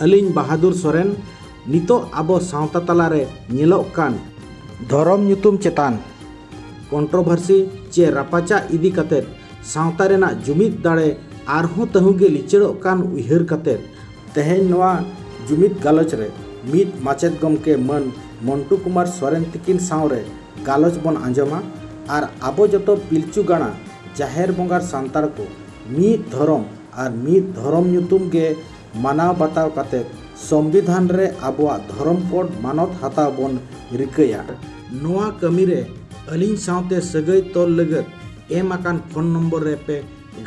ᱟᱹᱞᱤᱧ ᱵᱟᱦᱟᱫᱩᱨ ᱥᱚᱨᱮᱱ ᱱᱤᱛᱚᱜ ᱟᱵᱚ ᱥᱟᱶᱛᱟ ᱛᱟᱞᱟ ᱨᱮ ᱧᱮᱞᱚᱜ ᱠᱟᱱ ᱫᱷᱚᱨᱚᱢ ᱧᱩᱛᱩᱢ ᱪᱮᱛᱟᱱ ᱠᱚᱱᱴᱨᱚᱵᱷᱟᱨᱥᱤ ᱪᱮ ᱨᱟᱯᱟᱪᱟᱜ ᱤᱫᱤ ᱠᱟᱛᱮ ᱥᱟᱶᱛᱟ ᱨᱮᱱᱟᱜ ᱡᱩᱢᱤᱫ ᱫᱟᱲᱮ ᱟᱨᱦᱚᱸ ᱛᱟᱹᱦᱩ ᱜᱮ ᱞᱤᱪᱟᱹᱲᱚᱜ ᱠᱟᱱ ᱩᱭᱦᱟᱹᱨ ᱠᱟᱛᱮ ᱛᱮᱦᱮᱧ ᱱᱚᱣᱟ ᱡᱩᱢᱤᱫ ᱜᱟᱞᱚᱪ ᱨᱮ ᱢᱤᱫ ᱢᱟᱪᱮᱛ ᱜᱚᱢᱠᱮ ᱢᱟᱹᱱ ᱢᱚᱱᱴᱩ ᱠᱩᱢᱟᱨ ᱥᱚᱨᱮᱱ ᱛᱤᱠᱤᱱ ᱥᱟᱶ ᱨᱮ ᱜᱟᱞᱚᱪ ᱵᱚᱱ ᱟᱸᱡᱚᱢᱟ ᱟᱨ ᱟᱵᱚ ᱡᱚᱛᱚ ᱯᱤᱞᱪᱩ ᱜᱟᱬᱟ ᱡᱟᱦᱮᱨ ᱵᱚᱸᱜᱟᱨ ᱥᱟᱱᱛᱟᱲ ᱠᱚ ᱢᱤᱫ ᱫᱷᱚᱨᱚᱢ ᱟᱨ ᱢᱤᱫ ᱫᱷᱚᱨᱚᱢ ᱧᱩᱛᱩᱢ ᱜᱮ ᱢᱟᱱᱟᱣ ᱵᱟᱛᱟᱣ ᱠᱟᱛᱮ ᱥᱚᱢᱵᱤᱫᱷᱟᱱ ᱨᱮ ᱟᱵᱚᱣᱟᱜ ᱫᱷᱚᱨᱚᱢ ᱠᱳᱰ ᱢᱟᱱᱚᱛ ᱦᱟᱛᱟᱣ ᱵᱚᱱ ᱨᱤᱠᱟᱹᱭᱟ᱾ ᱱᱚᱣᱟ ᱠᱟᱹᱢᱤ ᱨᱮ ᱟᱹᱞᱤᱧ ᱥᱟᱶᱛᱮ ᱥᱟᱹᱜᱟᱹᱭ ᱛᱚᱞ ᱞᱟᱹᱜᱟᱹᱫ ᱮᱢ ᱟᱠᱟᱱ ᱯᱷᱳᱱ ᱱᱚᱢᱵᱚᱨ ᱨᱮ ᱯᱮ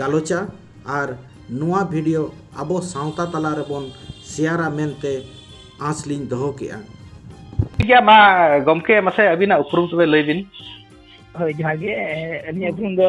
ᱜᱟᱞᱚᱪᱟ ᱟᱨ ᱱᱚᱣᱟ ᱵᱷᱤᱰᱤᱭᱳ ᱟᱵᱚ ᱥᱟᱶᱛᱟ ᱛᱟᱞᱟ ᱨᱮ ᱵᱚᱱ ᱥᱮᱭᱟᱨᱟ ᱢᱮᱱᱛᱮ ᱟᱸᱥ ᱞᱤᱧ ᱫᱚᱦᱚ ᱠᱮᱫᱼᱟ᱾ ᱴᱷᱤᱠ ᱜᱮᱭᱟ ᱢᱟ ᱜᱚᱢᱠᱮ ᱢᱟᱥᱮ ᱟᱹᱵᱤᱱᱟᱜ ᱩᱯᱨᱩᱢ ᱛᱚᱵᱮ ᱞᱟᱹᱭ ᱵᱤᱱ᱾ ᱦᱳᱭ ᱡᱚᱦᱟᱨ ᱜᱮ ᱟᱹᱞᱤᱧᱟᱜ ᱩᱯᱨᱩᱢ ᱫᱚ᱾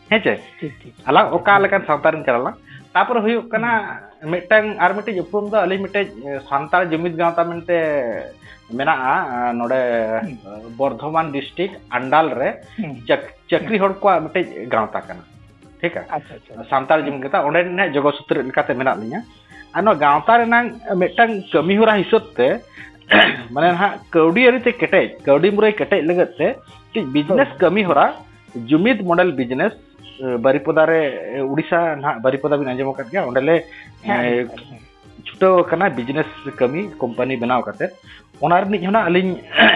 ᱦᱮᱸᱥᱮ ᱟᱞᱟᱝ ᱚᱠᱟ ᱞᱮᱠᱟᱱ ᱥᱟᱶᱛᱟ ᱨᱮᱱ ᱠᱟᱱᱟ ᱞᱟᱝ ᱛᱟᱯᱚᱨᱮ ᱦᱩᱭᱩᱜ ᱠᱟᱱᱟ ᱢᱤᱫᱴᱟᱝ ᱟᱨ ᱢᱤᱫᱴᱤᱡ ᱩᱯᱨᱩᱢ ᱫᱚ ᱟᱹᱞᱤᱧ ᱢᱤᱫᱴᱮᱡ ᱥᱟᱱᱛᱟᱲ ᱡᱩᱢᱤᱫ ᱜᱟᱶᱛᱟ ᱢᱮᱱᱛᱮ ᱢᱮᱱᱟᱜᱼᱟ ᱱᱚᱰᱮ ᱵᱚᱨᱫᱷᱚᱢᱟᱱ ᱰᱤᱥᱴᱨᱤᱠᱴ ᱟᱱᱰᱟᱞ ᱨᱮ ᱪᱟᱹᱠᱨᱤ ᱦᱚᱲ ᱠᱚᱣᱟᱜ ᱢᱤᱫᱴᱮᱡ ᱜᱟᱶᱛᱟ ᱠᱟᱱᱟ ᱴᱷᱤᱠ ᱥᱟᱱᱛᱟᱲ ᱡᱩᱢᱤᱫ ᱜᱟᱶᱛᱟ ᱚᱸᱰᱮ ᱨᱮᱱᱟᱜ ᱡᱚᱜᱚ ᱥᱩᱛᱨᱮ ᱞᱮᱠᱟᱛᱮ ᱢᱮᱱᱟᱜ ᱞᱤᱧᱟ ᱟᱨ ᱱᱚᱣᱟ ᱜᱟᱶᱛᱟ ᱨᱮᱱᱟᱝ ᱢᱤᱫᱴᱟᱝ ᱠᱟᱹᱢᱤ ᱦᱚᱨᱟ ᱦᱤᱥᱟᱹᱵ ᱛᱮ ᱢᱟᱱᱮ ᱱᱟᱦᱟᱜ ᱠᱟᱹᱣᱰᱤ ᱟᱹᱨᱤᱛᱮ ᱠᱮᱴᱮᱡ ᱠᱟᱹᱣᱰᱤ ᱢᱩᱨᱟᱹᱭ ᱠᱮᱴᱮᱡ ᱞᱟᱹᱜᱤᱫ ᱛᱮ ᱢᱤᱫᱴᱤᱡ ᱵᱤᱡᱽᱱᱮᱥ ᱠᱟᱹᱢᱤ ᱦᱚᱨᱟ ᱡᱩᱢᱤᱫ ᱢᱚᱰᱮᱞ ᱵᱤᱡᱽᱱᱮᱥ ᱵᱟᱨᱤᱯᱚᱫᱟ ᱨᱮ ᱩᱲᱤᱥᱥᱟ ᱱᱟᱦᱟᱜ ᱵᱟᱨᱤᱯᱚᱫᱟ ᱵᱤᱱ ᱟᱸᱡᱚᱢ ᱟᱠᱟᱫ ᱜᱮᱭᱟ ᱚᱸᱰᱮᱞᱮ ᱪᱷᱩᱴᱟᱹᱣ ᱟᱠᱟᱱᱟ ᱵᱤᱡᱽᱱᱮᱥ ᱠᱟᱹᱢᱤ ᱠᱳᱢᱯᱟᱱᱤ ᱵᱮᱱᱟᱣ ᱠᱟᱛᱮ ᱚᱱᱟ ᱨᱤᱱᱤᱡ ᱦᱚᱸ ᱟᱹᱞᱤᱧ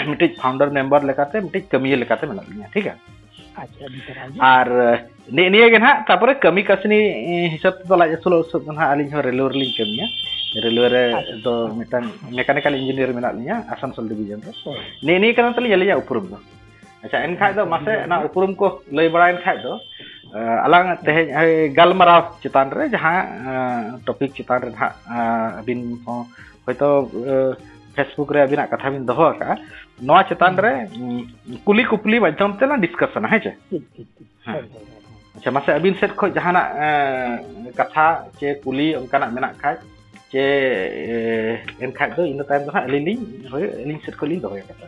ᱢᱤᱫᱴᱤᱡ ᱯᱷᱟᱣᱩᱱᱰᱟᱨ ᱢᱮᱢᱵᱟᱨ ᱞᱮᱠᱟᱛᱮ ᱢᱤᱫᱴᱤᱡ ᱠᱟᱹᱢᱤᱭᱟᱹ ᱞᱮᱠᱟᱛᱮ ᱢᱮᱱᱟᱜ ᱞᱤᱧᱟ ᱴᱷᱤᱠ ᱜᱮᱭᱟ ᱟᱨ ᱱᱤᱭᱟᱹ ᱱᱤᱭᱟᱹ ᱜᱮ ᱱᱟᱦᱟᱜ ᱛᱟᱯᱚᱨᱮ ᱠᱟᱹᱢᱤ ᱠᱟᱹᱥᱱᱤ ᱦᱤᱥᱟᱹᱵ ᱛᱮᱫᱚ ᱞᱟᱡ ᱟᱹᱥᱩᱞᱚᱜ ᱦᱤᱥᱟᱹᱵ ᱫᱚ ᱱᱟᱦᱟᱜ ᱟᱹᱞᱤᱧ ᱦᱚᱸ ᱨᱮᱞᱣᱮ ᱨᱮᱞᱤᱧ ᱠᱟᱹᱢᱤᱭᱟ ᱨᱮᱞᱣᱮ ᱨᱮ ᱫᱚ ᱢᱤᱫᱴᱟᱝ ᱢᱮᱠᱟᱱᱤᱠᱟᱞ ᱤᱧᱡᱤᱱᱤᱭᱟᱨ ᱢᱮᱱᱟᱜ ᱞᱤᱧᱟ ᱟᱥᱟᱱᱥᱳᱞ ᱰᱤᱵᱷᱤᱡᱚᱱ ᱨᱮ ᱱᱤᱭᱟᱹ ᱱᱤᱭᱟᱹ ᱠᱟᱱᱟ ᱛᱟᱹᱞᱤᱧ ᱟᱹᱞᱤᱧᱟᱜ ᱩᱯᱨᱩᱢ ᱫᱚ ᱟᱪᱪᱷᱟ ᱮᱱᱠᱷᱟᱡ ᱫᱚ ᱢᱟᱥᱮ ᱚᱱᱟ ᱩᱯᱨᱩᱢ ᱠᱚ ᱞᱟᱹᱭ ᱵᱟᱲᱟᱭᱮᱱ ᱠᱷᱟᱡ ᱫᱚ ᱟᱞᱟᱝ ᱛᱮᱦᱮᱧ ᱜᱟᱞᱢᱟᱨᱟᱣ ᱪᱮᱛᱟᱱ ᱨᱮ ᱡᱟᱦᱟᱸ ᱴᱚᱯᱤᱠ ᱪᱮᱛᱟᱱ ᱨᱮ ᱱᱟᱦᱟᱜ ᱟᱹᱵᱤᱱ ᱦᱚᱸ ᱦᱚᱭᱛᱳ ᱯᱷᱮᱥᱵᱩᱠ ᱨᱮ ᱟᱹᱵᱤᱱᱟᱜ ᱠᱟᱛᱷᱟ ᱵᱤᱱ ᱫᱚᱦᱚ ᱟᱠᱟᱜᱼᱟ ᱱᱚᱣᱟ ᱪᱮᱛᱟᱱ ᱨᱮ ᱠᱩᱞᱤ ᱠᱩᱯᱞᱤ ᱢᱟᱫᱽᱫᱷᱚᱢ ᱛᱮᱞᱟᱝ ᱰᱤᱥᱠᱟᱥᱚᱱᱟ ᱦᱮᱸ ᱪᱮ ᱟᱪᱪᱷᱟ ᱢᱟᱥᱮ ᱟᱹᱵᱤᱱ ᱥᱮᱫ ᱠᱷᱚᱱ ᱡᱟᱦᱟᱱᱟᱜ ᱠᱟᱛᱷᱟ ᱪᱮ ᱠᱩᱞᱤ ᱚᱱᱠᱟᱱᱟᱜ ᱢᱮᱱᱟᱜ ᱠᱷᱟᱡ ᱪᱮ ᱮᱱᱠᱷᱟᱡ ᱫᱚ ᱤᱱᱟᱹ ᱛᱟᱭᱚᱢ ᱫᱚ ᱦᱟᱸᱜ ᱟᱹᱞᱤᱧ ᱞᱤᱧ ᱦᱳᱭ ᱟᱹᱞᱤᱧ ᱥᱮᱫ ᱠᱷᱚᱱ ᱞᱤᱧ ᱫᱚᱦᱚᱭᱟ ᱠᱟᱛᱷᱟ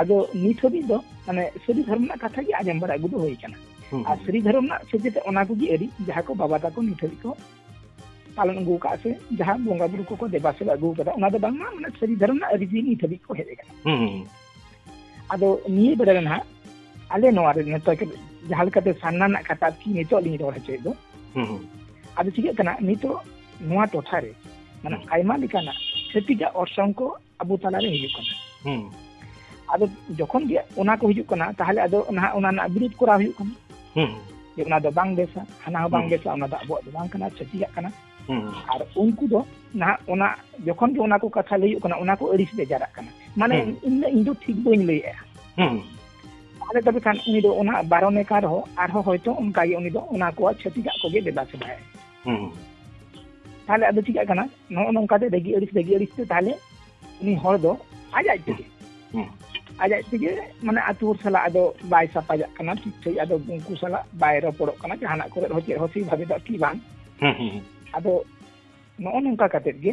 ᱟᱫᱚ ᱱᱤᱛ ᱦᱟᱹᱵᱤᱡ ᱫᱚ ᱢᱟᱱᱮ ᱥᱟᱹᱨᱤ ᱫᱷᱚᱨᱚᱢ ᱨᱮᱱᱟᱜ ᱠᱟᱛᱷᱟ ᱜᱮ ᱟᱸᱡᱚᱢ ᱵᱟᱲᱟ ᱟᱹᱜᱩ ᱫᱚ ᱦᱩᱭ ᱟᱠᱟᱱᱟ ᱟᱨ ᱥᱟᱹᱨᱤ ᱫᱷᱚᱨᱚᱢ ᱨᱮᱱᱟᱜ ᱥᱮᱪᱮᱫ ᱚᱱᱟ ᱠᱚᱜᱮ ᱟᱹᱰᱤ ᱡᱟᱦᱟᱸ ᱠᱚ ᱵᱟᱵᱟ ᱛᱟᱠᱚ ᱱᱤᱛ ᱦᱟᱹᱵᱤᱡ ᱠᱚ ᱯᱟᱞᱚᱱ ᱟᱹᱜᱩ ᱟᱠᱟᱫ ᱥᱮ ᱡᱟᱦᱟᱸ ᱵᱚᱸᱜᱟ ᱵᱩᱨᱩ ᱠᱚᱠᱚ ᱫᱮᱵᱟ ᱥᱮᱵᱟ ᱟᱹᱜᱩ ᱟᱠᱟᱫᱟ ᱚᱱᱟ ᱫᱚ ᱵᱟᱝᱢᱟ ᱢᱟᱱᱮ ᱥᱟᱹᱨᱤ ᱫᱷᱚᱨᱚᱢ ᱨᱮᱱᱟᱜ ᱟᱹᱨᱤᱪᱟᱹᱞᱤ ᱱᱤᱛ ᱦᱟᱹᱵᱤᱡ ᱠᱚ ᱦᱮᱡ ᱟᱠᱟᱱᱟ ᱟᱫᱚ ᱱᱤᱭᱟᱹ ᱵᱮᱲᱟ ᱨᱮ ᱱᱟᱦᱟᱜ ᱟᱞᱮ ᱱᱚᱣᱟ ᱨᱮ ᱱᱤᱛᱚᱜ ᱡᱟᱦᱟᱸ ᱞᱮᱠᱟᱛᱮ ᱥᱟᱨᱱᱟ ᱨᱮᱱᱟᱜ ᱠᱟᱛᱷᱟ ᱠᱤ ᱱᱤᱛᱚᱜ ᱞᱤᱧ ᱨᱚᱲ ᱦᱚᱪᱚᱭᱮᱫ ᱫᱚ ᱟᱫᱚ ᱪᱤᱠᱟᱹᱜ ᱠᱟᱱᱟ ᱱᱤᱛᱚᱜ ᱱᱚᱣᱟ ᱴᱚᱴᱷᱟ ᱨᱮ ᱢᱟᱱᱮ ᱟᱭᱢᱟ ᱞᱮᱠᱟᱱᱟᱜ ᱪᱷᱟᱹᱛᱤᱠᱟᱜ ᱚᱨᱥᱚᱝ ᱠᱚ ᱟᱵᱚ ᱛᱟᱞᱟᱨᱮ ᱦᱤᱡᱩᱜ ᱠᱟᱱᱟ ᱟᱫᱚ ᱡᱚᱠᱷᱚᱱ ᱜᱮ ᱚᱱᱟ ᱠᱚ ᱦᱤᱡᱩᱜ ᱠᱟᱱᱟ ᱛᱟᱦᱚᱞᱮ ᱟᱫᱚ ᱱᱟᱦᱟᱜ ᱚᱱᱟ ᱨᱮᱱᱟᱜ ᱵᱤᱨᱩᱫ ᱠᱚᱨᱟᱣ ᱦᱩᱭᱩᱜ ᱠᱟᱱᱟ ᱡᱮ ᱚᱱᱟ ᱫᱚ ᱵᱟᱝ ᱵᱮᱥᱟ ᱦᱟᱱᱟ ᱦᱚᱸ ᱵᱟᱝ ᱵᱮᱥᱟ ᱚᱱᱟ ᱫᱚ ᱟᱵᱚᱣᱟᱜ ᱫᱚ ᱵᱟᱝ ᱠᱟᱱᱟ ᱪᱷᱟᱹᱛᱤᱠᱟᱜ ᱠᱟᱱᱟ ᱟᱨ ᱩᱱᱠᱩ ᱫᱚ ᱱᱟᱦᱟᱜ ᱚᱱᱟ ᱡᱚᱠᱷᱚᱱ ᱜᱮ ᱚᱱᱟ ᱠᱚ ᱠᱟᱛᱷᱟ ᱞᱟᱹᱭ ᱦᱩᱭᱩᱜ ᱠᱟᱱᱟ ᱚᱱᱟ ᱠᱚ ᱟᱹᱲᱤᱥ ᱵᱮᱡᱟᱨᱟᱜ ᱠᱟᱱᱟ ᱢᱟᱱᱮ ᱤᱧ ᱤᱧ ᱫᱚ ᱴᱷᱤᱠ ᱵᱟᱹᱧ ᱞᱟᱹᱭᱮᱜᱼᱟ ᱛᱟᱦᱚᱞᱮ ᱛᱚᱵᱮ ᱠᱷᱟᱱ ᱩᱱᱤ ᱫᱚ ᱚᱱᱟ ᱵᱟᱨᱚᱱᱮ ᱠᱟᱱ ᱨᱮᱦᱚᱸ ᱟᱨᱦᱚᱸ ᱦᱚᱭᱛᱳ ᱚᱱᱠᱟᱜᱮ ᱩᱱᱤ ᱫᱚ ᱚᱱᱟ ᱠᱚᱣᱟᱜ ᱪᱷᱟᱹᱛᱤᱠᱟᱜ ᱠᱚᱜᱮ ᱫᱮᱵᱟ ᱥᱮᱵᱟᱭᱟ ᱛᱟᱦᱚᱞᱮ ᱟᱫᱚ ᱪᱤᱠᱟᱹᱜ ᱠᱟᱱᱟ ᱱᱚᱜᱼᱚ ᱱᱚᱝᱠᱟ ᱛᱮ ᱨᱟᱹᱜᱤ ᱟᱹᱲᱤᱥ ᱨᱟᱹᱜᱤ ᱟᱹᱲᱤᱥ ᱛᱮ ᱛᱟᱦᱚᱞᱮ ᱩᱱᱤ ᱦᱚᱲ ᱫᱚ ᱟᱡ ᱟᱡ ᱛᱮᱜᱮ ᱟᱡ ᱟᱡ ᱛᱮᱜᱮ ᱢᱟᱱᱮ ᱟᱛᱳ ᱦᱚᱲ ᱥᱟᱞᱟᱜ ᱟᱫᱚ ᱵᱟᱭ ᱥᱟᱯᱟᱡᱟᱜ ᱠᱟᱱᱟ ᱴᱷᱤᱠ ᱴᱷᱤᱠ ᱟᱫᱚ ᱩᱱᱠᱩ ᱥᱟᱞᱟᱜ ᱵᱟᱭ ᱨᱚᱯᱚᱲᱚᱜ ᱠᱟᱱᱟ ᱡᱟᱦᱟᱱᱟᱜ ᱠᱚᱨᱮ ᱦᱚᱸ ᱪᱮᱫ ᱦᱚᱸ ᱥᱮᱭ ᱵᱷᱟᱵᱮ ᱫᱚ ᱟᱨᱠᱤ ᱵᱟᱝ ᱟᱫᱚ ᱱᱚᱜᱼᱚ ᱱᱚᱝᱠᱟ ᱠᱟᱛᱮᱫ ᱜᱮ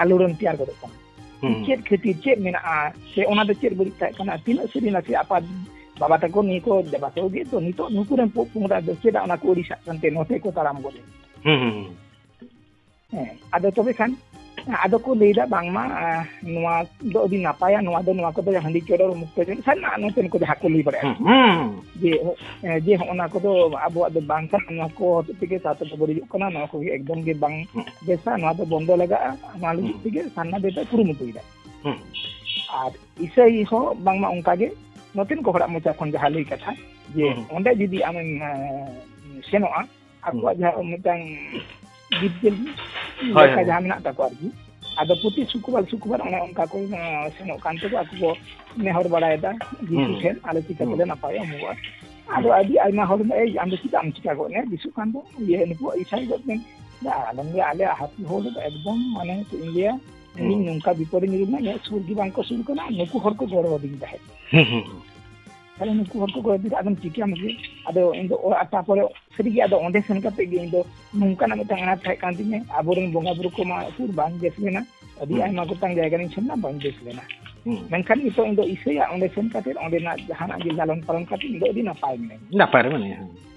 ᱟᱞᱳᱲᱚᱱ ᱛᱮᱭᱟᱨ ᱜᱚᱫᱚᱜ ᱠᱟᱱᱟ ᱪᱮᱫ ᱠᱷᱟᱹᱛᱤᱨ ᱪᱮᱫ ᱢᱮᱱᱟᱜᱼᱟ ᱥᱮ ᱚᱱᱟ ᱫᱚ ᱪᱮᱫ ᱵᱟᱹᱲᱤᱡ ᱛᱟᱦᱮᱸ ᱠᱟᱱᱟ ᱛᱤᱱᱟᱹᱜ ᱥᱟᱹᱨᱤ ᱱᱟᱥᱮ ᱟᱯᱟᱛ ᱵᱟᱵᱟ ᱛᱟᱠᱚ ᱱᱤᱭᱟᱹ ᱠᱚ ᱵᱟᱵᱟ ᱛᱟᱠᱚ ᱜᱮ ᱛᱚ ᱱᱤᱛᱚᱜ ᱱᱩᱠᱩ ᱨᱮᱱ ᱯᱚᱜ ᱯᱚᱝᱲᱟ ᱫᱚ ᱪᱮᱫᱟᱜ ᱚᱱᱟ ᱠᱚ ᱟᱹᱲᱤᱥᱟᱜ ᱠᱟᱱᱛᱮ ᱱᱚᱛᱮ ᱠᱚ ᱛᱟᱲᱟᱢ ᱜᱚᱫ ᱦᱮᱸ ᱟᱫᱚ ᱛᱚᱵᱮ ᱠᱷᱟᱱ ᱟᱫᱚ ᱠᱚ ᱞᱟᱹᱭᱫᱟ ᱵᱟᱝᱢᱟ ᱱᱚᱣᱟ ᱫᱚ ᱟᱹᱰᱤ ᱱᱟᱯᱟᱭᱟ ᱱᱚᱣᱟ ᱫᱚ ᱱᱚᱣᱟ ᱠᱚᱫᱚ ᱦᱟᱺᱰᱤ ᱪᱚᱰᱚᱨ ᱢᱩᱠᱛᱚ ᱡᱚᱱ ᱥᱟᱨᱱᱟ ᱱᱚᱛᱮᱱ ᱠᱚ ᱡᱟᱦᱟᱸ ᱠᱚ ᱞᱟᱹᱭ ᱵᱟᱲᱟᱭᱟ ᱡᱮ ᱡᱮ ᱦᱚᱸᱜᱼᱚ ᱱᱟ ᱠᱚᱫᱚ ᱟᱵᱚᱣᱟᱜ ᱫᱚ ᱵᱟᱝ ᱠᱟᱱᱟ ᱱᱚᱣᱟ ᱠᱚ ᱦᱚᱛᱮᱡ ᱛᱮᱜᱮ ᱥᱟᱶᱛᱟ ᱫᱚ ᱵᱟᱹᱲᱤᱡᱚᱜ ᱠᱟᱱᱟ ᱱᱚᱣᱟ ᱠᱚᱜᱮ ᱮᱠᱫᱚᱢ ᱜᱮ ᱵᱟᱝ ᱵᱮᱥᱟ ᱱᱚᱣᱟ ᱫᱚ ᱵᱚᱱᱫᱚ ᱞᱟᱜᱟᱜᱼᱟ ᱱᱚᱣᱟ ᱞᱟᱹᱜᱤᱫ ᱛᱮᱜᱮ ᱥᱟᱨᱱᱟ ᱫᱚ ᱮᱴᱟᱜ ᱠᱩᱨᱩᱢᱩᱴᱩᱭᱮᱫᱟ ᱟᱨ ᱤᱥᱟᱹᱭ ᱦᱚᱸ ᱵᱟᱝᱢᱟ ᱚᱱᱠᱟᱜᱮ ᱱᱚᱛᱮᱱ ᱠᱚ ᱦᱚᱲᱟᱜ ᱢᱚᱪᱟ ᱠᱷᱚᱱ ᱡᱟᱦᱟᱸ ᱞᱟᱹᱭ ᱠᱟᱛᱷᱟ ᱡᱮ ᱚᱸᱰᱮ ᱡᱩᱫᱤ ᱟᱢᱮᱢ ᱥᱮᱱᱚᱜᱼᱟ ᱟᱠᱚᱣᱟᱜ ᱡᱟᱦᱟᱸ ᱢᱤᱫᱴᱟᱝ ᱜᱤᱫᱽᱨᱟᱹ ᱞᱮᱠᱟ ᱡᱟᱦᱟᱸ ᱢᱮᱱᱟᱜ ᱛᱟᱠᱚᱣᱟ ᱟᱨᱠᱤ ᱟᱫᱚ ᱯᱨᱚᱛᱤ ᱥᱩᱠᱨᱵᱟᱨ ᱥᱩᱠᱨᱵᱟᱨ ᱚᱱᱮ ᱚᱱᱠᱟ ᱠᱚ ᱥᱮᱱᱚᱜ ᱠᱟᱱ ᱛᱮᱠᱚ ᱟᱠᱚ ᱠᱚ ᱱᱮᱦᱚᱨ ᱵᱟᱲᱟᱭᱮᱫᱟ ᱡᱤᱥᱩ ᱴᱷᱮᱱ ᱟᱞᱮ ᱪᱤᱠᱟ ᱛᱮᱞᱮ ᱱᱟᱯᱟᱭ ᱚᱢᱚᱜᱚᱜᱼᱟ ᱟᱫᱚ ᱟᱹᱰᱤ ᱟᱭᱢᱟ ᱦᱚᱲ ᱮᱭ ᱟᱢ ᱫᱚ ᱪᱮᱫᱟᱜ ᱮᱢ ᱪᱤᱠᱟ ᱜᱚᱫ ᱮᱱᱟ ᱡᱤᱥᱩ ᱠᱟᱱ ᱫᱚ ᱤᱭᱟᱹ ᱱᱩᱠᱩ ᱤᱥᱟᱭ ᱜᱚᱫ ᱮᱱ ᱟᱞᱚᱢ ᱞᱟᱹᱭᱟ ᱟᱞᱮ ᱦᱟᱹᱛᱤ ᱦᱚᱲ ᱫᱚ ᱮᱠᱫᱚᱢ ᱢᱟᱱᱮ ᱪᱮᱫ ᱤᱧ ᱞᱟᱹᱭᱟ ᱤᱧ ᱱᱚᱝᱠᱟ ᱵᱤᱯᱚᱫ ᱨᱮ ᱧᱩᱨᱩ ᱞᱮᱱᱟ ᱤᱧᱟᱹᱜ ᱥᱩᱨ ᱜᱮ ᱵᱟᱝᱠᱚ ᱥᱩᱨ ᱠᱟᱱᱟ ᱱᱩᱠᱩ ᱦᱚᱲ ᱠᱚ ᱜᱚᱲᱚ ᱟᱹᱫᱤᱧ ᱛᱟᱦᱮᱸᱫ ᱛᱟᱦᱚᱞᱮ ᱱᱩᱠᱩ ᱦᱚᱲ ᱠᱚᱠᱚ ᱤᱫᱤ ᱟᱫᱚᱢ ᱪᱤᱠᱟᱹᱭᱟᱢ ᱥᱮ ᱟᱫᱚ ᱤᱧ ᱫᱚ ᱚᱲᱟᱜ ᱛᱟᱯᱚᱨᱮ ᱥᱟᱹᱨᱤᱜᱮ ᱟᱫᱚ ᱚᱸᱰᱮ ᱥᱮᱱ ᱠᱟᱛᱮ ᱜᱮ ᱤᱧ ᱫᱚ ᱱᱚᱝᱠᱟᱱᱟᱜ ᱢᱤᱫᱴᱟᱝ ᱟᱱᱟᱴ ᱛᱟᱦᱮᱸ ᱠᱟᱱ ᱛᱤᱧᱟᱹ ᱟᱵᱚᱨᱮᱱ ᱵᱚᱸᱜᱟ ᱵᱩᱨᱩ ᱠᱚᱢᱟ ᱩᱠᱩᱨ ᱵᱟᱝ ᱵᱮᱥ ᱞᱮᱱᱟ ᱟᱹᱰᱤ ᱟᱭᱢᱟ ᱜᱚᱴᱟᱝ ᱡᱟᱭᱜᱟ ᱨᱤᱧ ᱥᱮᱱ ᱮᱱᱟ ᱵᱟᱹᱧ ᱵᱮᱥ ᱞᱮᱱᱟ ᱢᱮᱱᱠᱷᱟᱱ ᱱᱤᱛᱚᱜ ᱤᱧ ᱫᱚ ᱤᱥᱟᱹᱭᱟ ᱚᱸᱰᱮ ᱥᱮᱱ ᱠᱟᱛᱮ ᱚᱸᱰᱮᱱᱟᱜ ᱡᱟᱦᱟᱱᱟᱜ ᱜᱮ ᱞᱟᱞᱚᱱ ᱯᱟᱞᱚᱱ ᱠᱟᱛᱮ ᱤᱧ ᱫᱚ ᱟᱹᱰᱤ ᱱᱟᱯᱟᱭ ᱢᱤᱱᱟᱹᱧᱟ ᱱᱟᱯᱟᱭ ᱨᱮ ᱢᱮᱱᱟᱭᱟ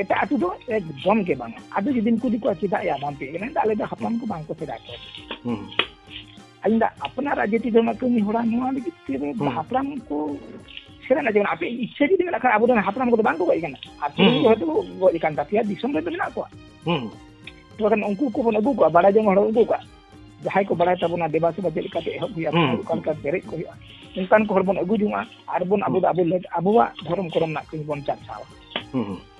ᱮᱴᱟᱜ ᱟᱹᱛᱩ ᱫᱚ ᱮᱠᱫᱚᱢ ᱜᱮ ᱵᱟᱝ ᱟᱫᱚ ᱡᱩᱫᱤᱢ ᱠᱩᱞᱤ ᱠᱚᱣᱟ ᱪᱮᱫᱟᱜ ᱭᱟ ᱵᱟᱢ ᱯᱮ ᱠᱟᱱᱟ ᱟᱞᱮ ᱫᱚ ᱦᱟᱯᱲᱟᱢ ᱠᱚ ᱵᱟᱝ ᱠᱚ ᱥᱮᱫᱟᱭ ᱠᱚ ᱟᱹᱞᱤᱧ ᱫᱚ ᱟᱯᱱᱟᱨᱟᱜ ᱡᱟᱹᱛᱤ ᱫᱷᱚᱨᱢ ᱠᱟᱹᱢᱤ ᱦᱚᱲᱟ ᱱᱚᱣᱟ ᱞᱟᱹᱜᱤᱫ ᱛᱮ ᱦᱟᱯᱲᱟᱢ ᱠᱚ ᱥᱮᱫᱟᱭ ᱡᱮᱢᱚᱱ ᱟᱯᱮ ᱤᱪᱪᱷᱟᱹ ᱡᱩᱫᱤ ᱢᱮᱱᱟᱜ ᱠᱷᱟᱱ ᱟᱵᱚᱨᱮᱱ ᱦᱟᱯᱲᱟᱢ ᱠᱚᱫᱚ ᱵᱟᱝ ᱠᱚ ᱜᱚᱡ ᱠᱟᱱᱟ ᱟᱹᱛᱩ ᱨᱮ ᱦᱚᱭᱛᱳ ᱜᱚᱡ ᱠᱟᱱ ᱛᱟᱯᱮᱭᱟ ᱫᱤᱥᱚᱢ ᱨᱮᱫᱚ ᱢᱮᱱᱟᱜ ᱠᱚᱣᱟ ᱛᱚᱠᱷᱚᱱ ᱩᱱᱠᱩ ᱠᱚᱵᱚᱱ ᱟᱹᱜᱩ ᱠᱚᱣᱟ ᱵᱟᱲᱟᱭ ᱡᱚᱝ ᱦᱚᱲ ᱟᱹᱜᱩ ᱠᱚᱣᱟ ᱡᱟᱦᱟᱸᱭ ᱠᱚ ᱵᱟᱲᱟᱭ ᱛᱟᱵᱚᱱᱟ ᱫᱮᱵᱟ ᱥᱮᱵᱟ ᱪᱮᱫ ᱞᱮᱠᱟᱛᱮ ᱮᱦᱚᱵ ᱦᱩᱭᱩᱜᱼᱟ ᱚᱠᱟ ᱞᱮᱠᱟ ᱯᱮᱨᱮᱡ ᱠᱚ ᱦᱩᱭᱩᱜᱼᱟ ᱚᱱᱠᱟᱱ ᱠᱚ ᱦᱚᱲ ᱵᱚᱱ ᱟᱹᱜᱩ ᱡᱚᱝᱟ ᱟᱨ ᱵᱚᱱ ᱟᱵᱚ ᱫᱚ ᱟᱵᱚᱣᱟᱜ ᱫᱷᱚᱨᱚᱢ ᱠᱚᱨᱚᱢ ᱨᱮᱱᱟᱜ ᱠᱟᱹᱢᱤ ᱵᱚᱱ ᱪᱟᱨᱪᱟᱣᱟ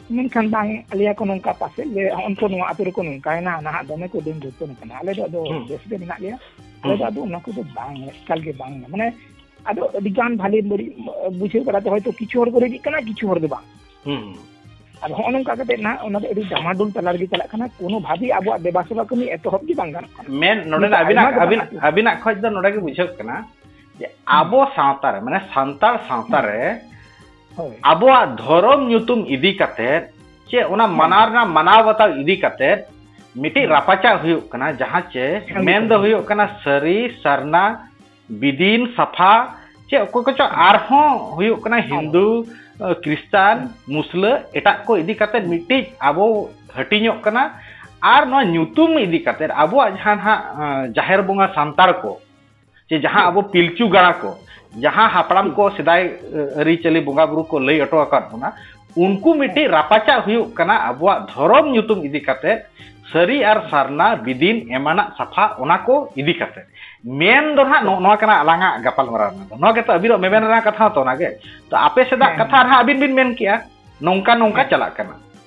ᱢᱮᱱᱠᱷᱟᱱ ᱵᱟᱝ ᱟᱞᱮᱭᱟ ᱠᱚ ᱱᱚᱝᱠᱟ ᱯᱟᱥᱮᱡ ᱞᱮ ᱚᱱᱛᱚ ᱱᱚᱣᱟ ᱟᱛᱳ ᱨᱮᱠᱚ ᱱᱚᱝᱠᱟᱭᱮᱱᱟ ᱱᱟᱦᱟᱜ ᱫᱚᱢᱮ ᱠᱚ ᱫᱤᱱ ᱫᱩᱨᱛᱚᱱ ᱠᱟᱱᱟ ᱟᱞᱮ ᱫᱚ ᱟᱫᱚ ᱵᱮᱥ ᱜᱮ ᱢᱮᱱᱟᱜ ᱞᱮᱭᱟ ᱟᱞᱮ ᱫᱚ ᱟᱫᱚ ᱚᱱᱟ ᱠᱚᱫᱚ ᱵᱟᱝ ᱮᱠᱟᱞ ᱜᱮ ᱵᱟᱝ ᱢᱟᱱᱮ ᱟᱫᱚ ᱟᱹᱰᱤ ᱜᱟᱱ ᱵᱷᱟᱞᱮ ᱵᱟᱹᱲᱤᱡ ᱵᱩᱡᱷᱟᱹᱣ ᱵᱟᱲᱟᱛᱮ ᱦᱚᱭᱛᱳ ᱠᱤᱪᱷᱩ ᱦᱚᱲ ᱠᱚ ᱨᱮᱡᱤᱜ ᱠᱟᱱᱟ ᱠᱤᱪᱷᱩ ᱦᱚᱲ ᱫᱚ ᱵᱟᱝ ᱟᱫᱚ ᱦᱚᱸᱜᱼᱚ ᱱᱚᱝᱠᱟ ᱠᱟᱛᱮ ᱱᱟᱜ ᱚᱱᱟ ᱫᱚ ᱟᱹᱰᱤ ᱰᱟᱢᱟᱰᱳᱞ ᱛᱟᱞᱟ ᱨᱮᱜᱮ ᱪᱟᱞᱟᱜ ᱠᱟᱱᱟ ᱠᱳᱱᱳ ᱵᱷᱟᱵᱮ ᱟᱵᱚᱣᱟᱜ ᱫᱮᱵᱟ ᱥᱮᱵᱟ ᱠᱟᱹᱢᱤ ᱮᱛᱚᱦᱚᱵ ᱜᱮ ᱵᱟᱝ ᱜᱟᱱᱚᱜ ᱠᱟᱱᱟ ᱢᱮᱱ ᱱᱚᱰᱮ ᱟᱹᱵᱤᱱᱟᱜ ᱟᱹᱵᱤᱱᱟᱜ ᱟᱹᱵᱤᱱᱟᱜ ᱠᱷᱚᱡ ᱫᱚ ᱱᱚᱰᱮ ᱜᱮ ᱵᱩᱡᱷᱟᱹᱜ ᱠᱟᱱᱟ ᱡᱮ ᱟᱵᱚ ᱥᱟᱶᱛᱟ ᱨᱮ ᱢᱟᱱᱮ ᱥᱟᱱᱛᱟᱲ ᱥᱟᱶᱛᱟ ᱨᱮ ᱦᱳᱭ ᱟᱵᱚᱣᱟᱜ ᱫᱷᱚᱨᱚᱢ ᱧᱩᱛᱩᱢ ᱤᱫᱤ ᱠᱟᱛᱮᱫ ᱪᱮ ᱚᱱᱟ ᱢᱟᱱᱟᱣ ᱨᱮᱱᱟᱜ ᱢᱟᱱᱟᱣ ᱵᱟᱛᱟᱣ ᱤᱫᱤ ᱠᱟᱛᱮᱫ ᱢᱤᱫᱴᱤᱡ ᱨᱟᱯᱟᱪᱟᱜ ᱦᱩᱭᱩᱜ ᱠᱟᱱᱟ ᱡᱟᱦᱟᱸ ᱪᱮ ᱦᱮᱸ, ᱢᱮᱱ ᱫᱚ ᱦᱮᱸ᱾ ᱦᱩᱭᱩᱜ ᱠᱟᱱᱟ ᱥᱟᱹᱨᱤ ᱥᱟᱨᱱᱟ ᱵᱤᱫᱤᱱ ᱥᱟᱯᱷᱟ ᱪᱮ ᱚᱠᱚᱭ ᱠᱚᱪᱚ ᱟᱨᱦᱚᱸ ᱦᱩᱭᱩᱜ ᱠᱟᱱᱟ ᱦᱤᱱᱫᱩ ᱟᱸ, ᱠᱨᱤᱥᱴᱟᱱ ᱢᱩᱥᱞᱟᱹ ᱮᱴᱟᱜ ᱠᱚ ᱤᱫᱤ ᱠᱟᱛᱮᱫ ᱢᱤᱫᱴᱤᱡ ᱟᱵᱚ ᱦᱟᱹᱴᱤᱧᱚᱜ ᱠᱟᱱᱟ ᱟᱨ ᱱᱚᱣᱟ ᱧᱩᱛᱩᱢ ᱤᱫᱤ ᱠᱟᱛᱮᱫ ᱟᱵᱚᱣᱟᱜ ᱡᱟᱦᱟᱸ ᱱᱟᱦᱟᱜ ᱟᱸ, ᱡᱟᱦᱮᱨ ᱵᱚᱸᱜᱟ ᱥᱟᱱᱛᱟᱲ ᱠᱚ ᱡᱮ ᱡᱟᱦᱟᱸ ᱟᱵᱚ ᱯᱤᱞᱪᱩ ᱜᱟᱲᱟ ᱠᱚ ᱡᱟᱦᱟᱸ ᱦᱟᱯᱲᱟᱢ ᱠᱚ ᱥᱮᱫᱟᱭ ᱟᱹᱨᱤᱪᱟᱹᱞᱤ ᱵᱚᱸᱜᱟ ᱵᱩᱨᱩ ᱠᱚ ᱞᱟᱹᱭ ᱦᱚᱴᱚ ᱟᱠᱟᱫ ᱵᱚᱱᱟ ᱩᱱᱠᱩ ᱢᱤᱫᱴᱤᱡ ᱨᱟᱯᱟᱪᱟᱜ ᱦᱩᱭᱩᱜ ᱠᱟᱱᱟ ᱟᱵᱚᱣᱟᱜ ᱫᱷᱚᱨᱚᱢ ᱧᱩᱛᱩᱢ ᱤᱫᱤ ᱠᱟᱛᱮ ᱥᱟᱹᱨᱤ ᱟᱨ ᱥᱟᱨᱱᱟ ᱵᱤᱫᱤᱱ ᱮᱢᱟᱱᱟᱜ ᱥᱟᱯᱷᱟ ᱚᱱᱟ ᱠᱚ ᱤᱫᱤ ᱠᱟᱛᱮ ᱢᱮᱱ ᱫᱚ ᱱᱟᱦᱟᱜ ᱱᱚᱜᱼᱚ ᱱᱚᱣᱟ ᱠᱟᱱᱟ ᱟᱞᱟᱝᱟᱜ ᱜᱟᱯᱟᱞᱢᱟᱨᱟᱣ ᱨᱮᱱᱟᱜ ᱫᱚ ᱱᱚᱣᱟ ᱜᱮᱛᱚ ᱟᱹᱵᱤᱱᱟᱜ ᱢᱮᱢᱮᱱ ᱨᱮᱱᱟᱜ ᱠᱟᱛᱷᱟ ᱦᱚᱸᱛᱚ ᱚᱱᱟᱜᱮ ᱛᱚ ᱟᱯᱮ ᱥᱮᱫᱟᱜ ᱠᱟᱛᱷᱟ ᱨᱮᱦᱟᱸᱜ ᱟᱹᱵᱤᱱ ᱵᱤᱱ ᱢᱮᱱ ᱠᱮᱜᱼᱟ ᱱᱚᱝᱠᱟ ᱱᱚᱝᱠᱟ ᱪᱟᱞᱟᱜ ᱠᱟᱱᱟ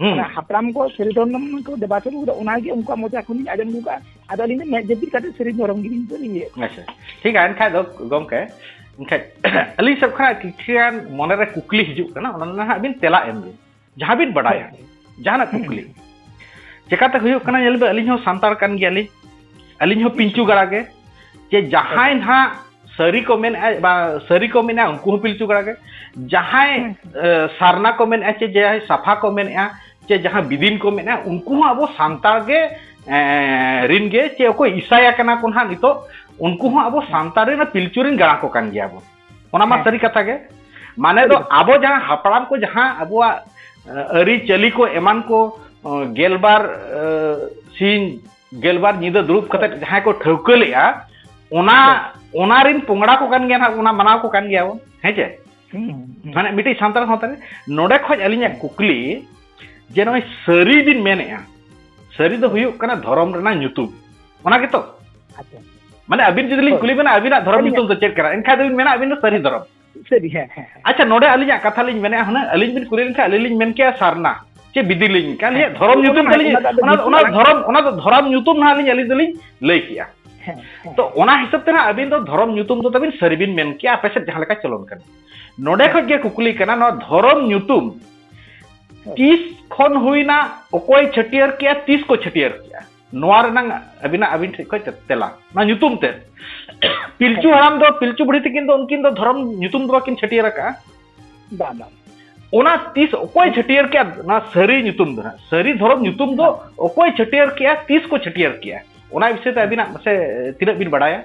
ᱦᱩᱸ ᱦᱟᱯᱲᱟᱢ ᱠᱚ ᱥᱟᱹᱨᱤ ᱫᱷᱚᱨᱚᱢ ᱠᱚ ᱫᱮᱵᱟ ᱥᱮᱵᱟ ᱠᱟᱫᱟ ᱚᱱᱟᱜᱮ ᱩᱱᱠᱩᱣᱟᱜ ᱢᱚᱪᱟ ᱠᱷᱚᱱ ᱤᱧ ᱟᱸᱡᱚᱢ ᱟᱹᱜᱩ ᱠᱟᱜᱼᱟ ᱟᱫᱚ ᱟᱹᱞᱤᱧ ᱫᱚ ᱢᱮᱫ ᱡᱟᱹᱯᱤᱫ ᱠᱟᱛᱮ ᱥᱟᱹᱨᱤ ᱫᱷᱚᱨᱚᱢ ᱜᱮᱞᱤᱧ ᱞᱤᱧ ᱤᱭᱟᱹ ᱟᱪᱪᱷᱟ ᱴᱷᱤᱠ ᱜᱮᱭᱟ ᱮᱱᱠᱷᱟᱡ ᱫᱚ ᱜᱚᱢᱠᱮ ᱮᱱᱠᱷᱟᱡ ᱟᱹᱞᱤᱧ ᱥᱮᱫ ᱠᱷᱚᱱᱟᱜ ᱠᱤᱪᱷᱩᱜᱟᱱ ᱢᱚᱱᱮᱨᱮ ᱠᱩᱠᱞᱤ ᱦᱤᱡᱩᱜ ᱠᱟᱱᱟ ᱚᱱᱟ ᱨᱮᱱᱟᱜ ᱦᱟᱸᱜ ᱵᱤᱱ ᱛᱮᱞᱟ ᱮᱢ ᱵᱤᱱ ᱡᱟᱦᱟᱸ ᱵᱤᱱ ᱵᱟᱰᱟᱭᱟ ᱡᱟᱦᱟᱱᱟᱜ ᱠᱩᱠᱞᱤ ᱪᱮᱠᱟᱛᱮ ᱦᱩᱭᱩᱜ ᱠᱟᱱᱟ ᱧᱮᱞ ᱵᱤᱱ ᱟᱹᱞᱤᱧ ᱦᱚᱸ ᱥᱟᱱᱛᱟᱲ ᱠᱟᱱ ᱜᱮᱭᱟᱞᱤᱧ ᱟᱹᱞᱤᱧ ᱦᱚᱸ ᱯᱤᱞᱪᱩ ᱜᱟᱲᱟ ᱜᱮ ᱡᱮ ᱡᱟᱦᱟᱸᱭ ᱱᱟᱦᱟᱜ ᱥᱟᱹᱨᱤ ᱠᱚ ᱢᱮᱱᱮᱫᱼᱟ ᱵᱟ ᱥᱟᱹᱨᱤ ᱠᱚ ᱢᱮᱱᱮᱫᱼᱟ ᱩᱱᱠᱩ ᱦᱚᱸ ᱯᱤᱞᱪᱩ ᱜᱟᱲᱟ ᱜᱮ ᱡᱟᱦᱟᱸᱭ ᱥᱟᱨᱱᱟ ᱠᱚ ᱢᱮᱱᱮᱫᱼᱟ ᱪᱮ ᱡᱟᱦᱟᱸᱭ ᱥᱟᱯᱷᱟ ᱠᱚ ᱢᱮᱱᱮᱫᱼᱟ ᱪᱮ ᱡᱟᱦᱟᱸ ᱵᱤᱫᱤᱱ ᱠᱚ ᱢᱮᱱᱮᱫᱼᱟ ᱩᱱᱠᱩ ᱦᱚᱸ ᱟᱵᱚ ᱥᱟᱱᱛᱟᱲ ᱜᱮ ᱨᱤᱱ ᱜᱮ ᱪᱮ ᱚᱠᱚᱭ ᱤᱥᱟᱭᱟ ᱠᱟᱱᱟ ᱠᱚ ᱱᱟᱦᱟᱜ ᱱᱤᱛᱚᱜ ᱩᱱᱠᱩ ᱦᱚᱸ ᱟᱵᱚ ᱥᱟᱱᱛᱟᱲ ᱨᱮᱱ ᱯᱤᱞᱪᱩ ᱨᱮᱱ ᱜᱟᱲᱟ ᱠᱚ ᱠᱟᱱ ᱜᱮᱭᱟ ᱵᱚᱱ ᱚᱱᱟ ᱢᱟ ᱥᱟᱹᱨᱤ ᱠᱟᱛᱷᱟ ᱜᱮ ᱢᱟᱱᱮ ᱫᱚ ᱟᱵᱚ ᱡᱟᱦᱟᱸ ᱦᱟᱯᱲᱟᱢ ᱠᱚ ᱡᱟᱦᱟᱸ ᱟᱵᱚᱣᱟᱜ ᱟᱹᱨᱤᱪᱟᱹᱞᱤ ᱠᱚ ᱮᱢᱟᱱ ᱠᱚ ᱜᱮᱞᱵᱟᱨ ᱥᱤᱧ ᱜᱮᱞᱵᱟᱨ ᱧᱤᱫᱟᱹ ᱫᱩᱲᱩᱵ ᱠᱟᱛᱮ ᱡᱟᱦᱟᱸᱭ ᱠᱚ ᱴᱷᱟᱹᱣᱠᱟᱹ ᱞᱮᱜᱼᱟ ᱚᱱᱟ ᱚᱱᱟ ᱨᱤᱱ ᱯᱚᱝᱲᱟ ᱠᱚ ᱠᱟᱱ ᱜᱮᱭᱟ ᱱᱟᱜ ᱚᱱᱟ ᱢᱟᱱᱟᱣ ᱠᱚ ᱠᱟᱱ ᱜᱮᱭᱟ ᱵᱚᱱ ᱦᱮᱸ ᱪᱮ ᱢᱟᱱᱮ ᱢᱤᱫᱴᱤᱡ ᱥᱟᱱᱛᱟᱲ ᱥᱟᱶᱛᱟ ᱨᱮ ᱱᱚᱰᱮ ᱠᱷᱚᱡ ᱟᱹᱞᱤᱧᱟᱜ ᱠᱩᱠᱞᱤ ᱡᱮ ᱱᱚᱜᱼᱚᱭ ᱥᱟᱹᱨᱤ ᱵᱤᱱ ᱢᱮᱱᱮᱜᱼᱟ ᱥᱟᱹᱨᱤ ᱫᱚ ᱦᱩᱭᱩᱜ ᱠᱟᱱᱟ ᱫᱷᱚᱨᱚᱢ ᱨᱮᱱᱟᱜ ᱧᱩᱛᱩᱢ ᱚᱱᱟ ᱜᱮᱛᱚ ᱢᱟᱱᱮ ᱟᱹᱵᱤᱱ ᱡᱩᱫᱤ ᱞᱤᱧ ᱠᱩᱞᱤ ᱵᱮᱱᱟ ᱟᱹᱵᱤᱱᱟᱜ ᱫᱷᱚᱨᱚᱢ ᱧᱩᱛᱩᱢ ᱫᱚ ᱪᱮᱫ ᱠᱟᱱᱟ ᱮᱱᱠᱷᱟᱱ ᱫᱚᱵᱤᱱ ᱢᱮᱱᱟ ᱟᱹᱵᱤᱱ ᱫᱚ ᱥᱟᱹᱨᱤ ᱫᱷᱚᱨᱚᱢ ᱥᱟᱹᱨᱤ ᱦᱮᱸ ᱦᱮᱸ ᱟᱪᱪᱷᱟ ᱱᱚᱰᱮ ᱟᱹᱞᱤᱧᱟᱜ ᱠᱟᱛᱷᱟ ᱞᱤᱧ ᱢᱮᱱᱮᱫᱼᱟ ᱦᱩᱱᱟᱹᱝ ᱟᱹᱞᱤᱧ ᱵᱤᱱ ᱠᱩᱞᱤ ᱞᱮᱱᱠᱷᱟᱱ ᱟᱹᱞᱤᱧ ᱞᱤᱧ ᱢᱮᱱ ᱠᱮᱭᱟ ᱥᱟᱨᱱᱟ ᱪᱮ ᱵᱤᱫᱤᱞᱤᱧ ᱠᱟᱱ ᱦᱮᱸ ᱫᱷᱚᱨᱚᱢ ᱧᱩᱛᱩᱢ ᱛᱟᱹᱞᱤᱧ ᱚᱱᱟ ᱚᱱᱟ ᱫᱷᱚᱨᱚᱢ ᱚᱱᱟ ᱫᱚ ᱫᱷᱚᱨᱚᱢ ᱧᱩᱛᱩᱢ ᱱᱟᱦᱟᱜ ᱟᱹᱞᱤᱧ ᱟᱹᱞᱤᱧ ᱫᱚᱞᱤᱧ ᱞᱟᱹᱭ ᱠᱮᱜᱼᱟ ᱛᱚ ᱚᱱᱟ ᱦᱤᱥᱟᱹᱵ ᱛᱮ ᱱᱟᱦᱟᱜ ᱟᱹᱵᱤᱱ ᱫᱚ ᱫᱷᱚᱨᱚᱢ ᱧᱩᱛᱩᱢ ᱫᱚ ᱛᱟᱹᱵᱤᱱ ᱥᱟᱹᱨᱤ ᱵᱤᱱ ᱢᱮᱱ ᱠᱮᱜᱼᱟ ᱟᱯᱮ ᱥᱮᱫ ᱡᱟᱦᱟᱸ ᱞᱮᱠᱟ ᱪᱚᱞᱚᱱ ᱠᱟᱱᱟ ᱱᱚᱰᱮ ᱠᱷᱚᱱ ᱜᱮ ᱠᱩᱠᱞᱤ ᱠᱟᱱᱟ ᱱᱚᱣᱟ ᱫᱷᱚᱨᱚᱢ ᱧᱩᱛᱩᱢ ᱛᱤᱥ ᱠᱷᱚᱱ ᱦᱩᱭᱱᱟ ᱚᱠᱚᱭ ᱪᱷᱟᱹᱴᱭᱟᱹᱨ ᱠᱮᱜᱼᱟ ᱛᱤᱥ ᱠᱚ ᱪᱷᱟᱹᱴᱭᱟᱹᱨ ᱠᱮᱜᱼᱟ ᱱᱚᱣᱟ ᱨᱮᱱᱟᱝ ᱟᱹᱵᱤᱱᱟᱜ ᱟᱹᱵᱤᱱ ᱴᱷᱮᱱ ᱠᱷᱚᱱ ᱛᱮᱞᱟ ᱱᱚᱣᱟ ᱧᱩᱛᱩᱢ ᱛᱮ ᱯᱤᱞᱪᱩ ᱦᱟᱲᱟᱢ ᱫᱚ ᱯᱤᱞᱪᱩ ᱵᱩᱲᱦᱤ ᱛᱤᱠᱤᱱ ᱫᱚ ᱩᱱᱠᱤᱱ ᱫᱚ ᱫᱷᱚᱨᱚᱢ ᱧᱩᱛᱩᱢ ᱫᱚ ᱵᱟᱹᱠᱤᱱ ᱪᱷᱟᱹᱴᱭᱟᱹᱨ ᱟᱠᱟᱜᱼᱟ ᱵᱟᱝ ᱵᱟᱝ ᱚᱱᱟ ᱛᱤᱥ ᱚᱠᱚᱭ ᱪᱷᱟᱹᱴᱭᱟᱹᱨ ᱠᱮᱜᱼᱟ ᱱᱚᱣᱟ ᱥᱟᱹᱨᱤ ᱧᱩᱛᱩᱢ ᱫᱚ ᱦᱟᱸᱜ ᱥᱟᱹᱨᱤ ᱫᱷᱚᱨᱚᱢ ᱧᱩᱛᱩᱢ ᱫᱚ ᱚᱠᱚᱭ ᱪᱷᱟᱹᱴᱭᱟᱹᱨ ᱠᱮᱜᱼᱟ ᱛᱤᱥ ᱠᱚ ᱪᱷᱟᱹᱴᱭᱟᱹᱨ ᱠᱮᱜᱼᱟ ᱚᱱᱟ ᱵᱤᱥᱚᱭ ᱛᱮ ᱟᱹᱵᱤᱱᱟᱜ ᱢᱟᱥᱮ ᱛᱤᱱᱟᱹᱜ ᱵᱤᱱ ᱵᱟᱲᱟᱭᱟ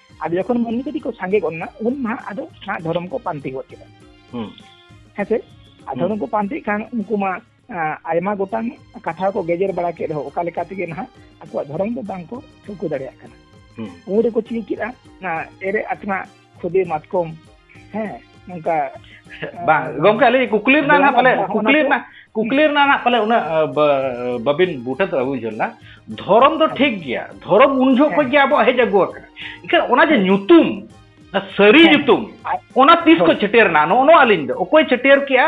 ᱟᱫᱚ ᱡᱚᱠᱷᱚᱱ ᱢᱟᱹᱱᱢᱤ ᱠᱟᱹᱴᱤᱡ ᱠᱚ ᱥᱟᱸᱜᱮ ᱜᱚᱫ ᱮᱱᱟ ᱩᱱ ᱱᱟᱦᱟᱜ ᱟᱫᱚ ᱱᱟᱦᱟᱜ ᱫᱷᱚᱨᱚᱢ ᱠᱚ ᱯᱟᱱᱛᱮ ᱜᱚᱫ ᱠᱮᱫᱟ ᱦᱮᱸ ᱥᱮ ᱟᱨ ᱫᱷᱚᱨᱚᱢ ᱠᱚ ᱯᱟᱱᱛᱮ ᱠᱷᱟᱱ ᱩᱱᱠᱩ ᱢᱟ ᱟᱭᱢᱟ ᱜᱚᱴᱟᱝ ᱠᱟᱛᱷᱟ ᱠᱚ ᱜᱮᱡᱮᱨ ᱵᱟᱲᱟ ᱠᱮᱫ ᱨᱮᱦᱚᱸ ᱚᱠᱟ ᱞᱮᱠᱟ ᱛᱮᱜᱮ ᱱᱟᱦᱟᱜ ᱟᱠᱚᱣᱟᱜ ᱫᱷᱚᱨᱚᱢ ᱫᱚ ᱵᱟᱝ ᱠᱚ ᱴᱷᱟᱹᱣᱠᱟᱹ ᱫᱟᱲᱮᱭᱟᱜ ᱠᱟᱱᱟ ᱩᱱ ᱨᱮᱠᱚ ᱪᱤᱠᱟᱹ ᱠᱮᱫᱟ ᱮᱨᱮ ᱟᱛᱢᱟ ᱠᱷᱩᱫᱮ ᱢᱟᱛᱠᱚᱢ ᱦᱮᱸ ᱚᱱᱠᱟ ᱵᱟᱝ ᱜᱚᱝᱠᱮ ᱟᱹᱞᱤᱧ ᱠᱩᱠᱞᱤ ᱨᱮᱱᱟᱜ ᱱᱟᱦᱟᱜ ᱯᱟᱞᱮ ᱠᱩᱠᱞᱤ ᱨᱮᱱᱟᱜ ᱠᱩᱠᱞᱤ ᱨᱮᱱᱟᱜ ᱱᱟᱦᱟᱜ ᱯᱟᱞᱮ ᱩᱱᱟᱹᱜ ᱵᱟᱹᱵᱤᱱ ᱵᱩᱴᱟᱹ ᱫᱚ ᱟᱹᱜᱩ ᱡᱚᱞᱟ ᱫᱷᱚᱨᱚᱢ ᱫᱚ ᱴᱷᱤᱠ ᱜᱮᱭᱟ ᱫᱷᱚᱨᱚᱢ ᱩᱱ ᱡᱚᱦᱚᱜ ᱠᱷᱚᱱ ᱜᱮ ᱟᱵᱚᱣᱟᱜ ᱦᱮᱡ ᱟᱹᱜᱩ ᱟᱠᱟᱱᱟ ᱮᱱᱠᱷᱟᱱ ᱚᱱᱟ ᱡᱮ ᱧᱩᱛᱩᱢ ᱥᱟᱹᱨᱤ ᱧᱩᱛᱩᱢ ᱚᱱᱟ ᱛᱤᱥ ᱠᱚ ᱪᱷᱟᱹᱴᱭᱟᱹᱨ ᱮᱱᱟ ᱱᱚᱜᱼᱚ ᱱᱚᱣᱟ ᱟᱹᱞᱤᱧ ᱫᱚ ᱚᱠᱚᱭ ᱪᱷᱟᱹᱴᱭᱟᱹᱨ ᱠᱮᱜᱼᱟ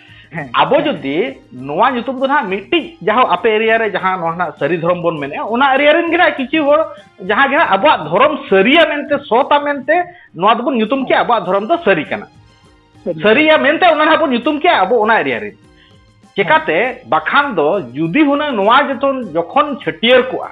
ᱟᱵᱚ ᱡᱩᱫᱤ ᱱᱚᱣᱟ ᱧᱩᱛᱩᱢ ᱫᱚ ᱱᱟᱦᱟᱜ ᱢᱤᱫᱴᱤᱡ ᱡᱟᱦᱟᱸ ᱟᱯᱮ ᱮᱨᱤᱭᱟ ᱨᱮ ᱡᱟᱦᱟᱸ ᱱᱚᱣᱟ ᱱᱟᱦᱟᱜ ᱥᱟᱹᱨᱤ ᱫᱷᱚᱨᱚᱢ ᱵᱚᱱ ᱢᱮᱱᱮᱜᱼᱟ ᱚᱱᱟ ᱮᱨᱤᱭᱟ ᱨᱮᱱ ᱜᱮ ᱱᱟᱦᱟᱜ ᱠᱤᱪᱷᱩ ᱦᱚᱲ ᱡᱟᱦᱟᱸ ᱜᱮ ᱱᱟᱦᱟᱜ ᱟᱵᱚᱣᱟᱜ ᱫᱷᱚᱨᱚᱢ ᱥᱟᱹᱨᱤᱭᱟ ᱢᱮᱱᱛᱮ ᱥᱚᱛᱟ ᱢᱮᱱᱛᱮ ᱱᱚᱣᱟ ᱫᱚᱵᱚᱱ ᱧᱩᱛᱩᱢ ᱠᱮᱜᱼᱟ ᱟᱵᱚᱣᱟᱜ ᱫᱷᱚᱨᱚᱢ ᱫᱚ ᱥᱟᱹᱨᱤ ᱠᱟᱱᱟ ᱥᱟᱹᱨᱤᱭᱟ ᱢᱮᱱᱛᱮ ᱚᱱᱟ ᱱᱟᱦᱟᱜ ᱵᱚᱱ ᱧᱩᱛᱩᱢ ᱠᱮᱜᱼᱟ ᱟᱵᱚ ᱚᱱᱟ ᱮᱨᱤᱭᱟ ᱨᱮ ᱪᱮᱠᱟᱛᱮ ᱵᱟᱠᱷᱟᱱ ᱫᱚ ᱡᱩᱫᱤ ᱦᱩᱱᱟᱹᱝ ᱱᱚᱣᱟ ᱡᱚᱛᱚᱱ ᱡᱚᱠᱷᱚᱱ ᱪᱷᱟᱹᱴᱭᱟᱹᱨ ᱠᱚᱜᱼᱟ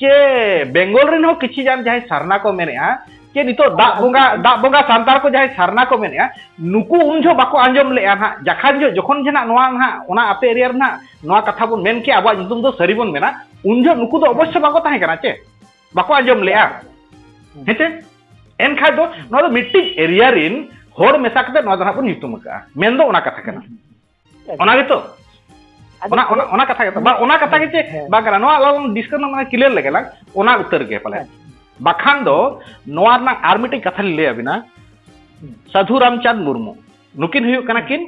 ᱪᱮ ᱵᱮᱝᱜᱚᱞ ᱨᱮᱱ ᱦᱚᱸ ᱠᱤᱪᱷᱤ ᱜᱟᱱ ᱡᱟᱦᱟᱸᱭ ᱥᱟᱨᱱᱟ ᱠᱚ ᱢᱮᱱᱮᱜᱼᱟ ᱪᱮ ᱱᱤᱛᱚᱜ ᱫᱟᱜ ᱵᱚᱸᱜᱟ ᱫᱟᱜ ᱵᱚᱸᱜᱟ ᱥᱟᱱᱛᱟᱲ ᱠᱚ ᱡᱟᱦᱟᱸᱭ ᱥᱟᱨᱱᱟ ᱠᱚ ᱢᱮᱱᱮᱜᱼᱟ ᱱᱩᱠᱩ ᱩᱱ ᱡᱚᱦᱚᱜ ᱵᱟᱠᱚ ᱟᱸᱡᱚᱢ ᱞᱮᱜᱼᱟ ᱱᱟᱜ ᱡᱟᱠᱷᱟᱱ ᱡᱚᱦᱚᱜ ᱡᱚᱠᱷᱚᱱ ᱡᱮ ᱱᱟᱜ ᱱᱚᱣᱟ ᱱᱟᱜ ᱚᱱᱟ ᱟᱯᱮ ᱮᱨᱤᱭᱟ ᱨᱮ ᱱᱟᱜ ᱱᱚᱣᱟ ᱠᱟᱛᱷᱟ ᱵᱚᱱ ᱢᱮᱱ ᱠᱮᱜᱼᱟ ᱟᱵᱚᱣᱟᱜ ᱧᱩᱛᱩᱢ ᱫᱚ ᱥᱟᱹᱨᱤ ᱵᱚᱱ ᱢᱮᱱᱟ ᱩᱱ ᱡᱚᱦᱚᱜ ᱱᱩᱠᱩ ᱫᱚ ᱚᱵᱚᱥᱥᱚ ᱵᱟᱠᱚ ᱛᱟᱦᱮᱸ ᱠᱟᱱᱟ ᱪᱮ ᱵᱟᱠᱚ ᱟᱸᱡᱚᱢ ᱞᱮᱜᱼᱟ ᱦᱮᱸᱪᱮ ᱮᱱᱠᱷᱟᱡ ᱫᱚ ᱱᱚᱣᱟ ᱫᱚ ᱢᱤᱫᱴᱤᱡ ᱮᱨᱤᱭᱟ ᱨᱤᱱ ᱦᱚᱲ ᱢᱮᱥᱟ ᱠᱟᱛᱮ ᱱᱚᱣᱟ ᱫᱚ ᱱᱟᱜ ᱵᱚᱱ ᱧᱩᱛᱩᱢ ᱟᱠᱟᱜᱼᱟ ᱢᱮᱱ ᱫᱚ ᱚᱱᱟ ᱠᱟᱛᱷᱟ ᱠᱟᱱᱟ ᱚᱱᱟ ᱜᱮᱛᱚ ᱚᱱᱟ ᱚᱱᱟ ᱚᱱᱟ ᱠᱟᱛᱷᱟ ᱜᱮᱛᱚ ᱵᱟᱝ ᱚᱱᱟ ᱠᱟᱛᱷᱟ ᱜᱮ ᱪᱮ ᱵᱟᱝ ᱠᱟᱱᱟ ᱱᱚᱣᱟ ᱟᱞᱟᱝ ᱰᱤᱥᱠᱟᱥ ᱢᱟᱱᱮ ᱠᱞᱤᱭᱟᱨ ᱞᱮᱜᱮ ᱞᱟᱝ ᱚᱱᱟ ᱩᱛᱟᱹᱨ ᱜᱮ ᱯᱟᱞᱮ ᱵᱟᱠᱷᱟᱱ ᱫᱚ ᱱᱚᱣᱟ ᱨᱮᱱᱟᱜ ᱟᱨ ᱢᱤᱫᱴᱤᱡ ᱠᱟᱛᱷᱟ ᱞᱤᱧ ᱞᱟᱹᱭ ᱟᱵᱤᱱᱟ ᱥᱟᱫᱷᱩ ᱨᱟᱢᱪᱟᱸᱫᱽ ᱢᱩᱨᱢᱩ ᱱᱩᱠᱤᱱ ᱦᱩᱭᱩᱜ ᱠᱟᱱᱟ ᱠᱤᱱ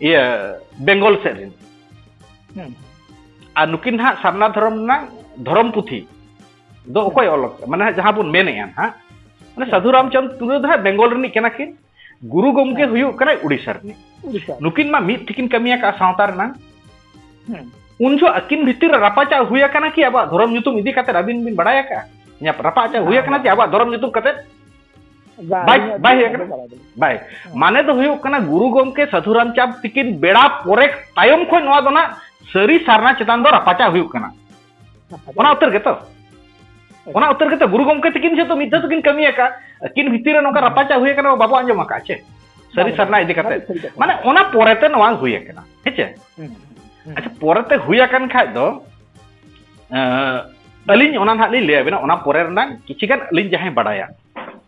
ᱤᱭᱟᱹ ᱵᱮᱝᱜᱚᱞ ᱥᱮᱫ ᱨᱤᱱ ᱟᱨ ᱱᱩᱠᱤᱱ ᱦᱟᱸᱜ ᱥᱟᱨᱱᱟ ᱫᱷᱚᱨᱚᱢ ᱨᱮᱱᱟᱜ ᱫᱷᱚᱨᱚᱢ ᱯᱩᱛᱷᱤ ᱫᱚ ᱚᱠᱚᱭ ᱚᱞ ᱢᱟᱱᱮ ᱡᱟᱦᱟᱸ ᱵᱚᱱ ᱢᱮᱱᱮᱜᱼᱟ ᱦᱟᱸᱜ ᱢᱟᱱᱮ ᱥᱟᱫᱷᱩ ᱨᱟᱢᱪᱟᱸᱫᱽ ᱴᱩᱰᱩ ᱫᱚ ᱦᱟᱸᱜ ᱵᱮᱝᱜᱚᱞ ᱨᱤᱱᱤᱡ ᱠᱟᱱᱟ ᱠᱤᱱ ᱜᱩᱨᱩ ᱜᱚᱢᱠᱮ ᱦᱮᱸ᱾ ᱦᱩᱭᱩᱜ ᱠᱟᱱᱟᱭ ᱩᱲᱤᱥᱥᱟ ᱨᱤᱱᱤᱡ ᱩᱲᱤᱥᱥᱟ ᱱᱩᱠᱤᱱ ᱢᱟ ᱢᱤᱫ ᱛᱮᱠᱤᱱ ᱠᱟᱹᱢᱤ ᱟᱠᱟᱫᱼᱟ ᱥᱟᱶᱛᱟ ᱨᱮᱱᱟᱝ ᱦᱮᱸ ᱩᱱ ᱡᱚᱦᱚᱜ ᱟᱹᱠᱤᱱ ᱵᱷᱤᱛᱤᱨ ᱨᱮ ᱨᱟᱯᱟᱪᱟᱜ ᱦᱩᱭ ᱟᱠᱟᱱᱟ ᱠᱤ ᱟᱵᱚᱣᱟᱜ ᱫᱷᱚᱨᱚᱢ ᱧᱩᱛᱩᱢ ᱤᱫᱤ ᱠᱟᱛᱮ ᱟᱹᱵᱤᱱ ᱵᱤᱱ ᱵᱟᱲᱟᱭ ᱟᱠᱟᱫᱼᱟ ᱤᱧᱟᱹᱜ ᱨᱟᱯᱟᱪᱟᱜ ᱦᱩᱭ ᱵᱟᱝ, ᱟᱠᱟᱱᱟ ᱵᱟᱝ, ᱡᱮ ᱟᱵᱚᱣᱟᱜ ᱫᱷᱚᱨᱚᱢ ᱧᱩᱛᱩᱢ ᱠᱟᱛᱮ ᱵᱟᱝ, ᱵᱟᱭ- ᱤᱧᱟᱹᱜ ᱵᱟᱭ ᱫᱚ ᱦᱮᱡ ᱵᱟᱲᱟᱭ ᱟᱠᱟᱱᱟ? ᱵᱟᱹᱱᱩᱜᱼᱟ᱾ ᱵᱟᱭ ᱢᱟᱱᱮ ᱫᱚ ᱦᱩᱭᱩᱜ ᱠᱟᱱᱟ ᱜᱩᱨᱩ ᱜᱚᱢᱠᱮ ᱥᱟᱹᱫᱷᱩ ᱨᱟᱢᱪᱟᱸᱫᱽ ᱛᱤᱠᱤᱱ ᱵᱮᱲᱟ ᱯᱚᱨᱮ ᱛᱟᱭᱚᱢ ᱠᱷᱚᱱ ᱱᱚᱣᱟ ᱫᱚ ᱱᱟᱜ ᱥᱟᱹᱨᱤ ᱥᱟᱨᱱᱟ ᱪᱮᱛᱟᱱ ᱫᱚ ᱨᱟᱯᱟᱪᱟᱜ ᱦᱩᱭᱩᱜ ᱠᱟᱱᱟ ᱚᱱᱟ ᱩᱛᱟᱹᱨ ᱜᱮᱛᱚ ᱚᱱᱟ ᱩᱛᱟᱹᱨ ᱜᱮᱛᱚ ᱜᱩᱨᱩ ᱜᱚᱢᱠᱮ ᱛᱤᱠᱤᱱ ᱡᱚᱛᱚ ᱢᱤᱫ ᱫᱷᱟᱣ ᱛᱮᱠᱤᱱ ᱠᱟᱹᱢᱤ ᱟᱠᱟᱫ ᱟᱹᱠᱤᱱ ᱵᱷᱤᱛᱤᱨ ᱨᱮ ᱱᱚᱝᱠᱟ ᱨᱟᱯᱟᱪᱟ ᱦᱩᱭ ᱟᱠᱟᱱᱟ ᱵᱟᱵᱚ ᱟᱸᱡᱚᱢ ᱟᱠᱟᱫ ᱪᱮ ᱥᱟᱹᱨᱤ ᱥᱟᱨᱱᱟ ᱤᱫᱤ ᱠᱟᱛᱮ ᱢᱟᱱᱮ ᱚᱱᱟ ᱯᱚᱨᱮᱛᱮ ᱱᱚᱣᱟ ᱦᱩᱭ ᱟᱠᱟᱱᱟ ᱦᱮᱸᱪᱮ ᱟᱪᱪᱷᱟ ᱯᱚᱨᱮᱛᱮ ᱦᱩᱭ ᱟᱠᱟᱱ ᱠᱷᱟᱡ ᱫᱚ ᱟᱹᱞᱤᱧ ᱚᱱᱟ ᱱᱟᱦᱟᱜ ᱞᱤᱧ ᱞᱟᱹᱭ ᱟᱵᱮᱱᱟ ᱚᱱᱟ ᱯᱚᱨᱮ ᱨᱮᱱᱟᱜ ᱠᱤᱪᱷᱤ ᱜᱟᱱ ᱟᱹᱞᱤᱧ ᱡᱟᱦᱟᱸᱭ ᱵᱟᱰᱟᱭᱟ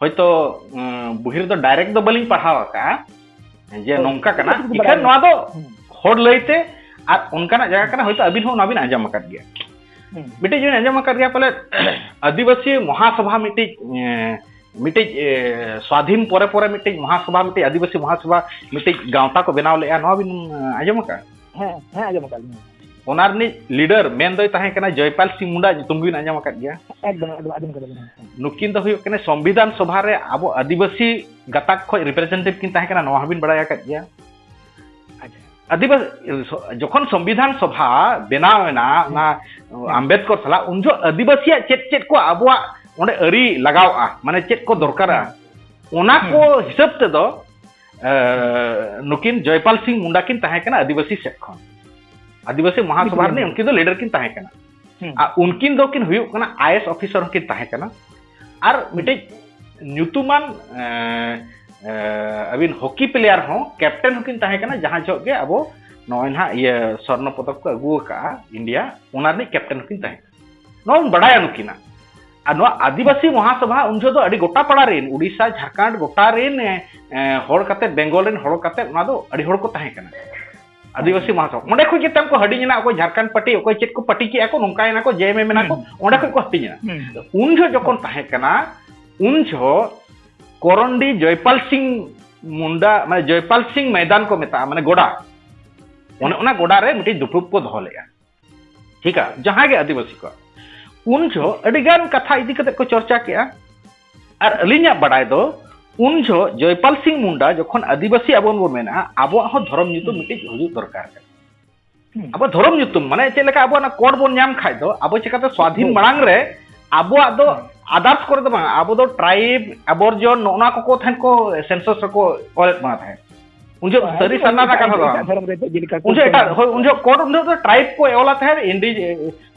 ᱦᱚᱭᱛᱚ ᱵᱩᱦᱤ ᱨᱮᱫᱚ ᱰᱟᱭᱨᱮᱠᱴ ᱫᱚ ᱵᱟᱹᱞᱤᱧ ᱯᱟᱲᱦᱟᱣ ᱟᱠᱟᱜᱼᱟ ᱡᱮ ᱱᱚᱝᱠᱟ ᱠᱟᱱᱟ ᱤᱠᱷᱟᱹᱱ ᱱᱚᱣᱟ ᱫᱚ ᱦᱚᱲ ᱞᱟᱹᱭᱛᱮ ᱟᱨ ᱚᱱᱠᱟᱱᱟᱜ ᱡᱟᱭᱜᱟ ᱠᱟᱱᱟ ᱦᱚᱭᱛᱚ ᱟᱹᱵᱤᱱ ᱦᱚᱸ ᱚᱱᱟ ᱵᱤᱱ ᱟᱸᱡᱚᱢ ᱟᱠᱟᱫ ᱜᱮᱭᱟ ᱢᱤᱫᱴᱤᱡ ᱵᱤᱱ ᱟᱸᱡᱚᱢ ᱟᱠᱟᱫ ᱜᱮᱭᱟ ᱯᱟᱞᱮ ᱟᱹᱫᱤᱵᱟᱹᱥᱤ ᱢᱚᱦᱟᱥᱚᱵᱷᱟ ᱢᱤᱫᱴᱤᱡ ᱢᱤᱫᱴᱤᱡ ᱥᱣᱟᱫᱷᱤᱱ ᱯᱚᱨᱮ ᱯᱚᱨᱮ ᱢᱤᱫᱴᱤᱡ ᱢᱚᱦᱟᱥᱚᱵᱷᱟ ᱢᱤᱫᱴᱤᱡ ᱟᱹᱫᱤᱵᱟᱹᱥᱤ ᱢᱚᱦᱟᱥᱚᱵᱷᱟ ᱢᱤᱫᱴᱤᱡ ᱜᱟᱶᱛᱟ ᱠᱚ ᱵᱮᱱᱟᱣ ᱞᱮᱫᱼᱟ ᱱᱚᱣᱟ ᱵᱤᱱ ᱟᱸᱡᱚᱢ ᱟᱠᱟᱫᱼᱟ ᱦᱮᱸ ᱦᱮᱸ ᱟᱸᱡᱚᱢ ᱟᱠᱟᱫ ᱞᱤᱧ ᱚᱱᱟ ᱨᱤᱱᱤᱡ ᱞᱤᱰᱟᱨ ᱢᱮᱱ ᱫᱚᱭ ᱛᱟᱦᱮᱸ ᱠᱟᱱᱟ ᱡᱚᱭᱯᱟᱞ ᱥᱤᱝ ᱢᱩᱱᱰᱟ ᱧᱩᱛᱩᱢ ᱵᱤᱱ ᱟᱸᱡᱚᱢ ᱟᱠᱟᱫ ᱜᱮᱭᱟ ᱮᱠᱫᱚᱢ ᱮᱠᱫᱚᱢ ᱟᱸᱡᱚᱢ ᱟᱠᱟᱫ ᱞᱤᱧ ᱱᱩᱠᱤᱱ ᱫᱚ ᱦᱩᱭᱩᱜ ᱠᱟᱱᱟ ᱥᱚᱝᱵᱤᱫᱷᱟᱱ ᱥᱚᱵᱷᱟ ᱨᱮ ᱟᱵᱚ ᱟᱹᱫᱤᱵᱟᱹᱥᱤ ᱜᱟᱛᱟᱠ ᱠᱷᱚᱱ ᱨᱤᱯᱨᱮᱡᱮᱱᱴᱮᱴᱤᱵᱷ ᱠᱤᱱ ᱛᱟᱦᱮᱸ ᱠᱟᱱᱟ ᱱᱚᱣᱟ ᱦᱚᱸᱵᱤᱱ ᱵᱟᱲᱟᱭ ᱟᱠᱟᱫ ᱜᱮᱭᱟ ᱟᱹᱫᱤᱵᱟᱹᱥᱤ ᱡᱚᱠᱷᱚᱱ ᱥᱚᱝᱵᱤᱫᱷᱟᱱ ᱥᱚᱵᱷᱟ ᱵᱮᱱᱟᱣ ᱮᱱᱟ ᱚᱱᱟ ᱟᱢᱵᱮᱫᱠᱚᱨ ᱥᱟᱞᱟᱜ ᱩᱱ ᱡᱚᱠᱷᱚᱱ ᱟᱹᱫᱤᱵᱟᱹᱥᱤᱭᱟᱜ ᱪᱮᱫ ᱪᱮᱫ ᱠᱚ ᱟᱵᱚᱣᱟᱜ ᱚᱸᱰᱮ ᱟᱹᱨᱤ ᱞᱟᱜᱟᱣᱼᱟ ᱢᱟᱱᱮ ᱪᱮᱫ ᱠᱚ ᱫᱚᱨᱠᱟᱨᱟ ᱚᱱᱟ ᱠᱚ ᱦᱤᱥᱟᱹᱵ ᱛᱮᱫᱚ ᱱᱩᱠᱤᱱ ᱡᱚᱭᱯᱟᱞ ᱥᱤᱝ ᱢᱩᱱᱰᱟ ᱠᱤᱱ ᱛᱟᱦᱮᱸ ᱠᱟᱱᱟ ᱟᱹᱫᱤᱵᱟᱹᱥᱤ ᱥᱮᱫ ᱠᱷᱚᱱ ᱟᱹᱫᱤᱵᱟᱹᱥᱤ ᱢᱚᱦᱟᱥᱚᱵᱷᱟ ᱨᱤᱱᱤᱡ ᱩᱱᱠᱤᱱ ᱫᱚ ᱞᱤᱰᱟᱨ ᱠᱤᱱ ᱛᱟᱦᱮᱸ ᱠᱟᱱᱟ ᱟᱨ ᱩᱱᱠᱤᱱ ᱫᱚ ᱠᱤᱱ ᱦᱩᱭᱩᱜ ᱠᱟᱱᱟ ᱟᱭᱮᱥ ᱚᱯᱷᱤᱥᱟᱨ ᱦᱚᱸ ᱠᱤᱱ ᱛᱟᱦᱮᱸ ᱠᱟᱱᱟ ᱟᱨ ᱢᱤᱫᱴᱤᱡ ᱧᱩᱛᱩᱢᱟᱱ ᱟᱹᱵᱤᱱ ᱦᱚᱠᱤ ᱯᱞᱮᱭᱟᱨ ᱦᱚᱸ ᱠᱮᱯᱴᱮᱱ ᱦᱚᱸ ᱠᱤᱱ ᱛᱟᱦᱮᱸ ᱠᱟᱱᱟ ᱡᱟᱦᱟᱸ ᱡᱚᱦᱚᱜ ᱜᱮ ᱟᱵᱚ ᱱᱚᱜᱼᱚᱭ ᱱᱟᱦᱟᱜ ᱤᱭᱟᱹ ᱥᱚᱨᱱᱚ ᱯᱚᱫᱚᱠ ᱠᱚ ᱟᱹᱜᱩ ᱟᱠᱟᱫᱼᱟ ᱤᱱᱰᱤᱭᱟ ᱚᱱᱟ ᱨᱤᱱᱤᱡ ᱠᱮᱯᱴᱮᱱ ᱦᱚᱸ ᱠᱤᱱ ᱛᱟᱦᱮᱸ ᱠᱟᱱᱟ ᱱᱚᱣᱟ ᱵᱚᱱ ᱵᱟᱰᱟᱭᱟ ᱱᱩᱠᱤᱱᱟᱜ ᱟᱨ ᱱᱚᱣᱟ ᱟᱹᱫᱤᱵᱟᱹᱥᱤ ᱢᱚᱦᱟᱥᱚᱵᱷᱟ ᱩᱱ ᱡᱚᱦᱚᱜ ᱫᱚ ᱟᱹᱰᱤ ᱜᱚᱴᱟ ᱯᱟᱲᱟ ᱨᱮᱱ ᱩᱰᱤᱥᱟ ᱡᱷᱟᱲᱠᱷᱚᱸᱰ ᱜᱚᱴᱟ ᱨᱮᱱ ᱦᱚᱲ ᱠᱟᱛᱮ ᱵᱮᱝᱜᱚᱞ ᱨᱮᱱ ᱦᱚᱲ ᱠᱟᱛᱮ ᱚᱱᱟ ᱫᱚ ᱟᱹᱰᱤ ᱦᱚᱲ ᱠᱚ ᱛᱟᱦᱮᱸ ᱠᱟᱱᱟ ᱟᱹᱫᱤᱵᱟᱹᱥᱤ ᱢᱚᱦᱟᱥᱚᱵᱷᱟ ᱚᱸᱰᱮ ᱠᱷᱚᱱ ᱜᱮ ᱛᱟᱢ ᱠᱚ ᱦᱟᱹᱴᱤᱧ ᱮᱱᱟ ᱚᱠᱚᱭ ᱡᱷᱟᱲᱠᱷᱚᱸᱰ ᱯᱟᱹᱴᱤ ᱚᱠᱚᱭ ᱪᱮᱫ ᱠᱚ ᱯᱟᱹᱴᱤ ᱠᱮᱜᱼᱟ ᱠᱚ ᱱᱚᱝᱠᱟ ᱮᱱᱟ ᱠᱚ ᱡᱮ ᱮᱢ ᱮᱢ ᱮᱱᱟ ᱠᱚ ᱚᱸᱰᱮ ᱠᱷᱚᱱ ᱠᱚ ᱦᱟᱹᱴᱤᱧ ᱮᱱᱟ ᱩᱱ ᱡᱚᱦᱚᱜ ᱡᱚᱠᱷᱚᱱ ᱛᱟᱦᱮᱸ ᱠᱟᱱᱟ ᱩᱱ ᱡᱚᱦᱚᱜ ᱠᱚᱨᱚᱱᱰᱤ ᱡᱚᱭᱯᱟᱞ ᱥᱤᱝ ᱢᱩᱱᱰᱟ ᱢᱟᱱᱮ ᱡᱚᱭᱯᱟᱞ ᱥᱤᱝ ᱢᱚᱭᱫᱟᱱ ᱠᱚ ᱢᱮᱛᱟᱜᱼᱟ ᱢᱟᱱᱮ ᱜᱚᱰᱟ ᱚᱱᱮ ᱚᱱᱟ ᱜᱚᱰᱟ ᱨᱮ ᱢᱤᱫᱴᱤᱡ ᱫᱩᱯᱲᱩᱵ ᱠᱚ ᱫᱚᱦᱚ ᱞᱮᱜᱼᱟ ᱴᱷᱤᱠ ᱟ ᱡᱟᱦᱟᱸ ᱜᱮ ᱟᱹᱫᱤᱵᱟᱹᱥᱤ ᱠᱚ ᱩᱱ ᱡᱚ ᱟᱹᱰᱤ ᱜᱟᱱ ᱠᱟᱛᱷᱟ ᱤᱫᱤ ᱠᱟᱛᱮ ᱠᱚ ᱪᱚᱨᱪᱟ ᱠᱮᱜᱼᱟ ᱟᱨ ᱟᱹᱞᱤᱧᱟᱜ ᱵᱟᱰᱟᱭ ᱫᱚ ᱩᱱ ᱡᱚ ᱡᱚᱭᱯᱟᱞ ᱥᱤᱝ ᱢᱩᱱᱰᱟ ᱡᱚᱠᱷᱚᱱ ᱟᱹᱫᱤᱵᱟᱹᱥᱤ ᱟᱵᱚᱱ ᱵᱚ ᱢᱮᱱᱟ ᱟᱵᱚᱣᱟᱜ ᱦᱚᱸ ᱫᱷᱚᱨᱚᱢ ᱧᱩᱛᱩᱢ ᱢᱤᱫᱴᱤᱡ ᱦᱩᱭᱩᱜ ᱫᱚᱨᱠᱟᱨ ᱠᱟᱱᱟ ᱟᱵᱚ ᱫᱷᱚᱨᱚᱢ ᱧᱩᱛᱩᱢ ᱢᱟᱱᱮ ᱪᱮᱫ ᱞᱮᱠᱟ ᱟᱵᱚ ᱚᱱᱟ ᱠᱳᱰ ᱵᱚᱱ ᱧᱟᱢ ᱠᱷᱟᱡ ᱫᱚ ᱟᱵᱚ ᱪᱮᱠᱟᱛᱮ ᱥᱣᱟᱫᱷᱤᱱ ᱢᱟᱲᱟᱝ ᱨᱮ ᱟᱵᱚᱣᱟᱜ ᱫᱚ ᱟᱫᱟᱨᱥ ᱠᱚᱨᱮ ᱫᱚ ᱵᱟᱝ ᱟᱵᱚ ᱫᱚ ᱴᱨᱟᱭᱤᱵ ᱟᱵᱚᱨᱡᱚᱱ ᱱᱚᱜᱼᱚ ᱱᱚᱣᱟ ᱠᱚᱠᱚ ᱛᱟᱦᱮᱸᱫ ᱠᱚ ᱥᱮᱱᱥᱚᱥ ᱨᱮᱠᱚ ᱚᱞᱮᱫ ᱵᱚᱱᱟ ᱛᱟᱦᱮᱸᱫ ᱩᱱ ᱡᱚᱦᱚᱜ ᱥᱟᱹᱨᱤ ᱥᱟᱨᱱᱟ ᱨᱮᱱᱟᱜ ᱠᱟᱛᱷᱟ ᱫᱚ ᱵᱟᱝ ᱫᱷᱚᱨᱚᱢ ᱨᱮ ᱪᱮᱫ ᱞᱮᱠᱟ ᱩᱱ ᱡᱚᱦᱚᱜ ᱮᱴᱟᱜ ᱦᱳᱭ ᱩᱱ ᱡᱚᱦᱚᱜ ᱠᱚ ᱩᱱ ᱡᱚᱦᱚᱜ ᱫᱚ ᱴᱨᱟᱭᱤᱵ ᱠᱚ ᱮᱣᱞᱟ ᱛᱟᱦᱮᱸᱫ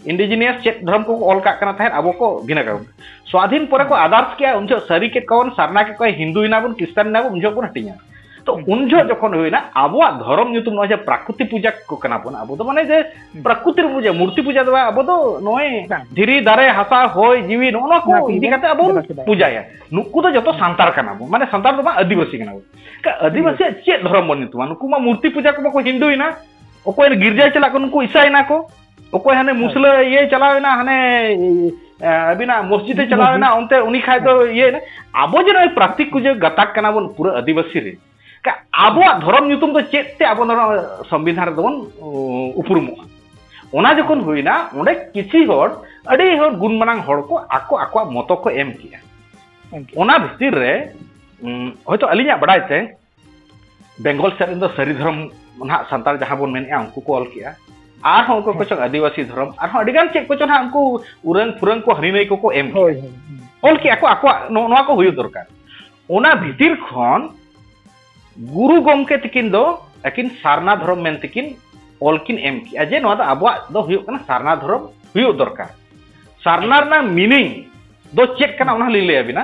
ᱤᱱᱰᱤᱡᱤᱱᱤᱭᱟᱥ ᱪᱮᱫ ᱫᱷᱚᱨᱚᱢ ᱠᱚ ᱚᱞ ᱠᱟᱜ ᱠᱟᱱᱟ ᱛᱟᱦᱮᱸᱫ ᱟᱵᱚ ᱠᱚ ᱵᱷᱤᱱᱟᱹ ᱠᱟᱜ ᱥᱣᱟᱫᱷᱤᱱ ᱯᱚᱨᱮ ᱠᱚ ᱟᱫᱟᱨᱥ ᱠᱮᱜᱼᱟ ᱩᱱ ᱡᱚᱦᱚᱜ ᱥᱟᱹᱨᱤ ᱠᱮᱫ ᱠᱚᱵᱚᱱ ᱥᱟᱨᱱᱟ ᱠᱮᱫ ᱠᱚᱣᱟ ᱦᱤᱱᱫᱩ ᱮᱱᱟ ᱵᱚᱱ ᱠᱨᱤᱥᱪᱟᱱ ᱮᱱᱟ ᱵᱚᱱ ᱩᱱ ᱡᱚᱦᱚᱜ ᱵᱚᱱ ᱦᱟᱹᱴᱤᱧᱟ ᱛᱚ ᱩᱱ ᱡᱚᱦᱚᱜ ᱡᱚᱠᱷᱚᱱ ᱦᱩᱭᱱᱟ ᱟᱵᱚᱣᱟᱜ ᱫᱷᱚᱨᱚᱢ ᱧᱩᱛᱩᱢ ᱱᱚᱜᱼᱚᱭ ᱡᱮ ᱯᱨᱟᱠᱨᱤᱛᱤ ᱯᱩᱡᱟ ᱠᱚ ᱠᱟᱱᱟ ᱵᱚᱱ ᱟᱵᱚ ᱫᱚ ᱢᱟᱱᱮ ᱡᱮ ᱯᱨᱟᱠᱨᱤᱛᱤ ᱯᱩᱡᱟ ᱢᱩᱨᱛᱤ ᱯᱩᱡᱟ ᱫᱚ ᱟᱵᱚ ᱫᱚ ᱱᱚᱜᱼᱚᱭ ᱫᱷᱤᱨᱤ ᱫᱟᱨᱮ ᱦᱟᱥᱟ ᱦᱚᱭ ᱡᱤᱣᱤ ᱱᱚᱜᱼᱚ ᱱᱚᱣᱟ ᱠᱚ ᱤᱫᱤ ᱠᱟᱛᱮ ᱟᱵᱚ ᱯᱩᱡᱟᱭᱟ ᱱᱩᱠᱩ ᱫᱚ ᱡᱚᱛᱚ ᱥᱟᱱᱛᱟᱲ ᱠᱟᱱᱟ ᱵᱚᱱ ᱢᱟᱱᱮ ᱥᱟᱱᱛᱟᱲ ᱫᱚ ᱵᱟᱝ ᱟᱹᱫᱤᱵᱟᱹᱥᱤ ᱠᱟᱱᱟ ᱵᱚᱱ ᱟᱹᱫᱤᱵᱟᱹᱥᱤᱭᱟᱜ ᱪᱮᱫ ᱫᱷᱚᱨᱚᱢ ᱵᱚᱱ ᱧᱩᱛᱩᱢᱟ ᱱᱩᱠᱩ ᱢᱟ ᱢᱩᱨᱛᱤ ᱯᱩᱡᱟ ᱠᱚ ᱵᱟᱠᱚ ᱦᱤᱱᱫᱩᱭᱮᱱᱟ ᱚᱠᱚᱭ ᱜᱤᱨᱡᱟᱭ ᱪᱟᱞᱟᱜ ᱠᱚ ᱱᱩᱠᱩ ᱤᱥᱟᱭᱮᱱᱟ ᱠᱚ ᱚᱠᱚᱭ ᱦᱟᱱᱮ ᱢᱩᱥᱞᱟᱹ ᱤᱭᱟᱹᱭ ᱪᱟᱞᱟᱣᱮᱱᱟ ᱦᱟᱱᱮ ᱟᱹᱵᱤᱱᱟᱜ ᱢᱚᱥᱡᱤᱫᱮ ᱪᱟᱞᱟᱣᱮᱱᱟ ᱚᱱᱛᱮ ᱩᱱᱤ ᱠᱷᱟᱡ ᱫᱚ ᱤᱭᱟᱹᱭᱮᱱᱟ ᱟᱵᱚ ᱡᱮ ᱱᱚᱜᱼᱚᱭ ᱯᱨᱟᱠᱛᱤᱠ ᱠᱚ ᱡᱮ ᱜᱟᱛᱟᱠ ᱠᱟᱱᱟ ᱵᱚᱱ ᱯᱩᱨᱟᱹ ᱟᱹᱫᱤᱵᱟᱹᱥᱤ ᱨᱮ ᱟᱵᱚᱣᱟᱜ ᱫᱷᱚᱨᱚᱢ ᱧᱩᱛᱩᱢ ᱫᱚ ᱪᱮᱫ ᱛᱮ ᱟᱵᱚ ᱱᱚᱣᱟ ᱥᱚᱝᱵᱤᱫᱷᱟᱱ ᱨᱮᱫᱚ ᱵᱚᱱ ᱩᱯᱨᱩᱢᱚᱜᱼᱟ ᱚᱱᱟ ᱡᱚᱠᱷᱚᱱ ᱦᱩᱭᱱᱟ ᱚᱸᱰᱮ ᱠᱤᱪᱷᱤ ᱦᱚᱲ ᱟᱹᱰᱤ ᱦᱚᱲ ᱜᱩᱱᱢᱟᱱᱟᱝ ᱦᱚᱲ ᱠᱚ ᱟᱠᱚ ᱟᱠᱚᱣᱟᱜ ᱢᱚᱛᱚ ᱠᱚ ᱮᱢ ᱠᱮᱜᱼᱟ ᱚᱱᱟ ᱵᱷᱤᱛᱤᱨ ᱨᱮ ᱦᱚᱭᱛᱳ ᱟᱹᱞᱤᱧᱟᱜ ᱵᱟᱰᱟᱭ ᱛᱮ ᱵᱮᱝᱜᱚᱞ ᱥᱮᱫ ᱨᱮᱱ ᱫᱚ ᱥᱟᱹᱨᱤ ᱫᱷᱚᱨᱚᱢ ᱱᱟᱦᱟᱜ ᱥᱟᱱᱛᱟᱲ ᱡᱟᱦᱟᱸ ᱵᱚᱱ ᱢᱮᱱᱮᱫᱼᱟ ᱩᱱᱠᱩ ᱠᱚ ᱚᱞ ᱠᱮᱜᱼᱟ ᱟᱨᱦᱚᱸ ᱩᱱᱠᱩ ᱠᱚ ᱪᱚᱝ ᱟᱹᱫᱤᱵᱟᱹᱥᱤ ᱫᱷᱚᱨᱚᱢ ᱟᱨᱦᱚᱸ ᱟᱹᱰᱤᱜᱟᱱ ᱪᱮᱫ ᱠᱚ ᱪᱚᱝ ᱦᱟᱸᱜ ᱩᱱᱠᱩ ᱩᱨᱟᱹᱝ ᱯᱷᱩᱨᱟᱹᱝ ᱠᱚ ᱦᱟᱹᱱᱤ ᱱᱟᱹᱭ ᱠᱚᱠᱚ ᱮᱢ ᱠᱮᱜᱼᱟ ᱚᱞ ᱠᱮᱜᱼᱟ ᱠᱚ ᱟᱠᱚᱣᱟᱜ ᱱᱚᱣᱟ ᱠᱚ ᱦᱩᱭᱩᱜ ᱫᱚᱨᱠᱟᱨ ᱚᱱᱟ ᱵᱷᱤᱛᱤᱨ ᱠᱷᱚᱱ ᱜᱩᱨᱩ ᱜᱚᱢᱠᱮ ᱛᱤᱠᱤᱱ ᱫᱚ ᱟᱹᱠᱤᱱ ᱥᱟᱨᱱᱟ ᱫᱷᱚᱨᱚᱢ ᱢᱮᱱ ᱛᱮᱠᱤᱱ ᱚᱞ ᱠᱤᱱ ᱮᱢ ᱠᱮᱜᱼᱟ ᱡᱮ ᱱᱚᱣᱟ ᱫᱚ ᱟᱵᱚᱣᱟᱜ ᱫᱚ ᱦᱩᱭᱩᱜ ᱠᱟᱱᱟ ᱥᱟᱨᱱᱟ ᱫᱷᱚᱨᱚᱢ ᱦᱩᱭᱩᱜ ᱫᱚᱨᱠᱟᱨ ᱥᱟᱨᱱᱟ ᱨᱮᱱᱟᱜ ᱢᱤᱱᱤᱝ ᱫᱚ ᱪᱮᱫ ᱠᱟᱱᱟ ᱚᱱᱟ ᱦᱚᱸᱞᱤᱧ ᱞᱟᱹᱭ ᱟᱵᱤᱱᱟ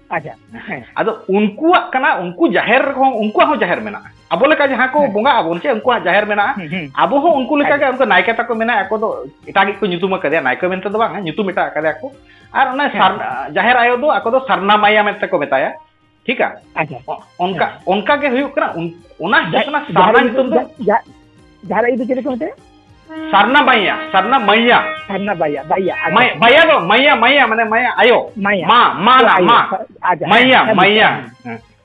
ᱟᱪᱪᱷᱟ ᱦᱮᱸ ᱟᱫᱚ ᱩᱱᱠᱩᱣᱟᱜ ᱠᱟᱱᱟ ᱩᱱᱠᱩ ᱡᱟᱦᱮᱨ ᱦᱚᱸ ᱩᱱᱠᱩᱣᱟᱜ ᱦᱚᱸ ᱡᱟᱦᱮᱨ ᱢᱮᱱᱟᱜᱼᱟ ᱟᱵᱚ ᱞᱮᱠᱟ ᱡᱟᱦᱟᱸ ᱠᱚ ᱵᱚᱸᱜᱟ ᱟᱵᱚᱱ ᱪᱮ ᱩᱱᱠᱩᱣᱟᱜ ᱡᱟᱦᱮᱨ ᱢᱮᱱᱟᱜᱼᱟ ᱟᱵᱚ ᱦᱚᱸ ᱩᱱᱠᱩ ᱞᱮᱠᱟ ᱜᱮ ᱩᱱᱠᱩ ᱱᱟᱭᱠᱮ ᱛᱟᱠᱚ ᱢᱮᱱᱟᱜ ᱟᱠᱚ ᱫᱚ ᱮᱴᱟᱜ ᱜᱮᱠᱚ ᱧᱩᱛᱩᱢ ᱟᱠᱟᱫᱮᱭᱟ ᱱᱟᱭᱠᱮ ᱢᱮᱱᱛᱮ ᱫᱚ ᱵᱟᱝ ᱧᱩᱛᱩᱢ ᱮᱴᱟᱜ ᱟᱠᱟᱫᱮᱭᱟ ᱠᱚ ᱟᱨ ᱚᱱᱟ ᱡᱟᱦᱮᱨ ᱟᱭᱳ ᱫᱚ ᱟᱠᱚ ᱫᱚ ᱥᱟᱨᱱᱟ ᱢᱟᱭᱟ ᱢᱮᱱᱛᱮ ᱠᱚ ᱢᱮᱛᱟᱭᱟ ᱴᱷᱤᱠ ᱟ ᱚᱱᱠᱟ ᱚᱱᱠᱟ ᱜᱮ ᱦᱩᱭᱩᱜ ᱠᱟᱱᱟ ᱚᱱᱟ ᱦᱩᱭᱩᱜ ᱠᱟᱱᱟ ᱥᱟᱨᱱᱟ ᱧᱩᱛᱩᱢ ᱫᱚ ᱡᱟᱦᱟᱸ ᱟᱭᱳ ᱫᱚ ᱪᱮᱫ ᱠᱚ ᱢᱮᱛᱟᱭᱟ ᱥᱟᱨᱱᱟ ᱢᱟᱭᱟ ᱥᱟᱨᱱᱟ ᱢᱟᱭᱟ ᱥᱟᱨᱱᱟ ᱵᱟᱭᱟ ᱵᱟᱭᱟ ᱢᱟᱭᱟ ᱵᱟᱭᱟ ᱫᱚ ᱢᱟᱭᱟ ᱢᱟᱭᱟ ᱢᱟᱱᱮ ᱢᱟᱭᱟ ᱟᱭᱳ ᱢᱟᱭᱟ ᱢᱟ ᱢᱟ ᱱᱟ ᱢᱟ ᱢᱟᱭᱟ ᱢᱟᱭᱟ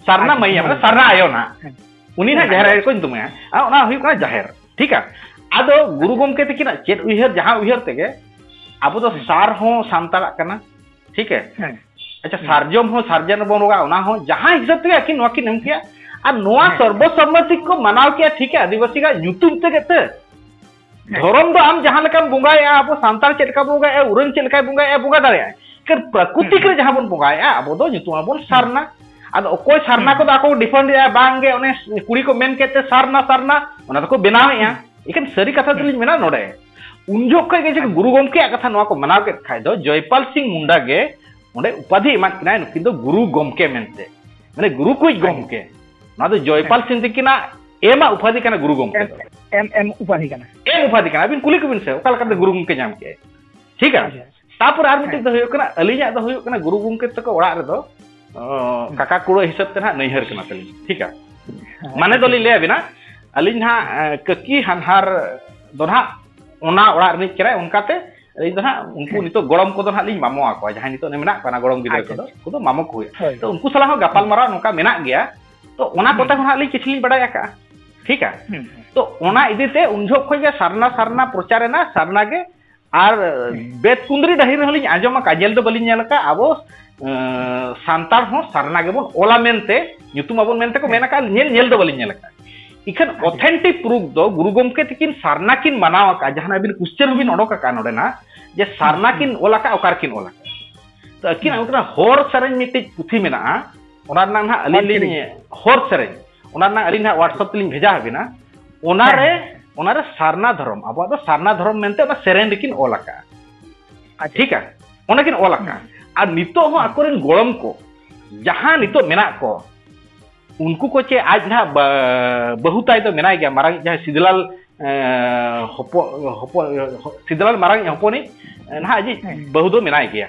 ᱥᱟᱨᱱᱟ ᱢᱟᱭᱟ ᱢᱟᱱᱮ ᱥᱟᱨᱱᱟ ᱟᱭᱳ ᱱᱟ ᱩᱱᱤ ᱱᱟ ᱡᱟᱦᱮᱨ ᱟᱭᱳ ᱠᱚ ᱧᱩᱛᱩᱢᱮᱭᱟ ᱟᱨ ᱚᱱᱟ ᱦᱩᱭᱩᱜ ᱠᱟᱱᱟ ᱡᱟᱦᱮᱨ ᱴᱷᱤᱠ ᱟ ᱟᱫᱚ ᱜᱩᱨᱩ ᱜᱚᱢᱠᱮ ᱛᱤᱠᱤᱱᱟᱜ ᱪᱮᱫ ᱩᱭᱦᱟᱹᱨ ᱡᱟᱦᱟᱸ ᱩᱭᱦᱟᱹᱨ ᱛᱮᱜᱮ ᱟᱵᱚ ᱫᱚ ᱥᱟᱨ ᱦᱚᱸ ᱥᱟᱱᱛᱟᱲᱟᱜ ᱠᱟᱱᱟ ᱴᱷᱤᱠ ᱦᱮᱸ ᱟᱪᱪᱷᱟ ᱥᱟᱨᱡᱚᱢ ᱦᱚᱸ ᱥᱟᱨᱡᱚᱢ ᱨᱮᱵᱚᱱ ᱨᱚᱜᱟ ᱚᱱᱟ ᱦᱚᱸ ᱡᱟᱦᱟᱸ ᱦᱤᱥᱟᱹᱵ ᱛᱮᱜᱮ ᱟᱹᱠᱤᱱ ᱱᱚᱣᱟ ᱠᱤᱱ ᱮᱢ ᱠᱮᱜᱼᱟ ᱟᱨ ᱱᱚᱣᱟ ᱥᱚᱨᱵᱚᱥᱚᱢᱢᱚᱛᱤ ᱠᱚ ᱢᱟᱱᱟᱣ ᱠᱮᱜᱼᱟ ᱴᱷᱤᱠ ᱜᱮᱭᱟ ᱟᱹᱫᱤᱵᱟᱹᱥᱤ ᱜᱟᱜ ᱧᱩᱛᱩᱢ ᱛᱮᱜᱮ ᱛᱮ ᱫᱷᱚᱨᱚᱢ ᱫᱚ ᱟᱢ ᱡᱟᱦᱟᱸ ᱞᱮᱠᱟᱢ ᱵᱚᱸᱜᱟᱭᱮᱜᱼᱟ ᱟᱵᱚ ᱥᱟᱱᱛᱟᱲ ᱪᱮᱫ ᱞᱮᱠᱟ ᱵᱚᱸᱜᱟᱭᱮᱜᱼᱟ ᱩᱨᱟᱹᱝ ᱪᱮᱫ ᱞᱮᱠᱟᱭ ᱵᱚᱸᱜᱟᱭᱮᱜᱼᱟ ᱵᱚᱸᱜᱟ ᱫᱟᱲᱮᱭᱟᱜᱼᱟᱭ ᱠᱟᱨ ᱯᱨᱟᱠᱨᱤᱛᱤᱠ ᱨᱮ ᱡᱟᱦᱟᱸ ᱵᱚᱱ ᱵᱚᱸᱜᱟᱭᱮᱜᱼᱟ ᱟᱵᱚ ᱫᱚ ᱧᱩᱛᱩᱢ ᱟᱵᱚᱱ ᱥᱟᱨᱱᱟ ᱟᱫᱚ ᱚᱠᱚᱭ ᱥᱟᱨᱱᱟ ᱠᱚᱫᱚ ᱟᱠᱚ ᱰᱤᱯᱷᱮᱱᱰ ᱮᱜᱼᱟ ᱵᱟᱝᱜᱮ ᱚᱱᱮ ᱠᱩᱲᱤ ᱠᱚ ᱢᱮᱱ ᱠᱮᱫ ᱛᱮ ᱥᱟᱨᱱᱟ ᱥᱟᱨᱱᱟ ᱚᱱᱟ ᱫᱚᱠᱚ ᱵᱮᱱᱟᱣᱮᱜᱼᱟ ᱮᱠᱷᱟᱱ ᱥᱟᱹᱨᱤ ᱠᱟᱛᱷᱟ ᱫᱚᱞᱤᱧ ᱢᱮᱱᱟ ᱱᱚᱰᱮ ᱩᱱ ᱡᱚᱠᱷᱚᱱ ᱠᱷᱚᱱ ᱜᱮ ᱡᱩᱫᱤ ᱜᱩᱨᱩ ᱜᱚᱢᱠᱮᱭᱟᱜ ᱠᱟᱛᱷᱟ ᱱᱚᱣᱟ ᱠᱚ ᱢᱟᱱᱟᱣ ᱠᱮᱫ ᱠᱷᱟᱡ ᱫᱚ ᱡᱚᱭᱯᱟᱞ ᱥᱤᱝ ᱢᱩᱱᱰᱟ ᱜᱮ ᱚᱸᱰᱮ ᱩᱯᱟᱫᱷᱤ ᱮᱢᱟᱫ ᱠᱤᱱᱟᱭ ᱱᱩᱠᱤᱱ ᱫᱚ ᱜᱩᱨᱩ ᱜᱚᱢᱠᱮ ᱢᱮᱱᱛᱮ ᱢᱟᱱᱮ ᱜᱩᱨᱩ ᱠᱩᱡ ᱜᱚᱢᱠᱮ ᱱᱚᱣᱟ ᱫᱚ ᱡᱚᱭᱯᱟᱞ ᱥᱤᱝ ᱛᱤᱠᱤᱱᱟᱜ ᱮᱢᱟᱜ ᱩᱯᱟᱫᱷᱤ ᱠᱟᱱᱟ ᱜᱩᱨᱩ ᱜᱚᱢᱠᱮ ᱫᱚ ᱮᱢ ᱮᱢ ᱩᱯᱟᱫᱷᱤ ᱠᱟᱱᱟ ᱮᱢ ᱩᱯᱟᱫᱷᱤ ᱠᱟᱱᱟ ᱟᱹᱵᱤᱱ ᱠᱩᱞᱤ ᱠᱚᱵᱤᱱ ᱥᱮ ᱚᱠᱟ ᱞᱮᱠᱟᱛᱮ ᱜᱩᱨᱩ ᱜᱚᱢᱠᱮ ᱧᱟᱢ ᱠᱮᱜᱼᱟᱭ ᱴᱷᱤᱠ ᱜᱮᱭᱟ ᱛᱟᱯᱚᱨ ᱟᱨ ᱢᱤᱫᱴᱮᱡ ᱫᱚ ᱦᱩᱭᱩᱜ ᱠᱟᱱᱟ ᱟᱹᱞᱤᱧᱟᱜ ᱫᱚ ᱦᱩᱭᱩᱜ ᱠᱟᱱᱟ ᱜᱩᱨᱩ ᱜᱚᱢᱠᱮ ᱛᱟᱠᱚ ᱚᱲᱟᱜ ᱨᱮᱫᱚ ᱠᱟᱠᱟ ᱠᱩᱲᱟᱹ ᱦᱤᱥᱟᱹᱵ ᱛᱮ ᱱᱟᱦᱟᱜ ᱱᱟᱹᱭᱦᱟᱹᱨ ᱠᱟᱱᱟ ᱛᱟᱹᱞᱤᱧ ᱴᱷᱤᱠ ᱟ ᱢᱟᱱᱮ ᱫᱚᱞᱤᱧ ᱞᱟᱹᱭ ᱟᱵᱤᱱᱟ ᱟᱹᱞᱤᱧ ᱱᱟᱦᱟᱜ ᱠᱟᱹᱠᱤ ᱦᱟᱱᱦᱟᱨ ᱫᱚ ᱱᱟᱦᱟᱜ ᱚᱱᱟ ᱚᱲᱟᱜ ᱨᱤᱱᱤᱡ ᱠᱟᱱᱟᱭ ᱚᱱᱠᱟᱛᱮ ᱟᱹᱞᱤᱧ ᱫᱚ ᱱᱟᱦᱟᱜ ᱩᱱᱠᱩ ᱱᱤᱛᱚᱜ ᱜᱚᱲᱚᱢ ᱠᱚᱫᱚ ᱱᱟᱦᱟᱜ ᱞᱤᱧ ᱢᱟᱢᱚ ᱟᱠᱚᱣᱟ ᱡᱟᱦᱟᱸᱭ ᱱᱤᱛᱚᱜ ᱢᱮᱱᱟᱜ ᱠᱚᱣᱟ ᱜᱚᱲᱚᱢ ᱜᱤᱫᱽᱨᱟᱹ ᱠᱚᱫᱚ ᱩᱱᱠᱩ ᱫᱚ ᱢᱟᱢᱚ ᱠᱚ ᱦᱩᱭᱩᱜᱼᱟ ᱛᱚ ᱩᱱᱠᱩ ᱥᱟᱞᱟᱜ ᱦᱚᱸ ᱜᱟᱯᱟᱞ ᱢᱟᱨᱟᱣ ᱱᱚᱝᱠᱟ ᱢᱮᱱᱟᱜ ᱜᱮᱭᱟ ᱛᱚ ᱚᱱᱟ ᱠᱚᱛᱮ ᱦᱚᱸ ᱱᱟᱦᱟᱜ ᱞᱤᱧ ᱠᱤᱪᱷᱩ ᱞᱤᱧ ᱵᱟᱰᱟᱭ ᱟᱠᱟᱫᱼᱟ ᱴᱷᱤᱠ ᱟ ᱛᱚ ᱚᱱᱟ ᱤᱫᱤᱛᱮ ᱩᱱ ᱡᱚᱦᱚᱜ ᱠᱷᱚᱱ ᱜᱮ ᱥᱟᱨᱱᱟ ᱥᱟᱨᱱᱟ ᱯᱨᱚᱪᱟᱨ ᱮᱱᱟ ᱥᱟᱨᱱᱟ ᱜᱮ ᱟᱨ ᱵᱮᱫ ᱠᱩᱸᱫᱽᱨᱤ ᱰᱟᱹᱦᱤ ᱨᱮᱦᱚᱸ ᱞᱤᱧ ᱟᱸᱡᱚᱢ ᱟᱠᱟᱫᱼᱟ ᱧᱮᱞ ᱫᱚ ᱵᱟᱹᱞᱤᱧ ᱧᱮᱞ ᱟᱠᱟᱫᱼᱟ ᱟᱵᱚ ᱥᱟᱱᱛᱟᱲ ᱦᱚᱸ ᱥᱟᱨᱱᱟ ᱜᱮᱵᱚᱱ ᱚᱞᱟ ᱢᱮᱱᱛᱮ ᱧᱩᱛᱩᱢ ᱟᱵᱚᱱ ᱢᱮᱱᱛᱮ ᱠᱚ ᱢᱮᱱ ᱟᱠᱟᱫᱼᱟ ᱧᱮᱞ ᱧᱮᱞ ᱫᱚ ᱵᱟᱹᱞᱤᱧ ᱧᱮᱞ ᱟᱠᱟᱫᱼᱟ ᱤᱠᱷᱟᱹᱱ ᱚᱛᱷᱮᱱᱴᱤᱠ ᱯᱨᱩᱯᱷ ᱫᱚ ᱜᱩᱨᱩ ᱜᱚᱢᱠᱮ ᱛᱤᱠᱤᱱ ᱥᱟᱨᱱᱟ ᱠᱤᱱ ᱢᱟᱱᱟᱣ ᱟᱠᱟᱫᱼᱟ ᱡᱟᱦᱟᱸ ᱟᱹᱵᱤᱱ ᱠᱩᱥᱪᱮᱱ ᱦᱚᱸᱵᱤᱱ ᱚᱰᱚᱠ ᱟᱠᱟᱫᱼᱟ ᱱᱚᱰᱮᱱᱟᱜ ᱡᱮ ᱥᱟᱨᱱᱟ ᱠᱤᱱ ᱚᱞ ᱟᱠᱟᱫᱼᱟ ᱚᱠᱟ ᱨᱮᱠᱤᱱ ᱚᱞ ᱟᱠᱟᱫᱼᱟ ᱛᱚ ᱟᱹᱠᱤᱱᱟᱜ ᱚᱱᱠᱟᱱᱟᱜ ᱦᱚᱨ ᱥᱮᱨᱮᱧ ᱢᱤᱫᱴᱤᱡ ᱯᱩᱛᱷᱤ ᱢᱮᱱᱟᱜᱼᱟ ᱚᱱᱟ ᱨᱮᱱᱟᱜ ᱱᱟᱦᱟᱜ ᱟᱹᱞᱤᱧ ᱞᱤᱧ ᱦᱚᱨ ᱥᱮᱨᱮᱧ ᱚᱱᱟ ᱨᱮᱱᱟᱜ ᱟᱹᱞᱤᱧ ᱱᱟᱦᱟᱜ ᱣᱟᱴᱥᱟᱯ ᱛᱮᱞᱤᱧ ᱵᱷᱮᱡᱟ ᱟᱵᱤᱱᱟ ᱚᱱᱟ ᱨᱮ ᱚᱱᱟ ᱨᱮ ᱥᱟᱨᱱᱟ ᱫᱷᱚᱨᱚᱢ ᱟᱵᱚᱣᱟᱜ ᱫᱚ ᱥᱟᱨᱱᱟ ᱫᱷᱚᱨᱚᱢ ᱢᱮᱱᱛᱮ ᱚᱱᱟ ᱥᱮᱨᱮᱧ ᱨᱮᱠᱤᱱ ᱚᱞ ᱟᱠᱟᱜᱼᱟ ᱴᱷᱤᱠ ᱟ ᱚᱱᱟ ᱠᱤᱱ ᱚᱞ ᱟᱠᱟᱜᱼᱟ ᱟᱨ ᱱᱤᱛᱚᱜ ᱦᱚᱸ ᱟᱠᱚᱨᱮᱱ ᱜᱚᱲᱚᱢ ᱠᱚ ᱡᱟᱦᱟᱸ ᱱᱤᱛᱚᱜ ᱢᱮᱱᱟᱜ ᱠᱚ ᱩᱱᱠᱩ ᱠᱚ ᱪᱮ ᱟᱡ ᱱᱟᱦᱟᱜ ᱵᱟᱹᱦᱩ ᱛᱟᱭ ᱫᱚ ᱢᱮᱱᱟᱭ ᱜᱮᱭᱟ ᱢᱟᱨᱟᱝ ᱡᱟᱦᱟᱸᱭ ᱥᱤᱫᱞᱟᱞ ᱦᱚᱯᱚᱱ ᱦᱚᱯᱚᱱ ᱥᱤᱫᱞᱟᱞ ᱢᱟᱨᱟᱝ ᱦᱚᱯᱚᱱᱤᱡ ᱱᱟᱦᱟᱜ ᱟᱡᱤᱡ ᱵᱟᱹᱦᱩ ᱫᱚ ᱢᱮᱱᱟᱭ ᱜᱮᱭᱟ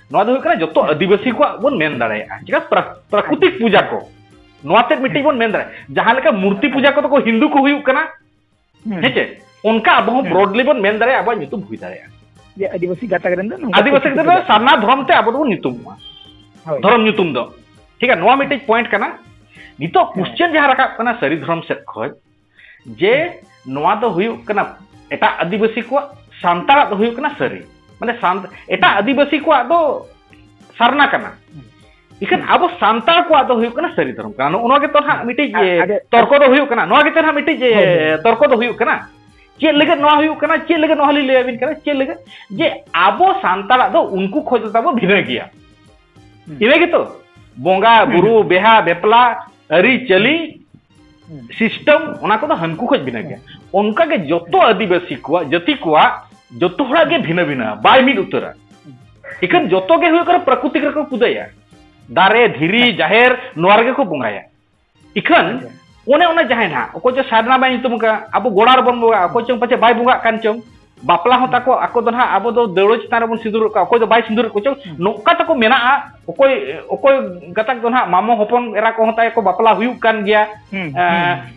ᱱᱚᱣᱟ ᱫᱚ ᱦᱩᱭᱩᱜ ᱠᱟᱱᱟ ᱡᱚᱛᱚ ᱟᱹᱫᱤᱵᱟᱹᱥᱤ ᱠᱚᱣᱟᱜ ᱵᱚᱱ ᱢᱮᱱ ᱫᱟᱲᱮᱭᱟᱜᱼᱟ ᱪᱮᱫᱟᱜ ᱯᱨᱟᱠᱨᱤᱛᱤᱠ ᱯᱩᱡᱟ ᱠᱚ ᱱᱚᱣᱟ ᱛᱮᱫ ᱢᱤᱫᱴᱤᱡ ᱵᱚᱱ ᱢᱮᱱ ᱫᱟᱲᱮᱭᱟᱜᱼᱟ ᱡᱟᱦᱟᱸ ᱞᱮᱠᱟ ᱢᱩᱨᱛᱤ ᱯᱩᱡᱟ ᱠᱚᱫᱚ ᱠᱚ ᱦᱤᱱᱫᱩ ᱠᱚ ᱦᱩᱭᱩᱜ ᱠᱟᱱᱟ ᱦᱮᱸ ᱪᱮ ᱚᱱᱠᱟ ᱟᱵᱚ ᱦᱚᱸ ᱵᱨᱚᱰᱞᱤ ᱵᱚᱱ ᱢᱮᱱ ᱫᱟᱲᱮᱭᱟᱜᱼᱟ ᱟᱵᱚᱣᱟᱜ ᱧᱩᱛᱩᱢ ᱦᱩᱭ ᱫᱟᱲᱮᱭᱟᱜᱼᱟ ᱡᱮ ᱟᱹᱫᱤᱵᱟᱹᱥᱤ ᱜᱟᱛᱟᱠ ᱨᱮᱱ ᱫᱚ ᱟᱹᱫᱤᱵᱟᱹᱥᱤ ᱜᱟᱛᱟᱠ ᱫᱚ ᱥᱟᱨᱱᱟ ᱫᱷᱚᱨᱚᱢ ᱛᱮ ᱟᱵᱚ ᱫᱚᱵᱚᱱ ᱧᱩᱛᱩᱢᱚᱜᱼᱟ ᱫᱷᱚᱨᱚᱢ ᱧᱩᱛᱩᱢ ᱫᱚ ᱴᱷᱤᱠ ᱜᱮᱭᱟ ᱱᱚᱣᱟ ᱢᱤᱫᱴᱤᱡ ᱯᱚᱭᱮᱱᱴ ᱠᱟᱱᱟ ᱱᱤᱛᱚᱜ ᱠᱩᱥᱪᱮᱱ ᱡᱟᱦᱟᱸ ᱨᱟᱠᱟᱵ ᱠᱟᱱᱟ ᱥᱟᱹᱨᱤ ᱫᱷᱚᱨᱚᱢ ᱥᱮᱫ ᱠᱷᱚᱱ ᱡᱮ ᱱᱚᱣᱟ ᱫᱚ ᱦᱩᱭᱩᱜ ᱠᱟᱱᱟ ᱮᱴᱟᱜ ᱟᱹᱫᱤᱵᱟᱹᱥᱤ ᱠᱚᱣᱟᱜ ᱥᱟᱱᱛᱟᱲᱟᱜ ᱫᱚ ᱦᱩᱭᱩᱜ ᱠᱟᱱᱟ ᱥᱟᱹᱨᱤ ᱢᱟᱱᱮ ᱮᱴᱟᱜ ᱟᱹᱫᱤᱵᱟᱹᱥᱤ ᱠᱚᱣᱟᱜ ᱫᱚ ᱥᱟᱨᱱᱟ ᱠᱟᱱᱟ ᱤᱠᱷᱟᱹᱱ ᱟᱵᱚ ᱥᱟᱱᱛᱟᱲ ᱠᱚᱣᱟᱜ ᱫᱚ ᱦᱩᱭᱩᱜ ᱠᱟᱱᱟ ᱥᱟᱹᱨᱤ ᱫᱷᱚᱨᱚᱢ ᱠᱟᱱᱟ ᱱᱚᱜᱼᱚ ᱱᱚᱣᱟ ᱜᱮᱛᱚ ᱱᱟᱦᱟᱜ ᱢᱤᱫᱴᱤᱡ ᱛᱚᱨᱠᱚ ᱫᱚ ᱦᱩᱭᱩᱜ ᱠᱟᱱᱟ ᱱᱚᱣᱟ ᱜᱮᱛᱚ ᱱᱟᱦᱟᱜ ᱢᱤᱫᱴᱤᱡ ᱛᱚᱨᱠᱚ ᱫᱚ ᱦᱩᱭᱩᱜ ᱠᱟᱱᱟ ᱪᱮᱫ ᱞᱟᱹᱜᱤᱫ ᱱᱚᱣᱟ ᱦᱩᱭᱩᱜ ᱠᱟᱱᱟ ᱪᱮᱫ ᱞᱟᱹᱜᱤᱫ ᱱᱚᱣᱟ ᱞᱤᱧ ᱞᱟᱹᱭᱟᱵᱤᱱ ᱠᱟᱱᱟ ᱪᱮᱫ ᱞᱟᱹᱜᱤᱫ ᱡᱮ ᱟᱵᱚ ᱥᱟᱱᱛᱟᱲᱟᱜ ᱫᱚ ᱩᱱᱠᱩ ᱠᱷᱚᱡ ᱫᱚ ᱛᱟᱵᱚ ᱵᱷᱤᱱᱟᱹ ᱜᱮᱭᱟ ᱦᱩᱸ ᱤᱱᱟᱹ ᱜᱮᱛᱚ ᱵᱚᱸᱜᱟ ᱵᱩᱨᱩ ᱵᱮᱦᱟ ᱵᱮᱯᱞᱟ ᱟᱹᱨᱤᱪᱟᱹᱞᱤ ᱥᱤᱥᱴᱮᱢ ᱚᱱᱟ ᱠᱚᱫᱚ ᱦᱟᱹᱱᱠᱩ ᱠᱷᱚᱡ ᱵᱷᱤᱱᱟᱹ ᱜᱮᱭᱟ ᱚᱱᱠᱟᱜᱮ ᱡᱚᱛᱚ ᱟᱹᱫᱤᱵᱟᱹᱥᱤ ᱠᱚᱣᱟᱜ ᱡᱟᱹᱛᱤ ᱠᱚᱣᱟᱜ ᱡᱚᱛᱚ ᱦᱚᱲᱟᱜ ᱜᱮ ᱵᱷᱤᱱᱟᱹ ᱵᱷᱤᱱᱟᱹ ᱵᱟᱭ ᱢᱤᱫ ᱩᱛᱟᱹᱨᱟ ᱤᱠᱷᱟᱹᱱ ᱡᱚᱛᱚ ᱜᱮ ᱦᱩᱭᱩᱜ ᱠᱟᱱᱟ ᱯᱨᱟᱠᱨᱤᱛᱤᱠ ᱨᱮᱠᱚ ᱯᱩᱡᱟᱹᱭᱟ ᱫᱟᱨᱮ ᱫᱷᱤᱨᱤ ᱡᱟᱦᱮᱨ ᱱᱚᱣᱟ ᱨᱮᱜᱮ ᱠᱚ ᱵᱚᱸᱜᱟᱭᱟ ᱤᱠᱷᱟᱹᱱ ᱚᱱᱮ ᱚᱱᱟ ᱡᱟᱦᱟᱸᱭ ᱱᱟᱦᱟᱜ ᱚᱠᱚᱭ ᱪᱚ ᱥᱟᱨᱱᱟ ᱵᱟᱭ ᱧᱩᱛᱩᱢ ᱟᱠᱟᱫ ᱟᱵᱚ ᱜᱚᱲᱟ ᱨᱮᱵᱚᱱ ᱵᱚᱸᱜᱟᱜᱼᱟ ᱚᱠᱚᱭ ᱪᱚᱝ ᱯᱟᱪᱮ ᱵᱟᱭ ᱵᱚᱸᱜᱟᱜ ᱠᱟᱱ ᱪᱚᱝ ᱵᱟᱯᱞᱟ ᱦᱚᱸ ᱛᱟᱠᱚ ᱟᱠᱚ ᱫᱚ ᱱᱟᱦᱟᱜ ᱟᱵᱚ ᱫᱚ ᱫᱟᱹᱣᱲᱟᱹ ᱪᱮᱛᱟᱱ ᱨᱮᱵᱚᱱ ᱥᱤᱸᱫᱩᱨᱚᱜ ᱠᱚᱣᱟ ᱚᱠᱚᱭ ᱫᱚ ᱵᱟᱭ ᱥᱤᱸᱫᱩᱨᱮᱫ ᱠᱚ ᱪᱚᱝ ᱱᱚᱝᱠᱟ ᱛᱟᱠᱚ ᱢᱮᱱᱟᱜᱼᱟ ᱚᱠᱚᱭ ᱚᱠᱚᱭ ᱜᱟᱛᱟᱠ ᱫᱚ ᱱᱟᱦᱟᱜ ᱢᱟᱢᱚ ᱦᱚᱯᱚᱱ ᱮᱨᱟ ᱠᱚᱦᱚᱸ ᱛᱟᱭ ᱠᱚ ᱵᱟᱯᱞᱟ ᱦᱩᱭᱩᱜ ᱠᱟᱱ ᱜᱮᱭᱟ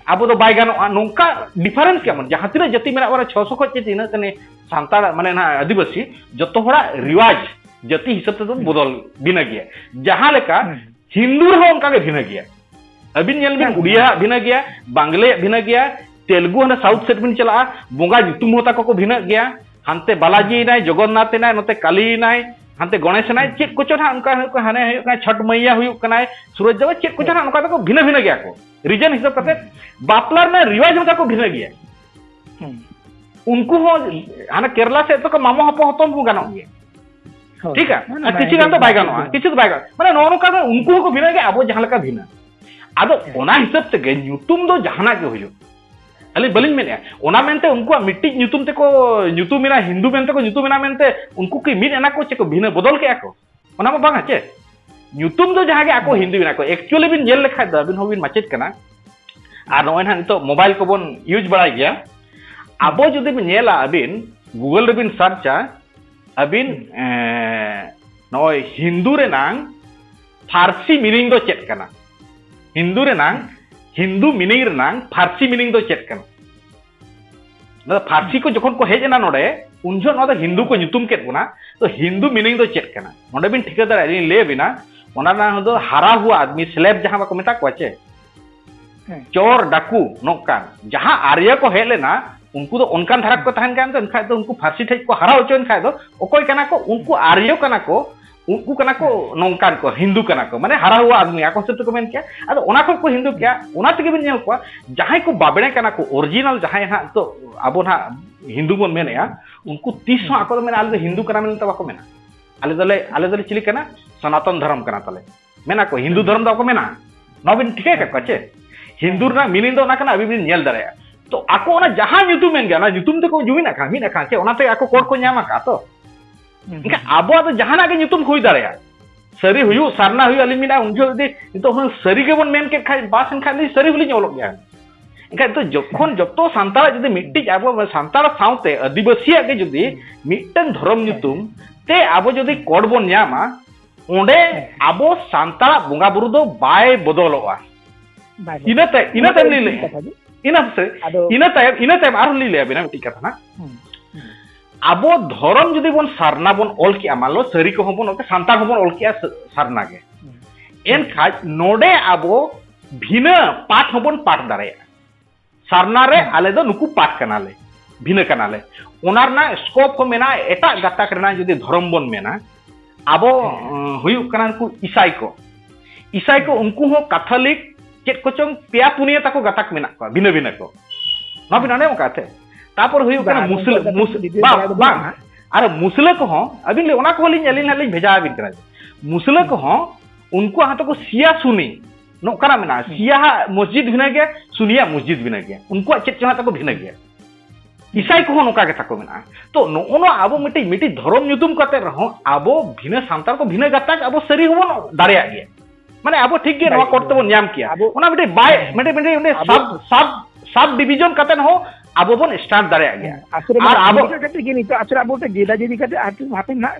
ᱟᱵᱚ ᱫᱚ ᱵᱟᱭ ᱜᱟᱱᱚᱜᱼᱟ ᱱᱚᱝᱠᱟ ᱰᱤᱯᱷᱟᱨᱮᱱᱥ ᱠᱮᱢᱚᱱ ᱡᱟᱦᱟᱸ ᱛᱤᱱᱟᱹᱜ ᱡᱟᱹᱛᱤ ᱢᱮᱱᱟᱜ ᱵᱚᱱᱟ ᱪᱷᱚᱥᱚ ᱠᱷᱚᱱ ᱪᱮ ᱛᱤᱱᱟᱹᱜ ᱛᱟᱹᱱᱤ ᱥᱟᱱᱛᱟᱲ ᱢᱟᱱᱮ ᱱᱟᱦᱟᱜ ᱟᱹᱫᱤᱵᱟᱹᱥᱤ ᱡᱚᱛᱚ ᱦᱚᱲᱟᱜ ᱨᱤᱣᱟᱡᱽ ᱡᱟᱹᱛᱤ ᱦᱤᱥᱟᱹᱵ ᱛᱮᱫᱚ ᱵᱚᱫᱚᱞ ᱵᱤᱱᱟᱹ ᱜᱮᱭᱟ ᱡᱟᱦᱟᱸ ᱞᱮᱠᱟ ᱦᱤᱱᱫᱩ ᱨᱮᱦᱚᱸ ᱚᱱᱠᱟ ᱜᱮ ᱵᱷᱤᱱᱟᱹ ᱜᱮᱭᱟ ᱟᱹᱵᱤᱱ ᱧᱮᱞ ᱵᱤᱱ ᱩᱲᱤᱭᱟᱜ ᱵᱷᱤᱱᱟᱹ ᱜᱮᱭᱟ ᱵᱟᱝᱞᱟᱭᱟᱜ ᱵᱷᱤᱱᱟᱹ ᱜᱮᱭᱟ ᱛᱮᱞᱜᱩ ᱦᱟᱱᱮ ᱥᱟᱣᱩᱛᱷ ᱥᱮᱫ ᱵᱤᱱ ᱪᱟᱞᱟᱜᱼᱟ ᱵᱚᱸᱜᱟ ᱧᱩᱛᱩᱢ ᱦᱚᱸ ᱛᱟᱠᱚ ᱠᱚ ᱵᱷᱤᱱᱟᱹᱜ ᱜᱮᱭᱟ ᱦᱟᱱᱛᱮ ᱵᱟᱞᱟᱡᱤ ᱮᱱᱟᱭ ᱡᱚᱜᱚᱱᱱᱟᱛᱷ ᱮᱱᱟᱭ ᱱᱚᱛᱮ ᱠᱟᱞᱤ ᱮᱱᱟᱭ ᱦᱟᱱᱛᱮ ᱜᱚᱱᱮᱥ ᱮᱱᱟᱭ ᱪᱮᱫ ᱠᱚᱪᱚ ᱱᱟᱦᱟᱜ ᱚᱱᱠᱟ ᱦᱩᱭᱩᱜ ᱠᱟᱱᱟ ᱦᱟᱱᱮ ᱦᱩᱭᱩᱜ ᱠᱟᱱᱟ ᱪᱷᱚᱴ ᱢᱟᱹᱭᱭᱟ ᱦᱩᱭᱩᱜ ᱠᱟᱱᱟᱭ ᱥᱩᱨᱚᱡᱽ ᱫᱮᱵᱟ ᱪᱮᱫ ᱠᱚᱪᱚ ᱱᱟᱦᱟᱜ ᱚᱱᱠᱟ ᱫᱚᱠᱚ ᱵᱷᱤᱱᱟᱹ ᱵᱷᱤᱱᱟᱹ ᱜᱮᱭᱟ ᱠᱚ ᱨᱤᱡᱮᱱ ᱦᱤᱥᱟᱹᱵ ᱠᱟᱛᱮ ᱵᱟᱯᱞᱟ ᱨᱮᱱᱟᱜ ᱨᱤᱣᱟᱡᱽ ᱦᱚᱸ ᱛᱟᱠᱚ ᱵᱷᱤᱱᱟᱹ ᱜᱮᱭᱟ ᱩᱱᱠᱩ ᱦᱚᱸ ᱦᱟᱱᱮ ᱠᱮᱨᱞᱟ ᱥᱮᱫ ᱫᱚᱠᱚ ᱢᱟᱢᱚ ᱦᱚᱯᱚᱱ ᱦᱚᱯᱚᱱ ᱠᱚ ᱜᱟᱱᱚᱜ ᱜᱮᱭᱟ ᱴᱷᱤᱠ ᱜᱮᱭᱟ ᱟᱨ ᱠᱤᱪᱷᱩ ᱜᱟᱱ ᱫᱚ ᱵᱟᱭ ᱜᱟᱱᱚᱜᱼᱟ ᱠᱤᱪᱷᱩ ᱫᱚ ᱵᱟᱭ ᱜᱟᱱᱚᱜᱼᱟ ᱢᱟᱱᱮ ᱱᱚᱜᱼᱚ ᱱᱚᱝᱠᱟ ᱫᱚ ᱩᱱᱠᱩ ᱦᱚᱸᱠᱚ ᱵᱷᱤᱱᱟᱹ ᱜᱮᱭᱟ ᱟᱵᱚ ᱡᱟᱦᱟᱸ ᱞᱮᱠᱟ ᱵᱷᱤᱱᱟᱹ ᱟᱫᱚ ᱚᱱᱟ ᱦᱤᱥᱟᱹᱵ ᱛᱮᱜᱮ ᱧᱩᱛᱩᱢ ᱫᱚ ᱡᱟᱦᱟᱱᱟᱜ ᱜᱮ ᱦᱩᱭᱩᱜ ᱟᱹᱞᱤᱧ ᱵᱟᱹᱞᱤᱧ ᱢᱮᱱᱮᱫᱼᱟ ᱚᱱᱟ ᱢᱮᱱᱛᱮ ᱩᱱᱠᱩᱣᱟᱜ ᱢᱤᱫᱴᱤᱡ ᱧᱩᱛᱩᱢ ᱛᱮᱠᱚ ᱧᱩᱛᱩᱢ ᱮᱱᱟ ᱦᱤᱱᱫᱩ ᱢᱮᱱᱛᱮ ᱠᱚ ᱧᱩᱛᱩᱢ ᱮᱱᱟ ᱢᱮᱱᱛᱮ ᱩᱱᱠᱩ ᱠᱤ ᱢᱤᱫ ᱮᱱᱟ ᱠᱚ ᱪᱮ ᱠᱚ ᱵᱷᱤᱱᱟᱹ ᱵᱚᱫᱚᱞ ᱠᱮᱜᱼᱟ ᱠᱚ ᱚᱱᱟ ᱢᱟ ᱵᱟᱝᱟ ᱪᱮ ᱧᱩᱛᱩᱢ ᱫᱚ ᱡᱟᱦᱟᱸ ᱜᱮ ᱟᱠᱚ ᱦᱤᱱᱫᱩ ᱮᱱᱟ ᱠᱚ ᱮᱠᱪᱩᱭᱮᱞᱤ ᱵᱤᱱ ᱧᱮᱞ ᱞᱮᱠᱷᱟᱡ ᱫᱚ ᱟᱹᱵᱤᱱ ᱦᱚᱸᱵᱤᱱ ᱢᱟᱪᱮᱫ ᱠᱟᱱᱟ ᱟᱨ ᱱᱚᱜᱼᱚᱭ ᱱᱟᱦᱟᱜ ᱱᱤᱛᱚᱜ ᱢᱳᱵᱟᱭᱤᱞ ᱠᱚᱵᱚᱱ ᱤᱭᱩᱡᱽ ᱵᱟᱲᱟᱭ ᱜᱮᱭᱟ ᱟᱵᱚ ᱡᱩᱫᱤ ᱵᱤᱱ ᱧᱮᱞᱟ ᱟᱹᱵᱤᱱ ᱜᱩᱜᱚᱞ ᱨᱮᱵᱤᱱ ᱥᱟᱨᱪᱟ ᱟᱹᱵᱤᱱ ᱱᱚᱜᱼᱚᱭ ᱦᱤᱱᱫᱩ ᱨᱮᱱᱟᱝ ᱯᱷᱟᱨᱥᱤ ᱢᱤᱱᱤᱝ ᱫᱚ ᱪᱮᱫ ᱠᱟᱱᱟ ᱦᱤᱱᱫᱩ ᱨᱮᱱᱟᱝ ᱦᱤᱱᱫᱩ ᱢᱤᱱᱤᱝ ᱨᱮᱱᱟᱝ ᱯᱷᱟᱨᱥᱤ ᱢᱤᱱᱤᱝ ᱫᱚ ᱪᱮᱫ ᱠᱟᱱᱟ ᱱᱚᱣᱟ ᱯᱷᱟᱨᱥᱤ ᱠᱚ ᱡᱚᱠᱷᱚᱱ ᱠᱚ ᱦᱮᱡ ᱮᱱᱟ ᱱᱚᱰᱮ ᱩᱱ ᱡᱚᱦᱚᱜ ᱱᱚᱣᱟ ᱫᱚ ᱦᱤᱱᱫᱩ ᱠᱚ ᱧᱩᱛᱩᱢ ᱠᱮᱫ ᱵᱚᱱᱟ ᱛᱚ ᱦᱤᱱᱫᱩ ᱢᱤᱱᱤᱝ ᱫᱚ ᱪᱮᱫ ᱠᱟᱱᱟ ᱱᱚᱰᱮ ᱵᱤᱱ ᱴᱷᱤᱠᱟᱹ ᱫᱟᱲᱮᱭᱟᱜᱼᱟ ᱞᱤᱧ ᱞᱟᱹᱭ ᱟᱵᱤᱱᱟ ᱚᱱᱟ ᱨᱮᱱᱟᱜ ᱫᱚ ᱦᱟᱨᱟ ᱦᱩᱣᱟ ᱟᱫᱢᱤ ᱥᱞᱮᱵ ᱡᱟᱦᱟᱸ ᱵᱟᱠᱚ ᱢᱮᱛᱟ ᱠᱚᱣᱟ ᱪᱮ ᱪᱚᱨ ᱰᱟᱠᱩ ᱱᱚᱝᱠᱟᱱ ᱡᱟᱦᱟᱸ ᱟᱨᱭᱟ ᱠᱚ ᱦᱮᱡ ᱞᱮᱱᱟ ᱩᱱᱠᱩ ᱫᱚ ᱚᱱᱠᱟᱱ ᱫᱷᱟᱨᱟ ᱠᱚ ᱛᱟᱦᱮᱱ ᱠᱟᱱ ᱫᱚ ᱮᱱᱠᱷᱟᱡ ᱫᱚ ᱩᱱᱠᱩ ᱯᱷᱟᱨᱥᱤ ᱴᱷᱮᱡ ᱠᱚ ᱦᱟᱨᱟ ᱦᱚᱪᱚᱭᱮᱱ ᱠᱷᱟᱡ ᱫᱚ ᱚᱠᱚᱭ ᱠᱟᱱᱟ ᱠᱚ ᱩᱱᱠᱩ ᱟᱨᱭᱚ ᱠᱟᱱᱟ ᱠᱚ ᱩᱱᱠᱩ ᱠᱟᱱᱟ ᱠᱚ ᱱᱚᱝᱠᱟᱱ ᱠᱚ ᱦᱤᱱᱫᱩ ᱠᱟᱱᱟ ᱠᱚ ᱢᱟᱱᱮ ᱦᱟᱨᱟ ᱦᱩᱣᱟ ᱟᱫᱢᱤ ᱟᱠᱚ ᱦᱤᱥᱟᱹᱵ ᱛᱮᱠᱚ ᱢᱮᱱ ᱠᱮᱭᱟ ᱟᱫᱚ ᱚᱱᱟ ᱠᱷᱚᱡ ᱠᱚ ᱦᱤᱱᱫᱩ ᱠᱮᱭᱟ ᱚᱱᱟ ᱛᱮᱜᱮ ᱵᱤᱱ ᱧᱮᱞ ᱠᱚᱣᱟ ᱡᱟᱦᱟᱸᱭ ᱠᱚ ᱵᱟᱵᱲᱮ ᱠᱟᱱᱟ ᱠᱚ ᱚᱨᱤᱡᱤᱱᱟᱞ ᱡᱟᱦᱟᱸᱭ ᱦᱟᱸᱜ ᱛᱚ ᱟᱵᱚ ᱦᱟᱸᱜ ᱦᱤᱱᱫᱩ ᱵᱚᱱ ᱢᱮᱱᱮᱜᱼᱟ ᱩᱱᱠᱩ ᱛᱤᱥ ᱦᱚᱸ ᱟᱠᱚ ᱫᱚ ᱢᱮᱱᱟ ᱟᱞᱮ ᱫᱚ ᱦᱤᱱᱫᱩ ᱠᱟᱱᱟ ᱢᱮᱱᱛᱮ ᱵᱟᱠᱚ ᱢᱮᱱᱟ ᱟᱞᱮ ᱫᱚᱞᱮ ᱟᱞᱮ ᱫᱚᱞᱮ ᱪᱤᱞᱤ ᱠᱟᱱᱟ ᱥᱚᱱᱟᱛᱚᱱ ᱫᱷᱚᱨᱚᱢ ᱠᱟᱱᱟ ᱛᱟᱞᱮ ᱢᱮᱱᱟ ᱠᱚ ᱦᱤᱱᱫᱩ ᱫᱷᱚᱨᱚᱢ ᱫᱚ ᱵᱟᱠᱚ ᱢᱮᱱᱟ ᱱᱚᱣᱟ ᱵᱤᱱ ᱴᱷᱤᱠᱟᱹ ᱠᱟᱜ ᱠᱚᱣᱟ ᱪᱮ ᱦᱤᱱᱫᱩ ᱨᱮᱱᱟᱜ ᱢᱤᱱᱤᱝ ᱫᱚ ᱚᱱᱟ ᱠᱟᱱᱟ ᱟᱹᱵᱤᱱ ᱵᱤᱱ ᱧᱮᱞ ᱫᱟᱲᱮᱭᱟᱜᱼᱟ ᱛᱚ ᱟᱠᱚ ᱚᱱᱟ ᱡᱟᱦᱟᱸ ᱧᱩᱛᱩᱢ ᱢᱮᱱ ᱜᱮᱭᱟ ᱚᱱᱟ ᱧᱩᱛᱩᱢ ᱛᱮᱠᱚ ᱡᱩᱢᱤᱫ ᱟᱠᱟᱱ ᱢᱤᱫ ᱟᱠᱟᱱ ᱪᱮ ᱚᱱᱟᱛᱮ ᱟᱠᱚ ᱠᱚᱲ ᱠᱚ ᱧᱟᱢ ᱟᱠᱟᱫᱼᱟ ᱛᱚ ᱮᱱᱠᱷᱟᱱ ᱟᱵᱚᱣᱟᱜ ᱫᱚ ᱡᱟᱦᱟᱱᱟᱜ ᱜᱮ ᱧᱩᱛᱩᱢ ᱦᱩᱭ ᱫᱟᱲᱮᱭᱟᱜᱼᱟ ᱥᱟᱹᱨᱤ ᱦᱩᱭᱩᱜ ᱥᱟᱨᱱᱟ ᱦᱩᱭᱩᱜ ᱟᱹᱞᱤᱧ ᱢᱮᱱᱟ ᱩᱱ ᱡᱚᱦᱚᱜ ᱡᱩᱫᱤ ᱱᱤᱛᱚᱜ ᱦᱩᱱᱟᱹᱝ ᱥᱟᱹᱨᱤ ᱜᱮᱵᱚᱱ ᱢᱮᱱ ᱠᱮᱫ ᱠᱷᱟᱡ ᱵᱟᱥ ᱮᱱᱠᱷᱟᱱ ᱞᱤᱧ ᱥᱟᱹᱨᱤ ᱦᱚᱸᱞᱤᱧ ᱚᱞᱚᱜ ᱜᱮᱭᱟ ᱮᱱᱠᱷᱟᱱ ᱫᱚ ᱡᱚᱠᱷᱚᱱ ᱡᱚᱛᱚ ᱥᱟᱱᱛᱟᱲᱟᱜ ᱡᱩᱫᱤ ᱢᱤᱫᱴᱤᱡ ᱟᱵᱚ ᱥᱟᱱᱛᱟᱲ ᱥᱟᱶᱛᱮ ᱟᱹᱫᱤᱵᱟᱹᱥᱤᱭᱟᱜ ᱜᱮ ᱡᱩᱫᱤ ᱢᱤᱫᱴᱟᱝ ᱫᱷᱚᱨᱚᱢ ᱧᱩᱛᱩᱢ ᱛᱮ ᱟᱵᱚ ᱡᱩᱫᱤ ᱠᱚᱰ ᱵᱚᱱ ᱧᱟᱢᱟ ᱚᱸᱰᱮ ᱟᱵᱚ ᱥᱟᱱᱛᱟᱲᱟᱜ ᱵᱚᱸᱜᱟ ᱵᱩᱨᱩ ᱫᱚ ᱵᱟᱭ ᱵᱚᱫᱚᱞᱚᱜᱼᱟ ᱤᱱᱟᱹ ᱛᱟᱭᱚᱢ ᱤᱱᱟᱹ ᱛᱟᱭᱚᱢ ᱞᱤᱧ ᱞᱟᱹᱭᱟ ᱤᱱᱟᱹ ᱥᱮ ᱤᱱᱟᱹ ᱛᱟᱭᱚᱢ ᱤᱱᱟᱹ ᱛᱟᱭᱚᱢ ᱟᱨᱦᱚᱸ ᱞᱤᱧ ᱞᱟᱹᱭ ᱟᱵᱤᱱᱟ ᱢᱤᱫᱴᱤᱡ ᱠᱟᱛᱷᱟ ᱱᱟᱜ ᱟᱵᱚ ᱫᱷᱚᱨᱚᱢ ᱡᱩᱫᱤ ᱵᱚᱱ ᱥᱟᱨᱱᱟ ᱵᱚᱱ ᱚᱞ ᱠᱮᱜᱼᱟ ᱢᱟᱱᱞᱚ ᱥᱟᱹᱨᱤ ᱠᱚᱦᱚᱸ ᱵᱚᱱ ᱚᱞ ᱥᱟᱱᱛᱟᱲ ᱦᱚᱸ ᱵᱚᱱ ᱚᱞ ᱠᱮᱜᱼᱟ ᱥᱟᱨᱱᱟ ᱜᱮ ᱮᱱᱠᱷᱟᱡ ᱱᱚᱰᱮ ᱟᱵᱚ ᱵᱷᱤᱱᱟᱹ ᱯᱟᱴ ᱦᱚᱸᱵᱚᱱ ᱯᱟᱴ ᱫᱟᱲᱮᱭᱟᱜᱼᱟ ᱥᱟᱨᱱᱟ ᱨᱮ ᱟᱞᱮ ᱫᱚ ᱱᱩᱠᱩ ᱯᱟᱴ ᱠᱟᱱᱟᱞᱮ ᱵᱷᱤᱱᱟᱹ ᱠᱟᱱᱟᱞᱮ ᱚᱱᱟ ᱨᱮᱱᱟᱜ ᱥᱠᱳᱯ ᱦᱚᱸ ᱢᱮᱱᱟᱜᱼᱟ ᱮᱴᱟᱜ ᱜᱟᱛᱟᱠ ᱨᱮᱱᱟᱜ ᱡᱩᱫᱤ ᱫᱷᱚᱨᱚᱢ ᱵᱚᱱ ᱢᱮᱱᱟ ᱟᱵᱚ ᱦᱩᱭᱩᱜ ᱠᱟᱱᱟ ᱱᱩᱠᱩ ᱤᱥᱟᱭ ᱠᱚ ᱤᱥᱟᱭ ᱠᱚ ᱩᱱᱠᱩ ᱦᱚᱸ ᱠᱟᱛᱷᱚᱞᱤᱠ ᱪᱮᱫ ᱠᱚᱪᱚᱝ ᱯᱮᱭᱟ ᱯᱩᱱᱭᱟᱹ ᱛᱟᱠᱚ ᱜᱟᱛᱟᱠ ᱢᱮᱱᱟᱜ ᱠᱚᱣᱟ ᱵᱷᱤᱱᱟᱹ ᱵᱷᱤᱱᱟᱹ ᱠᱚ ᱱᱚᱣᱟ ᱵᱤᱱ ᱟᱸᱡᱚᱢ ᱟᱠᱟᱫ ᱛᱮ ᱛᱟᱯᱚᱨ ᱦᱩᱭᱩᱜ ᱠᱟᱱᱟ ᱢᱩᱥᱞᱟᱹ ᱵᱟᱝ ᱵᱟᱝ ᱟᱨ ᱢᱩᱥᱞᱟᱹ ᱠᱚᱦᱚᱸ ᱟᱹᱵᱤᱱ ᱚᱱᱟ ᱠᱚᱦᱚᱸ ᱞᱤᱧ ᱟᱹᱞᱤᱧ ᱦᱟᱸᱜ ᱞᱤᱧ ᱵᱷᱮᱡᱟ ᱟᱹᱵᱤᱱ ᱠᱟᱱᱟ ᱢᱩᱥᱞᱟᱹ ᱠᱚᱦᱚᱸ ᱩᱱᱠᱩᱣᱟᱜ ᱦᱚᱸᱛᱚ ᱠᱚ ᱥᱤᱭᱟ ᱥᱩᱱᱤ ᱱᱚᱝᱠᱟᱱᱟᱜ ᱢᱮᱱᱟᱜᱼᱟ ᱥᱤᱭᱟᱦᱟᱜ ᱢᱚᱥᱡᱤᱫ ᱵᱷᱤᱱᱟᱹ ᱜᱮᱭᱟ ᱥᱩᱱᱤᱭᱟᱜ ᱢᱚᱥᱡᱤᱫ ᱵᱷᱤᱱᱟᱹ ᱜᱮᱭᱟ ᱩᱱᱠᱩᱣᱟᱜ ᱪᱮᱫ ᱪᱚᱝ ᱛᱟᱠᱚ ᱵᱷᱤᱱᱟᱹ ᱜᱮᱭᱟ ᱤᱥᱟᱭ ᱠᱚᱦᱚᱸ ᱱᱚᱝᱠᱟ ᱜᱮ ᱛᱟᱠᱚ ᱢᱮᱱᱟᱜᱼᱟ ᱛᱚ ᱱᱚᱜᱼᱚ ᱱᱚᱣᱟ ᱟᱵᱚ ᱢᱤᱫᱴᱤᱡ ᱢᱤᱫᱴᱤᱡ ᱫᱷᱚᱨᱚᱢ ᱧᱩᱛᱩᱢ ᱠᱟᱛᱮ ᱨᱮᱦᱚᱸ ᱟᱵᱚ ᱵᱷᱤᱱᱟᱹ ᱥᱟᱱᱛᱟᱲ ᱠᱚ ᱵᱷᱤᱱᱟᱹ ᱜᱟᱛᱟᱠ ᱟᱵᱚ ᱥᱟᱹᱨᱤ ᱦᱚᱸᱵᱚᱱ ᱫᱟᱲᱮᱭᱟᱜ ᱜᱮᱭᱟ ᱢᱟᱱᱮ ᱟᱵᱚ ᱴᱷᱤᱠ ᱜᱮ ᱱᱚᱣᱟ ᱠᱚᱨᱛᱮ ᱵᱚᱱ ᱧᱟᱢ ᱠᱮᱭᱟ ᱚᱱᱟ ᱢᱤᱫᱴᱤᱡ ᱵᱟᱭ ᱢᱤᱫᱴᱤᱡ ᱢᱤᱫᱴᱤᱡ ᱚᱸᱰᱮ ᱥᱟᱵ ᱥᱟᱵ ᱥᱟᱵ ᱰᱤᱵᱤᱡᱚᱱ ᱠᱟᱛᱮ ᱦᱚᱸ ᱟᱵᱚ ᱵᱚᱱ ᱥᱴᱟᱨᱴ ᱫᱟᱲᱮᱭᱟᱜ ᱜᱮᱭᱟ ᱟᱨ ᱟᱵᱚ ᱠᱟᱛᱮ ᱜᱮ ᱱᱤᱛᱚᱜ ᱟᱥᱚᱞᱮ ᱟᱵᱚ ᱡᱮᱫᱟ ᱡᱮᱫᱤ ᱠᱟᱛᱮ ᱦᱟᱯᱮᱱ ᱦᱟᱸᱜ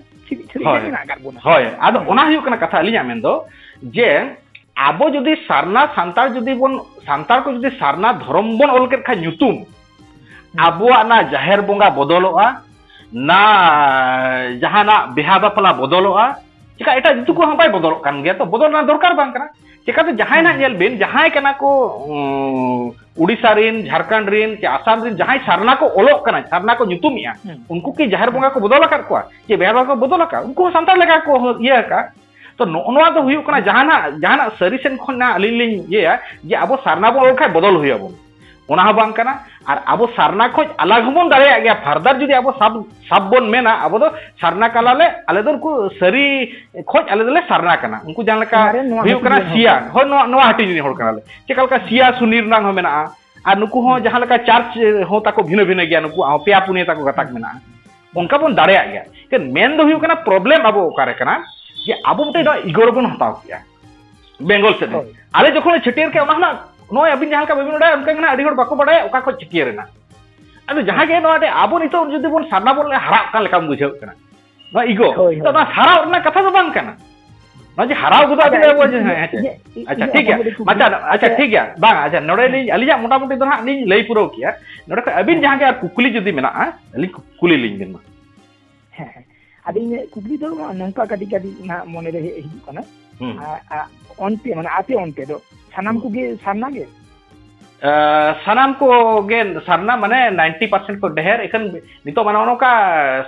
ᱦᱳᱭ ᱟᱫᱚ ᱚᱱᱟ ᱦᱩᱭᱩᱜ ᱠᱟᱱᱟ ᱠᱟᱛᱷᱟ ᱟᱹᱞᱤᱧᱟᱜ ᱢᱮᱱ ᱫᱚ ᱡᱮ ᱟᱵᱚ ᱡᱩᱫᱤ ᱥᱟᱨᱱᱟ ᱥᱟᱱᱛᱟᱲ ᱡᱩᱫᱤ ᱵᱚᱱ ᱥᱟᱱᱛᱟᱲ ᱠᱚ ᱡᱩᱫᱤ ᱥᱟᱨᱱᱟ ᱫᱷᱚᱨᱚᱢ ᱵᱚᱱ ᱚᱞ ᱠᱮᱫ ᱠᱷᱟᱱ ᱧᱩᱛᱩᱢ ᱟᱵᱚᱣᱟᱜ ᱚᱱᱟ ᱡᱟᱦᱮᱨ ᱵᱚᱸᱜᱟ ᱵᱚᱫᱚᱞᱚᱜᱼᱟ ᱱᱟ ᱡᱟᱦᱟᱱᱟᱜ ᱵᱤᱦᱟ ᱵᱟᱯᱞᱟ ᱵᱚᱫᱚᱞᱚᱜᱼᱟ ᱪᱮᱠᱟ ᱮᱴᱟᱜ ᱡᱟᱹᱛᱤ ᱠᱚᱦᱚᱸ ᱵᱟᱭ ᱵᱚᱫᱚᱞᱚᱜ ᱠᱟᱱ ᱜᱮᱭᱟ ᱛᱚ ᱵᱚᱫᱚᱞ ᱨᱮᱱᱟᱜ ᱫᱚᱨᱠᱟᱨ ᱵᱟᱝ ᱠᱟᱱᱟ ᱪᱮᱠᱟᱛᱮ ᱡᱟᱦᱟᱸᱭ ᱱᱟᱜ ᱧᱮᱞ ᱵᱤᱱ ᱡᱟᱦᱟᱸᱭ ᱠᱟᱱᱟ ᱠᱚ ᱩᱰᱤᱥᱟ ᱨᱤᱱ ᱡᱷᱟᱨᱠᱷᱚᱸᱰ ᱨᱤᱱ ᱪᱮ ᱟᱥᱟᱢ ᱨᱤᱱ ᱡᱟᱦᱟᱸᱭ ᱥᱟᱨᱱᱟ ᱠᱚ ᱚᱞᱚᱜ ᱠᱟᱱᱟ ᱥᱟᱨᱱᱟ ᱠᱚ ᱧᱩᱛᱩᱢᱮᱜᱼᱟ ᱩᱱᱠᱩ ᱠᱤ ᱡᱟᱦᱮᱨ ᱵᱚᱸᱜᱟ ᱠᱚ ᱵᱚᱫᱚᱞ ᱟᱠᱟᱫ ᱠᱚᱣᱟ ᱪᱮ ᱵᱮᱦᱟᱨ ᱵᱚᱸᱜᱟ ᱠᱚ ᱵᱚᱫᱚᱞ ᱟᱠᱟᱫ ᱩᱱᱠᱩ ᱦᱚᱸ ᱥᱟᱱᱛᱟᱲ ᱞᱮᱠᱟ ᱠᱚ ᱤᱭᱟᱹ ᱟᱠᱟᱫ ᱛᱚ ᱱᱚᱜᱼᱚ ᱱᱚᱣᱟ ᱫᱚ ᱦᱩᱭᱩᱜ ᱠᱟᱱᱟ ᱡᱟᱦᱟᱱᱟᱜ ᱡᱟᱦᱟᱱᱟᱜ ᱥᱟᱹᱨᱤ ᱥᱮᱱ ᱠᱷᱚᱱ ᱟᱹᱞᱤᱧ ᱞᱤᱧ ᱤᱭᱟᱹᱭᱟ ᱡᱮ ᱟᱵᱚ ᱥᱟᱨᱱᱟ ᱵᱚᱱ ᱚᱞ ᱠᱷᱟᱱ ᱵᱚᱫᱚᱞ ᱦᱩᱭ ᱟᱵᱚᱱᱟ ᱚᱱᱟ ᱦᱚᱸ ᱵᱟᱝ ᱠᱟᱱᱟ ᱟᱨ ᱟᱵᱚ ᱥᱟᱨᱱᱟ ᱠᱷᱚᱡ ᱟᱞᱟᱜ ᱦᱚᱸᱵᱚᱱ ᱫᱟᱲᱮᱭᱟᱜ ᱜᱮᱭᱟ ᱯᱷᱟᱨᱫᱟᱨ ᱡᱩᱫᱤ ᱟᱵᱚ ᱥᱟᱵ ᱥᱟᱵ ᱵᱚᱱ ᱢᱮᱱᱟ ᱟᱵᱚ ᱫᱚ ᱥᱟᱨᱱᱟ ᱠᱟᱱᱟ ᱞᱮ ᱟᱞᱮ ᱫᱚ ᱩᱱᱠᱩ ᱥᱟᱹᱨᱤ ᱠᱷᱚᱡ ᱟᱞᱮ ᱫᱚᱞᱮ ᱥᱟᱨᱱᱟ ᱠᱟᱱᱟ ᱩᱱᱠᱩ ᱡᱟᱦᱟᱸ ᱞᱮᱠᱟ ᱦᱩᱭᱩᱜ ᱠᱟᱱᱟ ᱥᱤᱭᱟ ᱦᱳᱭ ᱱᱚᱣᱟ ᱱᱚᱣᱟ ᱦᱟᱹᱴᱤᱧ ᱨᱤᱱᱤᱡ ᱦᱚᱲ ᱠᱟᱱᱟᱞᱮ ᱪᱮᱠᱟ ᱞᱮᱠᱟ ᱥᱤᱭᱟ ᱥᱩᱱᱤ ᱨᱮᱱᱟᱜ ᱦᱚᱸ ᱢᱮᱱᱟᱜᱼᱟ ᱟᱨ ᱱᱩᱠᱩ ᱦᱚᱸ ᱡᱟᱦᱟᱸ ᱞᱮᱠᱟ ᱪᱟᱨᱪ ᱦᱚᱸ ᱛᱟᱠᱚ ᱵᱷᱤᱱᱟᱹ ᱵᱷᱤᱱᱟᱹ ᱜᱮᱭᱟ ᱱᱩᱠᱩᱣᱟᱜ ᱦᱚᱸ ᱯᱮᱭᱟ ᱯᱩᱱᱭᱟᱹ ᱛᱟᱠᱚ ᱜᱟᱛᱟᱠ ᱢᱮᱱᱟᱜᱼᱟ ᱚᱱᱠᱟ ᱵᱚᱱ ᱫᱟᱲᱮᱭᱟᱜ ᱜᱮᱭᱟ ᱮᱱᱠᱷᱟᱱ ᱢᱮᱱ ᱫᱚ ᱦᱩᱭᱩᱜ ᱠᱟᱱᱟ ᱯᱨᱚᱵᱞᱮᱢ ᱟᱵᱚ ᱚᱠᱟᱨᱮ ᱠᱟᱱᱟ ᱡᱮ ᱟᱵᱚ ᱢᱤᱫᱴᱮᱱ ᱤᱜᱳ ᱨᱮᱵᱚᱱ ᱦᱟᱛᱟᱣ ᱠᱮᱜᱼᱟ ᱵᱮᱝᱜᱚᱞ ᱥᱮᱫ ᱨᱮ ᱟᱞᱮ ᱡᱚᱠᱷᱚᱱ ᱪᱷᱟᱹᱴᱭᱟᱹᱨ ᱠᱮᱫ ᱚᱱᱟ ᱦᱚᱸ ᱱᱚᱜᱼᱚᱭ ᱟᱹᱵᱤᱱ ᱡᱟᱦᱟᱸ ᱞᱮᱠᱟ ᱵᱟᱹᱵᱤᱱ ᱵᱟᱰᱟᱭᱟ ᱚᱱᱠᱟ ᱜᱮ ᱟᱹᱰᱤ ᱦᱚᱲ ᱵᱟᱠᱚ ᱵᱟᱰᱟᱭᱟ ᱚᱠᱟ ᱠᱷᱚᱱ ᱪᱷᱟᱹᱴᱭᱟᱹᱨ ᱮᱱᱟ ᱟᱫᱚ ᱡᱟᱦᱟᱸ ᱜᱮ ᱱᱚᱣᱟ ᱨᱮ ᱟᱵᱚ ᱱᱤᱛᱚᱜ ᱡᱩᱫᱤ ᱵᱚᱱ ᱥᱟᱨᱱᱟ ᱵᱚᱱ ᱦᱟᱨᱟᱜ ᱠᱟᱱ ᱞᱮᱠᱟᱢ ᱵᱩᱡᱷᱟᱹᱣ ᱠᱟᱱᱟ ᱱᱚᱣᱟ ᱤᱜᱳ ᱛᱚ ᱱᱚᱣᱟ ᱦᱟᱨᱟᱣ ᱨᱮᱱᱟᱜ ᱠᱟᱛᱷᱟ ᱫᱚ ᱵᱟᱝ ᱠᱟᱱᱟ ᱱᱚᱣᱟ ᱡᱮ ᱦᱟᱨᱟᱣ ᱜᱚᱫᱚᱜ ᱟᱵᱤᱱ ᱟᱵᱚ ᱟᱪᱪᱷᱟ ᱴᱷᱤᱠ ᱜᱮᱭᱟ ᱟᱪᱪᱷᱟ ᱟᱪᱪᱷᱟ ᱴᱷᱤᱠ ᱜᱮᱭᱟ ᱵᱟᱝ ᱟᱪᱪᱷᱟ ᱱᱚᱰᱮ ᱞᱤᱧ ᱟᱹᱞᱤᱧᱟᱜ ᱢᱚᱴᱟᱢᱩᱴᱤ ᱫᱚ ᱦᱟᱸᱜ ᱞᱤᱧ ᱞᱟᱹᱭ ᱯᱩᱨᱟᱹᱣ ᱠᱮᱭᱟ ᱱᱚᱰᱮ ᱠᱷᱚᱱ ᱟᱹᱵᱤᱱ ᱡᱟᱦᱟᱸ ᱜᱮ ᱟᱨ ᱠᱩᱠᱞᱤ ᱡᱩᱫᱤ ᱢᱮᱱᱟᱜᱼᱟ ᱟᱹᱞᱤᱧ ᱠᱩᱞᱤ ᱞᱤᱧ ᱵᱮᱱ ᱢᱟ ᱦᱮᱸ ᱦᱮᱸ ᱟᱫᱚ ᱤᱧᱟᱹᱜ ᱠᱩᱠᱞᱤ ᱫᱚ ᱱᱚᱝᱠᱟ ᱠᱟᱹᱴᱤᱡ ᱠᱟᱹᱴᱤᱡ ᱱᱟᱦᱟᱜ ᱢᱚᱱᱮᱨᱮ ᱦᱮᱡ ᱦᱤᱡᱩᱜ ᱠᱟᱱᱟ ᱚᱱᱛᱮ ᱢᱟᱱᱮ ᱟᱯᱮ ᱚᱱᱛᱮ ᱫᱚ ᱥᱟᱱᱟᱢ ᱠᱚᱜᱮ ᱥᱟᱨᱱᱟ ᱜᱮ ᱥᱟᱱᱟᱢ ᱠᱚᱜᱮ ᱥᱟᱨᱱᱟ ᱢᱟᱱᱮ ᱱᱟᱭᱤᱱᱴᱤ ᱯᱟᱨᱥᱮᱱᱴ ᱠᱚ ᱰᱷᱮᱨ ᱮᱠᱷᱟᱱ ᱱᱤᱛᱚᱜ ᱢᱟᱱᱮ ᱱᱚᱝᱠᱟ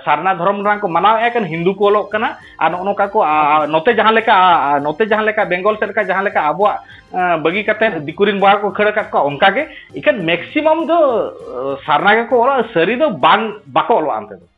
ᱥᱟᱨᱱᱟ ᱫᱷᱚᱨᱚᱢ ᱨᱮᱱᱟᱜ ᱠᱚ ᱢᱟᱱᱟᱣᱮᱫᱼᱟ ᱮᱠᱷᱟᱱ ᱦᱤᱱᱫᱩ ᱠᱚ ᱚᱞᱚᱜ ᱠᱟᱱᱟ ᱟᱨ ᱱᱚᱜᱼᱚ ᱱᱚᱝᱠᱟ ᱠᱚ ᱱᱚᱛᱮ ᱡᱟᱦᱟᱸ ᱞᱮᱠᱟ ᱱᱚᱛᱮ ᱡᱟᱦᱟᱸ ᱞᱮᱠᱟ ᱵᱮᱝᱜᱚᱞ ᱥᱮᱫ ᱞᱮᱠᱟ ᱡᱟᱦᱟᱸ ᱞᱮᱠᱟ ᱟᱵᱚᱣᱟᱜ ᱵᱟᱹᱜᱤ ᱠᱟᱛᱮ ᱫᱤᱠᱩ ᱨᱮᱱ ᱵᱚᱭᱦᱟ ᱠᱚ ᱠᱷᱟᱹᱲ ᱟᱠᱟᱫ ᱠᱚᱣᱟ ᱚᱱᱠᱟ ᱜᱮ ᱮᱠᱷᱟᱱ ᱢᱮᱠᱥᱤᱢᱟᱢ ᱫᱚ ᱥᱟᱨᱱᱟ ᱜᱮᱠᱚ ᱚᱞᱚᱜᱼᱟ ᱥᱟᱹᱨᱤ ᱫᱚ ᱵᱟᱝ ᱵᱟᱠᱚ ᱚᱞᱚᱜᱼᱟ ᱚᱱᱛᱮ ᱫᱚ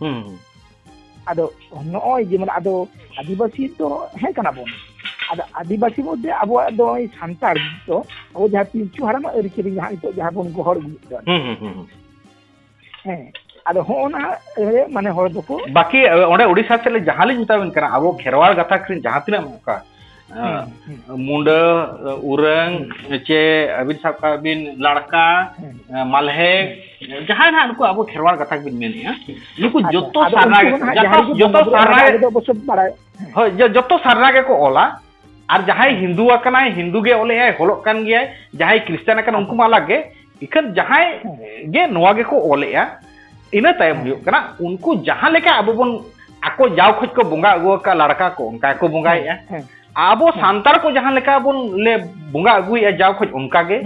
ᱦᱩᱸ ᱟᱫᱚ ᱱᱚᱜᱼᱚᱭ ᱡᱮᱢᱚᱱ ᱟᱫᱚ ᱟᱹᱫᱤᱵᱟᱹᱥᱤ ᱫᱚ ᱦᱮᱸ ᱠᱟᱱᱟ ᱵᱚᱱ ᱟᱫᱚ ᱟᱹᱫᱤᱵᱟᱹᱥᱤ ᱢᱚᱫᱽᱫᱷᱮ ᱟᱵᱚᱣᱟᱜ ᱫᱚ ᱥᱟᱱᱛᱟᱲ ᱫᱚ ᱟᱵᱚ ᱡᱟᱦᱟᱸ ᱯᱤᱞᱪᱩ ᱦᱟᱲᱟᱢᱟᱜ ᱟᱹᱨᱤᱪᱟᱹᱞᱤ ᱡᱟᱦᱟᱸ ᱱᱤᱛᱚᱜ ᱡᱟᱦᱟᱸ ᱵᱚᱱ ᱜᱚᱦᱚᱲ ᱟᱹᱜᱩᱭᱮᱫ ᱫᱚ ᱦᱮᱸ ᱟᱫᱚ ᱦᱚᱸᱜᱼᱚᱱᱟ ᱢᱟᱱᱮ ᱦᱚᱲ ᱫᱚᱠᱚ ᱵᱟᱠᱤ ᱚᱸᱰᱮ ᱩᱲᱤᱥᱥᱟ ᱥᱮᱫ ᱡᱟᱦᱟᱸ ᱞᱤᱧ ᱢᱮᱛᱟᱵᱤᱱ ᱠᱟᱱᱟ ᱟᱵᱚ ᱠᱷᱮᱨᱣᱟᱲ ᱜᱟᱛᱟᱠ ᱨᱮᱱ ᱡᱟᱦᱟᱸ ᱛᱤᱱᱟᱹᱜ ᱚᱱᱠᱟ ᱢᱩᱰᱟᱹ ᱩᱨᱟᱹᱝ ᱪᱮ ᱟᱹᱵᱤᱱ ᱥᱟᱵ ᱠᱟᱜ ᱵᱤᱱ ᱞᱟᱲᱠᱟ ᱢᱟᱞᱦᱮ ᱡᱟᱦᱟᱸᱭ ᱱᱟᱦᱟᱜ ᱱᱩᱠᱩ ᱟᱵᱚ ᱠᱷᱮᱨᱣᱟᱲ ᱜᱟᱛᱟᱠ ᱵᱤᱱ ᱢᱮᱱᱮᱫᱼᱟ ᱱᱩᱠᱩ ᱡᱚᱛᱚ ᱥᱟᱨᱱᱟ ᱡᱚᱛᱚ ᱥᱟᱨᱱᱟ ᱦᱳᱭ ᱡᱚᱛᱚ ᱥᱟᱨᱱᱟ ᱜᱮᱠᱚ ᱚᱞᱟ ᱟᱨ ᱡᱟᱦᱟᱸᱭ ᱦᱤᱱᱫᱩ ᱟᱠᱟᱱᱟᱭ ᱦᱤᱱᱫᱩ ᱜᱮ ᱚᱞᱮᱜᱼᱟᱭ ᱚᱞᱚᱜ ᱠᱟᱱ ᱜᱮᱭᱟᱭ ᱡᱟᱦᱟᱸᱭ ᱠᱷᱨᱤᱥᱴᱟᱱ ᱟᱠᱟᱱᱟᱭ ᱩᱱᱠᱩ ᱢᱟ ᱟᱞᱟᱜᱽ ᱜᱮ ᱤᱠᱷᱟᱹᱱ ᱡᱟᱦᱟᱸᱭ ᱜᱮ ᱱᱚᱣᱟ ᱜᱮᱠᱚ ᱚᱞᱮᱜᱼᱟ ᱤᱱᱟᱹ ᱛᱟᱭᱚᱢ ᱦᱩᱭᱩᱜ ᱠᱟᱱᱟ ᱩᱱᱠᱩ ᱡᱟᱦᱟᱸ ᱞᱮᱠᱟ ᱟᱵᱚ ᱵᱚᱱ ᱟᱠᱚ ᱡᱟᱣ ᱠᱷᱚᱡ ᱠᱚ ᱵᱚᱸᱜᱟ ᱟᱹᱜᱩ ᱟᱠᱟᱫ ᱞᱟᱲᱠᱟ ᱠᱚ ᱚᱱᱠᱟ ᱜᱮᱠᱚ ᱵᱚᱸᱜᱟᱭᱮᱫᱼᱟ ᱟᱵᱚ ᱥᱟᱱᱛᱟᱲ ᱠᱚ ᱡᱟᱦᱟᱸ ᱞᱮᱠᱟ ᱵᱚᱱ ᱞᱮ ᱵᱚᱸᱜᱟ ᱟᱹᱜᱩᱭᱮᱫᱼᱟ ᱡᱟᱣ ᱠᱷᱚᱡ ᱚᱱᱠᱟ ᱜᱮ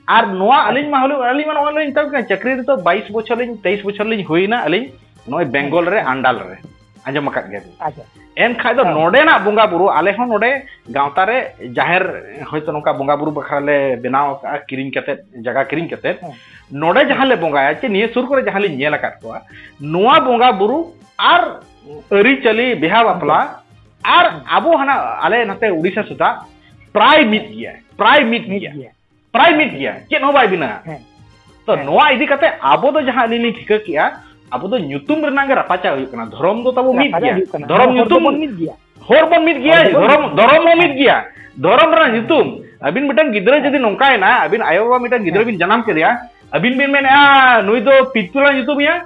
ᱟᱨ ᱱᱚᱣᱟ ᱟᱹᱞᱤᱧ ᱢᱟ ᱦᱩᱞᱩᱜ ᱟᱹᱞᱤᱧ ᱢᱟ ᱱᱚᱜᱼᱚᱭ ᱞᱤᱧ ᱢᱮᱛᱟᱵᱤᱱ ᱠᱟᱱᱟ ᱪᱟᱹᱠᱨᱤ ᱨᱮᱫᱚ ᱵᱟᱭᱤᱥ ᱵᱚᱪᱷᱚᱨ ᱞᱤᱧ ᱛᱮᱭᱤᱥ ᱵᱚᱪᱷᱚᱨ ᱞᱤᱧ ᱦᱩᱭᱱᱟ ᱟᱹᱞᱤᱧ ᱱᱚᱜᱼᱚᱭ ᱵᱮᱝᱜᱚᱞ ᱨᱮ ᱟᱱᱰᱟᱞ ᱨᱮ ᱟᱸᱡᱚᱢ ᱟᱠᱟᱫ ᱜᱮᱭᱟ ᱟᱪᱪᱷᱟ ᱮᱱᱠᱷᱟᱡ ᱫᱚ ᱱᱚᱰᱮᱱᱟᱜ ᱵᱚᱸᱜᱟ ᱵᱩᱨᱩ ᱟᱞᱮ ᱦᱚᱸ ᱱᱚᱰᱮ ᱜᱟᱶᱛᱟ ᱨᱮ ᱡᱟᱦᱮᱨ ᱦᱚᱭᱛᱚ ᱱᱚᱝᱠᱟ ᱵᱚᱸᱜᱟ ᱵᱩᱨᱩ ᱵᱟᱠᱷᱨᱟ ᱞᱮ ᱵᱮᱱᱟᱣ ᱟᱠᱟᱫᱼᱟ ᱠᱤᱨᱤᱧ ᱠᱟᱛᱮ ᱡᱟᱭᱜᱟ ᱠᱤᱨᱤᱧ ᱠᱟᱛᱮ ᱱᱚᱰᱮ ᱡᱟᱦᱟᱸ ᱞᱮ ᱵᱚᱸᱜᱟᱭᱟ ᱪᱮ ᱱᱤᱭᱟᱹ ᱥᱩᱨ ᱠᱚᱨᱮ ᱡᱟᱦᱟᱸ ᱞᱤᱧ ᱧᱮᱞ ᱟᱠᱟᱫ ᱠᱚᱣᱟ ᱱᱚᱣᱟ ᱵᱚᱸᱜᱟ ᱵᱩᱨᱩ ᱟᱨ ᱟᱹᱨᱤᱪᱟᱹᱞᱤ ᱵᱤᱦᱟ ᱵᱟᱯᱞᱟ ᱟᱨ ᱟᱵᱚ ᱦᱟᱱᱟ ᱟᱞᱮ ᱱᱟᱛᱮ ᱩᱲᱤᱥᱥᱟ ᱥᱮᱫᱟᱜ ᱯᱨᱟᱭ ᱢᱤᱫ ᱜᱮᱭᱟ ᱯᱨᱟᱭ ᱢᱤᱫ ᱜᱮᱭᱟ ᱯᱨᱟᱭ ᱢᱤᱫ ᱜᱮᱭᱟ ᱪᱮᱫ ᱦᱚᱸ ᱵᱟᱭ ᱵᱷᱤᱱᱟᱹᱜᱼᱟ ᱛᱚ ᱱᱚᱣᱟ ᱤᱫᱤ ᱠᱟᱛᱮ ᱟᱵᱚ ᱫᱚ ᱡᱟᱦᱟᱸ ᱟᱹᱞᱤᱧ ᱞᱤᱧ ᱴᱷᱤᱠᱟᱹ ᱠᱮᱜᱼᱟ ᱟᱵᱚ ᱫᱚ ᱧᱩᱛᱩᱢ ᱨᱮᱱᱟᱜ ᱜᱮ ᱨᱟᱯᱟᱪᱟᱜ ᱦᱩᱭᱩᱜ ᱠᱟᱱᱟ ᱫᱷᱚᱨᱚᱢ ᱫᱚ ᱛᱟᱵᱚ ᱢᱤᱫ ᱜᱮᱭᱟ ᱫᱷᱚᱨᱚᱢ ᱧᱩᱛᱩᱢ ᱢᱤᱫ ᱜᱮᱭᱟ ᱦᱚᱲ ᱵᱚᱱ ᱢᱤᱫ ᱜᱮᱭᱟ ᱫᱷᱚᱨᱚᱢ ᱫᱷᱚᱨᱚᱢ ᱦᱚᱸ ᱢᱤᱫ ᱜᱮᱭᱟ ᱫᱷᱚᱨᱚᱢ ᱨᱮᱱᱟᱜ ᱧᱩᱛᱩᱢ ᱟᱹᱵᱤᱱ ᱢᱤᱫᱴᱟᱝ ᱜᱤᱫᱽᱨᱟᱹ ᱡᱩᱫᱤ ᱱᱚᱝᱠᱟᱭᱮᱱᱟ ᱟᱹᱵᱤᱱ ᱟᱭᱳ ᱵᱟᱵᱟ ᱢᱤᱫᱴᱟᱝ ᱜᱤᱫᱽᱨᱟᱹ ᱵᱤᱱ ᱡᱟᱱᱟᱢ ᱠᱮᱫᱮᱭᱟ ᱟᱹᱵᱤᱱ ᱵᱤᱱ ᱢᱮᱱᱮᱜᱼᱟ ᱱᱩᱭ ᱫᱚ ᱯᱤᱛᱩᱞᱟ ᱧᱩᱛᱩᱢᱮᱭᱟ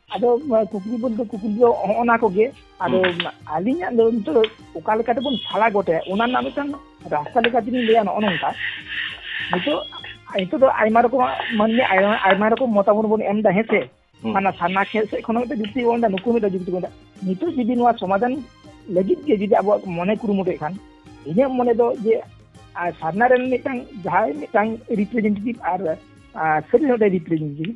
ᱟᱫᱚ ᱠᱩᱠᱞᱤ ᱵᱚᱞᱛᱮ ᱠᱩᱠᱞᱤ ᱫᱚ ᱦᱚᱸᱜᱼᱚᱱᱟ ᱠᱚᱜᱮ ᱟᱫᱚ ᱟᱹᱞᱤᱧᱟᱜ ᱫᱚ ᱱᱤᱛᱚᱜ ᱫᱚ ᱚᱠᱟ ᱞᱮᱠᱟ ᱛᱮᱵᱚᱱ ᱥᱟᱞᱟ ᱜᱚᱴᱟᱭᱟ ᱚᱱᱟ ᱨᱮᱱᱟᱜ ᱢᱤᱫᱴᱟᱝ ᱨᱟᱥᱛᱟ ᱞᱮᱠᱟ ᱛᱮᱞᱤᱧ ᱞᱟᱹᱭᱟ ᱱᱚᱜᱼᱚ ᱱᱚᱝᱠᱟ ᱱᱤᱛᱚᱜ ᱱᱤᱛᱚᱜ ᱫᱚ ᱟᱭᱢᱟ ᱨᱚᱠᱚᱢᱟᱜ ᱢᱟᱹᱱᱢᱤ ᱟᱭᱢᱟ ᱨᱚᱠᱚᱢ ᱢᱚᱛᱟᱢᱚᱛ ᱵᱚᱱ ᱮᱢ ᱮᱫᱟ ᱦᱮᱸᱥᱮ ᱢᱟᱱᱮ ᱥᱟᱨᱱᱟ ᱠᱷᱮᱞ ᱥᱮᱫ ᱠᱷᱚᱱ ᱢᱤᱫᱴᱮᱱ ᱡᱩᱠᱛᱤ ᱵᱚᱱ ᱮᱫᱟ ᱱᱩᱠᱩ ᱢᱤᱫᱴᱮᱱ ᱡᱩᱠᱛᱤ ᱵᱚᱱ ᱮᱫᱟ ᱱᱤᱛᱚᱜ ᱡᱩᱫᱤ ᱱᱚᱣᱟ ᱥᱚᱢᱟধান ᱞᱟᱹᱜᱤᱫ ᱜᱮ ᱡᱩᱫᱤ ᱟᱵᱚᱣᱟᱜ ᱢᱚᱱᱮ ᱠᱩᱨᱩᱢᱩᱴᱩᱭᱮᱫ ᱠᱷᱟᱱ ᱤᱧᱟᱹᱜ ᱢᱚᱱᱮ ᱫᱚ ᱡᱮ ᱥᱟᱨᱱᱟ ᱨᱮᱱ ᱢᱤᱫᱴᱟᱝ ᱡᱟᱦᱟᱸᱭ ᱢᱤᱫᱴᱟᱝ ᱨᱤᱯᱨᱮᱡᱮᱱᱴᱮᱴᱤᱵᱷ ᱟᱨ ᱥᱟᱹᱨᱤ ᱦᱚᱲ ᱨᱤᱯᱨᱮᱡᱮᱱᱴᱮᱴᱤᱵᱷ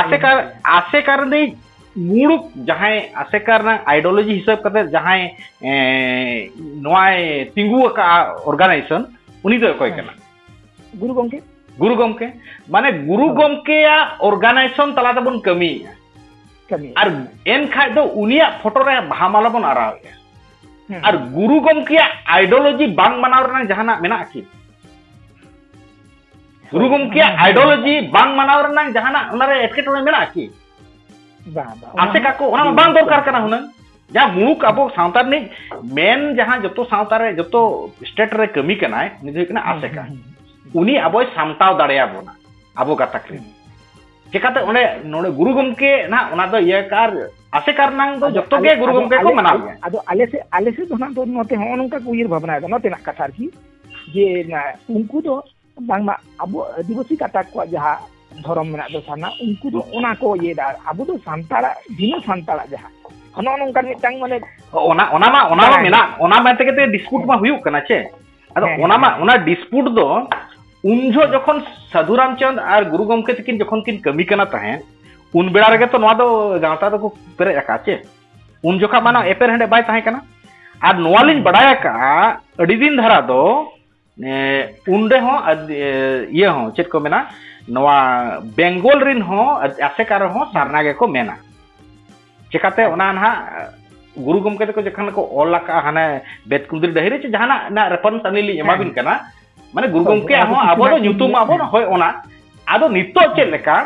ᱟᱥᱮᱠᱟ ᱟᱥᱮᱠᱟ ᱨᱤᱱᱤᱡ ᱢᱩᱬᱩᱛ ᱡᱟᱦᱟᱸᱭ ᱟᱥᱮᱠᱟ ᱨᱮᱱᱟᱜ ᱟᱭᱰᱳᱞᱚᱡᱤ ᱦᱤᱥᱟᱹᱵ ᱠᱟᱛᱮ ᱡᱟᱦᱟᱸᱭ ᱱᱚᱣᱟᱭ ᱛᱤᱸᱜᱩ ᱟᱠᱟᱫᱼᱟ ᱚᱨᱜᱟᱱᱟᱭᱡᱮᱥᱚᱱ ᱩᱱᱤ ᱫᱚ ᱚᱠᱚᱭ ᱠᱟᱱᱟ ᱜᱩᱨᱩ ᱜᱚᱢᱠᱮ ᱜᱩᱨᱩ ᱜᱚᱢᱠᱮ ᱢᱟᱱᱮ ᱜᱩᱨᱩ ᱜᱚᱢᱠᱮᱭᱟᱜ ᱚᱨᱜᱟᱱᱟᱭᱡᱮᱥᱚᱱ ᱛᱟᱞᱟ ᱛᱮᱵᱚᱱ ᱠᱟᱹᱢᱤᱭᱮᱫᱼᱟ ᱟᱨ ᱮᱱᱠᱷᱟᱡ ᱫᱚ ᱩᱱᱤᱭᱟᱜ ᱯᱷᱳᱴᱳ ᱨᱮ ᱵᱟᱦᱟ ᱢᱟᱞᱟ ᱵᱚᱱ ᱟᱨᱟᱣᱮᱫᱼᱟ ᱟᱨ ᱜᱩᱨᱩ ᱜᱚᱢᱠᱮᱭᱟᱜ ᱟᱭᱰᱳᱞᱚᱡᱤ ᱵᱟᱝ ᱢᱟᱱᱟᱣ ᱨᱮᱱᱟᱜ ᱡᱟᱦᱟᱱᱟᱜ ᱢᱮᱱᱟᱜᱼᱟ ᱠᱤ ᱜᱩᱨᱩ ᱜᱚᱢᱠᱮᱭᱟᱜ ᱟᱭᱰᱳᱞᱚᱡᱤ ᱵᱟᱝ ᱢᱟᱱᱟᱣ ᱨᱮᱱᱟᱜ ᱡᱟᱦᱟᱱᱟᱜ ᱚᱱᱟᱨᱮ ᱮᱴᱠᱮᱴᱚᱬᱮ ᱢᱮᱱᱟᱜᱼᱟ ᱠᱤ ᱵᱟᱝ ᱵᱟᱝ ᱟᱥᱮᱠᱟ ᱠᱚ ᱚᱱᱟ ᱵᱟᱝ ᱫᱚᱨᱠᱟর ᱠᱟᱱᱟ ᱦᱩᱱᱟᱹᱝ ᱡᱟᱦᱟᱸ ᱢᱩᱬᱩᱠ ᱟᱵᱚ ᱥᱟᱶᱛᱟ ᱨᱤᱱᱤᱡ ᱢᱮᱱ ᱡᱟᱦᱟᱸ ᱡᱚᱛᱚ ᱥᱟᱶᱛᱟ ᱨᱮ ᱡᱚᱛᱚ ᱥᱴᱮᱴ ᱨᱮ ᱠᱟᱹᱢᱤ ᱠᱟᱱᱟᱭ ᱩᱱᱤ ᱫᱚ ᱦᱩᱭᱩᱜ ᱠᱟᱱᱟ ᱟᱥᱮᱠᱟ ᱩᱱᱤ ᱟᱵᱚᱭ ᱥᱟᱢᱴᱟᱣ ᱫᱟᱲᱮᱭᱟᱵᱚᱱᱟ ᱟᱵᱚ ᱜᱟᱛᱟᱠ ᱨᱮ ᱪᱮᱠᱟᱛᱮ ᱚᱸᱰᱮ ᱱᱚᱰᱮ ᱜᱩᱨᱩ ᱜᱚᱢᱠᱮ ᱱᱟᱦᱟᱜ ᱚᱱᱟ ᱫᱚ ᱤᱭᱟᱹ ᱠᱟᱨ ᱟᱥᱮᱠᱟ ᱨᱮᱱᱟᱝ ᱫᱚ ᱡᱚᱛᱚ ᱜᱮ ᱜᱩᱨᱩ ᱜᱚᱢᱠᱮ ᱠᱚ ᱢᱟᱱᱟᱣ ᱜᱮᱭᱟ ᱟᱫᱚ ᱟᱞᱮ ᱥᱮᱫ ᱟᱞᱮ ᱥᱮᱫ ᱫᱚ ᱱᱟᱦᱟᱜ ᱫᱚ ᱱᱚᱛᱮ ᱦᱚᱸ ᱱᱚᱝᱠᱟ ᱠᱚ ᱩᱭᱦᱟᱹᱨ ᱵᱷᱟᱵᱽᱱᱟᱭᱮᱫᱟ ᱱᱚᱛᱮᱱᱟᱜ ᱠᱟᱛᱷᱟ ᱟᱨᱠᱤ ᱡᱮ ᱩᱱᱠᱩ ᱫᱚ ᱵᱟᱝᱢᱟ ᱟᱵᱚ ᱟᱹᱫᱤᱵᱟᱹᱥᱤ ᱠᱟᱛᱟᱠ ᱠᱚᱣᱟᱜ ᱡᱟᱦᱟᱸ ᱫᱷᱚᱨᱚᱢ ᱢᱮᱱᱟᱜ ᱫᱚ ᱥᱟᱨᱱᱟ ᱩᱱᱠᱩ ᱫᱚ ᱚᱱᱟ ᱠᱚ ᱤᱭᱟᱹᱭᱮᱫᱟ ᱟᱵᱚ ᱫᱚ ᱥᱟᱱᱛᱟᱲᱟᱜ ᱵᱤᱱᱟᱹ ᱥᱟᱱᱛᱟᱲᱟᱜ ᱡᱟᱦᱟᱸ ᱚᱱᱟ ᱱᱚᱝᱠᱟᱱ ᱢᱤᱫᱴᱟᱝ ᱢᱟᱱᱮ ᱚᱱᱟ ᱚᱱᱟ ᱢᱟ ᱚᱱᱟ ᱢᱟ ᱢᱮᱱᱟᱜ ᱚᱱᱟ ᱢᱮᱱ ᱛᱮᱜᱮ ᱰᱤᱥᱯᱩᱴ ᱢᱟ ᱦᱩᱭᱩᱜ ᱠᱟᱱᱟ ᱪᱮ ᱟᱫᱚ ᱚᱱᱟ ᱢᱟ ᱚᱱᱟ ᱰᱤᱥᱯᱩᱴ ᱫᱚ ᱩᱱ ᱡᱚᱦᱚᱜ ᱡᱚᱠᱷᱚᱱ ᱥᱟᱹᱫᱷᱩ ᱨᱟᱢᱪᱟᱸᱫᱽ ᱟᱨ ᱜᱩᱨᱩ ᱜᱚᱢᱠᱮ ᱛᱟᱹᱠᱤᱱ ᱡᱚᱠᱷᱚᱱ ᱠᱤᱱ ᱠᱟᱹᱢᱤ ᱠᱟᱱᱟ ᱛᱟᱦᱮᱸᱫ ᱩᱱ ᱵᱮᱲᱟ ᱨᱮᱜᱮ ᱛᱚ ᱱᱚᱣᱟ ᱫᱚ ᱜᱟᱶᱛᱟ ᱫᱚᱠᱚ ᱯᱮᱨᱮᱡ ᱟᱠᱟᱫᱼᱟ ᱪᱮ ᱩᱱ ᱡᱚᱠᱷᱟ ᱢᱟᱱᱟ ᱮᱯᱮᱨ ᱦᱮᱸᱰᱮ ᱵᱟᱭ ᱛᱟᱦᱮᱸ ᱠᱟᱱᱟ ᱟᱨ ᱱᱚᱣᱟ ᱞᱤᱧ ᱵᱟᱰᱟᱭ ᱟᱠᱟᱜᱼᱟ ᱟᱹᱰᱤ ᱫᱤᱱ ᱫᱷᱟᱨᱟ ᱫᱚ ᱩᱱ ᱨᱮᱦᱚᱸ ᱤᱭᱟᱹ ᱦᱚᱸ ᱪᱮᱫ ᱠᱚ ᱢᱮᱱᱟ ᱱᱚᱣᱟ ᱵᱮᱝᱜᱚᱞ ᱨᱤᱱ ᱦᱚᱸ ᱟᱥᱮᱠᱟ ᱨᱮᱦᱚᱸ ᱥᱟᱨᱱᱟ ᱜᱮᱠᱚ ᱢᱮᱱᱟ ᱪᱮᱠᱟᱛᱮ ᱚᱱᱟ ᱱᱟᱦᱟᱜ ᱜᱩᱨᱩ ᱜᱚᱢᱠᱮ ᱛᱟᱠᱚ ᱡᱚᱠᱷᱚᱱ ᱠᱚ ᱚᱞ ᱟᱠᱟᱜᱼᱟ ᱦᱟᱱᱮ ᱵᱮᱫᱠᱩᱸᱫᱽᱨᱤ ᱰᱟᱹᱦᱤ ᱨᱮ ᱪᱮ ᱡᱟᱦᱟᱱᱟᱜ ᱨᱮᱱᱟᱜ ᱨᱮᱯᱷᱟᱨᱮᱱᱥ ᱟᱹᱞᱤᱧ ᱞᱤᱧ ᱮᱢᱟᱵᱤᱱ ᱠᱟᱱᱟ ᱢᱟᱱᱮ ᱜᱩᱨᱩ ᱜᱚᱢᱠᱮ ᱦᱚᱸ ᱟᱵᱚ ᱫᱚ ᱧᱩᱛᱩᱢ ᱟᱵᱚᱱ ᱦᱳᱭ ᱚᱱᱟ ᱟᱫᱚ ᱱᱤᱛᱚᱜ ᱪᱮᱫ ᱞᱮᱠᱟ